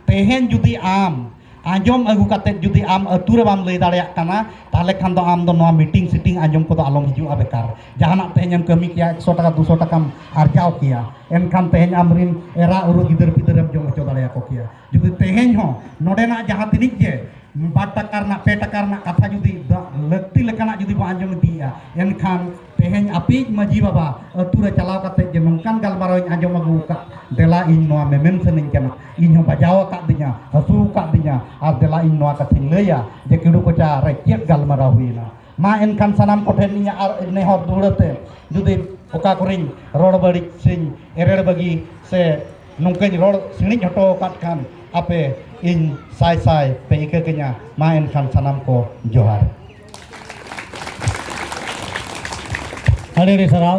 ᱛᱮᱦᱮᱧ ᱡᱩᱫᱤ ᱟᱢ ᱟᱸᱡᱚᱢ ᱟᱹᱜᱩ ᱠᱟᱛᱮ ᱡᱩᱫᱤ ᱟᱢ ᱟᱹᱛᱩ ᱨᱮ ᱵᱟᱢ ᱞᱟᱹᱭ ᱫᱟᱲᱮᱭᱟᱜ ᱠᱟᱱᱟ ᱛᱟᱦᱚᱞᱮ ᱠᱷᱟᱱ ᱫᱚ ᱟᱢ ᱫᱚ ᱱᱚᱣᱟ ᱢᱤᱴᱤᱝ ᱥᱤᱴᱤᱝ ᱟᱸᱡᱚᱢ ᱠᱚᱫᱚ ᱟᱞᱚᱢ ᱦᱤᱡᱩᱜᱼᱟ ᱵᱮᱠᱟᱨ ᱡᱟᱦᱟᱱᱟᱜ ᱛᱮᱦᱮᱧ ᱮᱢ ᱠᱟᱹᱢᱤ ᱠᱮᱜᱼᱟ ᱮᱠᱥᱚ ᱴᱟᱠᱟ ᱫᱩᱥᱚ ᱴᱟᱠᱟᱢ ᱟᱨᱡᱟᱣ ᱠᱮᱜᱼᱟ ᱮᱱᱠᱷᱟᱱ ᱛᱮᱦᱮᱧ ᱟᱢᱨᱤᱱ ᱮᱨᱟ ᱩᱨᱩ ᱜᱤᱫᱟᱹᱨ ᱯᱤᱫᱟᱹᱨᱮᱢ ᱡᱚᱢ ᱦᱚᱪᱚ ᱫᱟᱲᱮᱭᱟᱠᱚ ᱠᱮᱭᱟ ᱡᱩᱫᱤ ᱛᱮᱦᱮᱧ ᱦᱚᱸ ᱱᱚᱰᱮᱱᱟᱜ ᱡᱟᱦᱟᱸ ᱛᱤᱱᱤᱡ ᱜᱮ ᱵᱟᱨ ᱴᱟᱠᱟ ᱨᱮᱱᱟᱜ ᱯᱮ ᱴᱟᱠᱟ ᱨᱮᱱᱟᱜ ᱠᱟᱛᱷᱟ ᱡᱩᱫᱤ ᱞᱟᱹᱠᱛᱤ ᱞᱮᱠᱟᱱᱟᱜ ᱡᱩᱫᱤ ᱵᱚᱱ ᱟᱸᱡᱚᱢ ᱤᱫᱤᱭᱮᱜᱼᱟ ᱮᱱᱠᱷᱟᱱ ᱛᱮᱦᱮᱧ ᱟᱯᱮᱭᱤᱡ ᱢᱟᱺᱡᱷᱤ ᱵᱟᱵᱟ ᱟᱹᱛᱩ ᱨᱮ ᱪᱟᱞᱟᱣ ᱠᱟᱛᱮ ᱡᱮ ᱱᱚᱝᱠᱟᱱ ᱜᱟᱞᱢᱟᱨᱟᱣ ᱤᱧ ᱟᱸᱡᱚᱢ ᱟᱹᱜᱩ ᱟᱠᱟᱫ ᱫᱮᱞᱟ ᱤᱧ ᱱᱚᱣᱟ ᱢᱮᱢᱮᱱ ᱥᱟᱹᱱᱟᱹᱧ ᱠᱟᱱᱟ ᱤᱧ ᱦᱚᱸ ᱵᱟᱡᱟᱣ ᱟᱠᱟᱫ ᱫᱤᱧᱟ ᱦᱟᱹᱥᱩ ᱟᱠᱟᱫ ᱫᱤᱧᱟ ᱟᱨ ᱫᱮᱞᱟ ᱤᱧ ᱱᱚᱣᱟ ᱠᱟᱛᱷᱟᱧ ᱞᱟᱹᱭᱟ ᱡᱮ ᱠᱤᱰᱩ ᱠᱚᱪᱟ ᱨᱮ ᱪᱮᱫ ᱜᱟᱞᱢᱟᱨᱟᱣ ᱦᱩᱭᱮᱱᱟ ᱢᱟ ᱮᱱᱠᱷᱟᱱ ᱥᱟᱱᱟᱢ ᱠᱚᱴᱷᱮᱱ ᱤᱧᱟᱹᱜ ᱟᱨ ᱱᱮᱦᱚᱨ ᱫᱩᱦᱲᱟᱹᱛᱮ ᱡᱩᱫᱤ ᱚᱠᱟ ᱠᱚᱨᱮᱧ ᱨᱚᱲ ᱵᱟᱹᱲᱤᱡ ᱥᱮᱧ ᱮᱨᱮᱲ ᱵᱟᱹᱜᱤ ᱥᱮ ᱱᱚᱝᱠᱟᱧ ᱨᱚᱲ ᱥᱤᱬᱤᱡ ᱦᱚᱴᱚ ᱟᱠᱟᱫ ᱠᱷᱟᱱ ᱟᱯᱮ ᱤᱧ ᱥᱟᱭ ᱥᱟᱭ ᱯᱮ ᱤᱠᱟᱹ ᱠᱟᱹᱧᱟ ᱢᱟ ᱮᱱᱠᱷᱟᱱ ᱥᱟᱱᱟᱢ ᱠᱚ ᱡᱚᱦᱟᱨ ᱟᱹᱰᱤ ᱟᱹᱰᱤ ᱥᱟᱨᱦᱟᱣ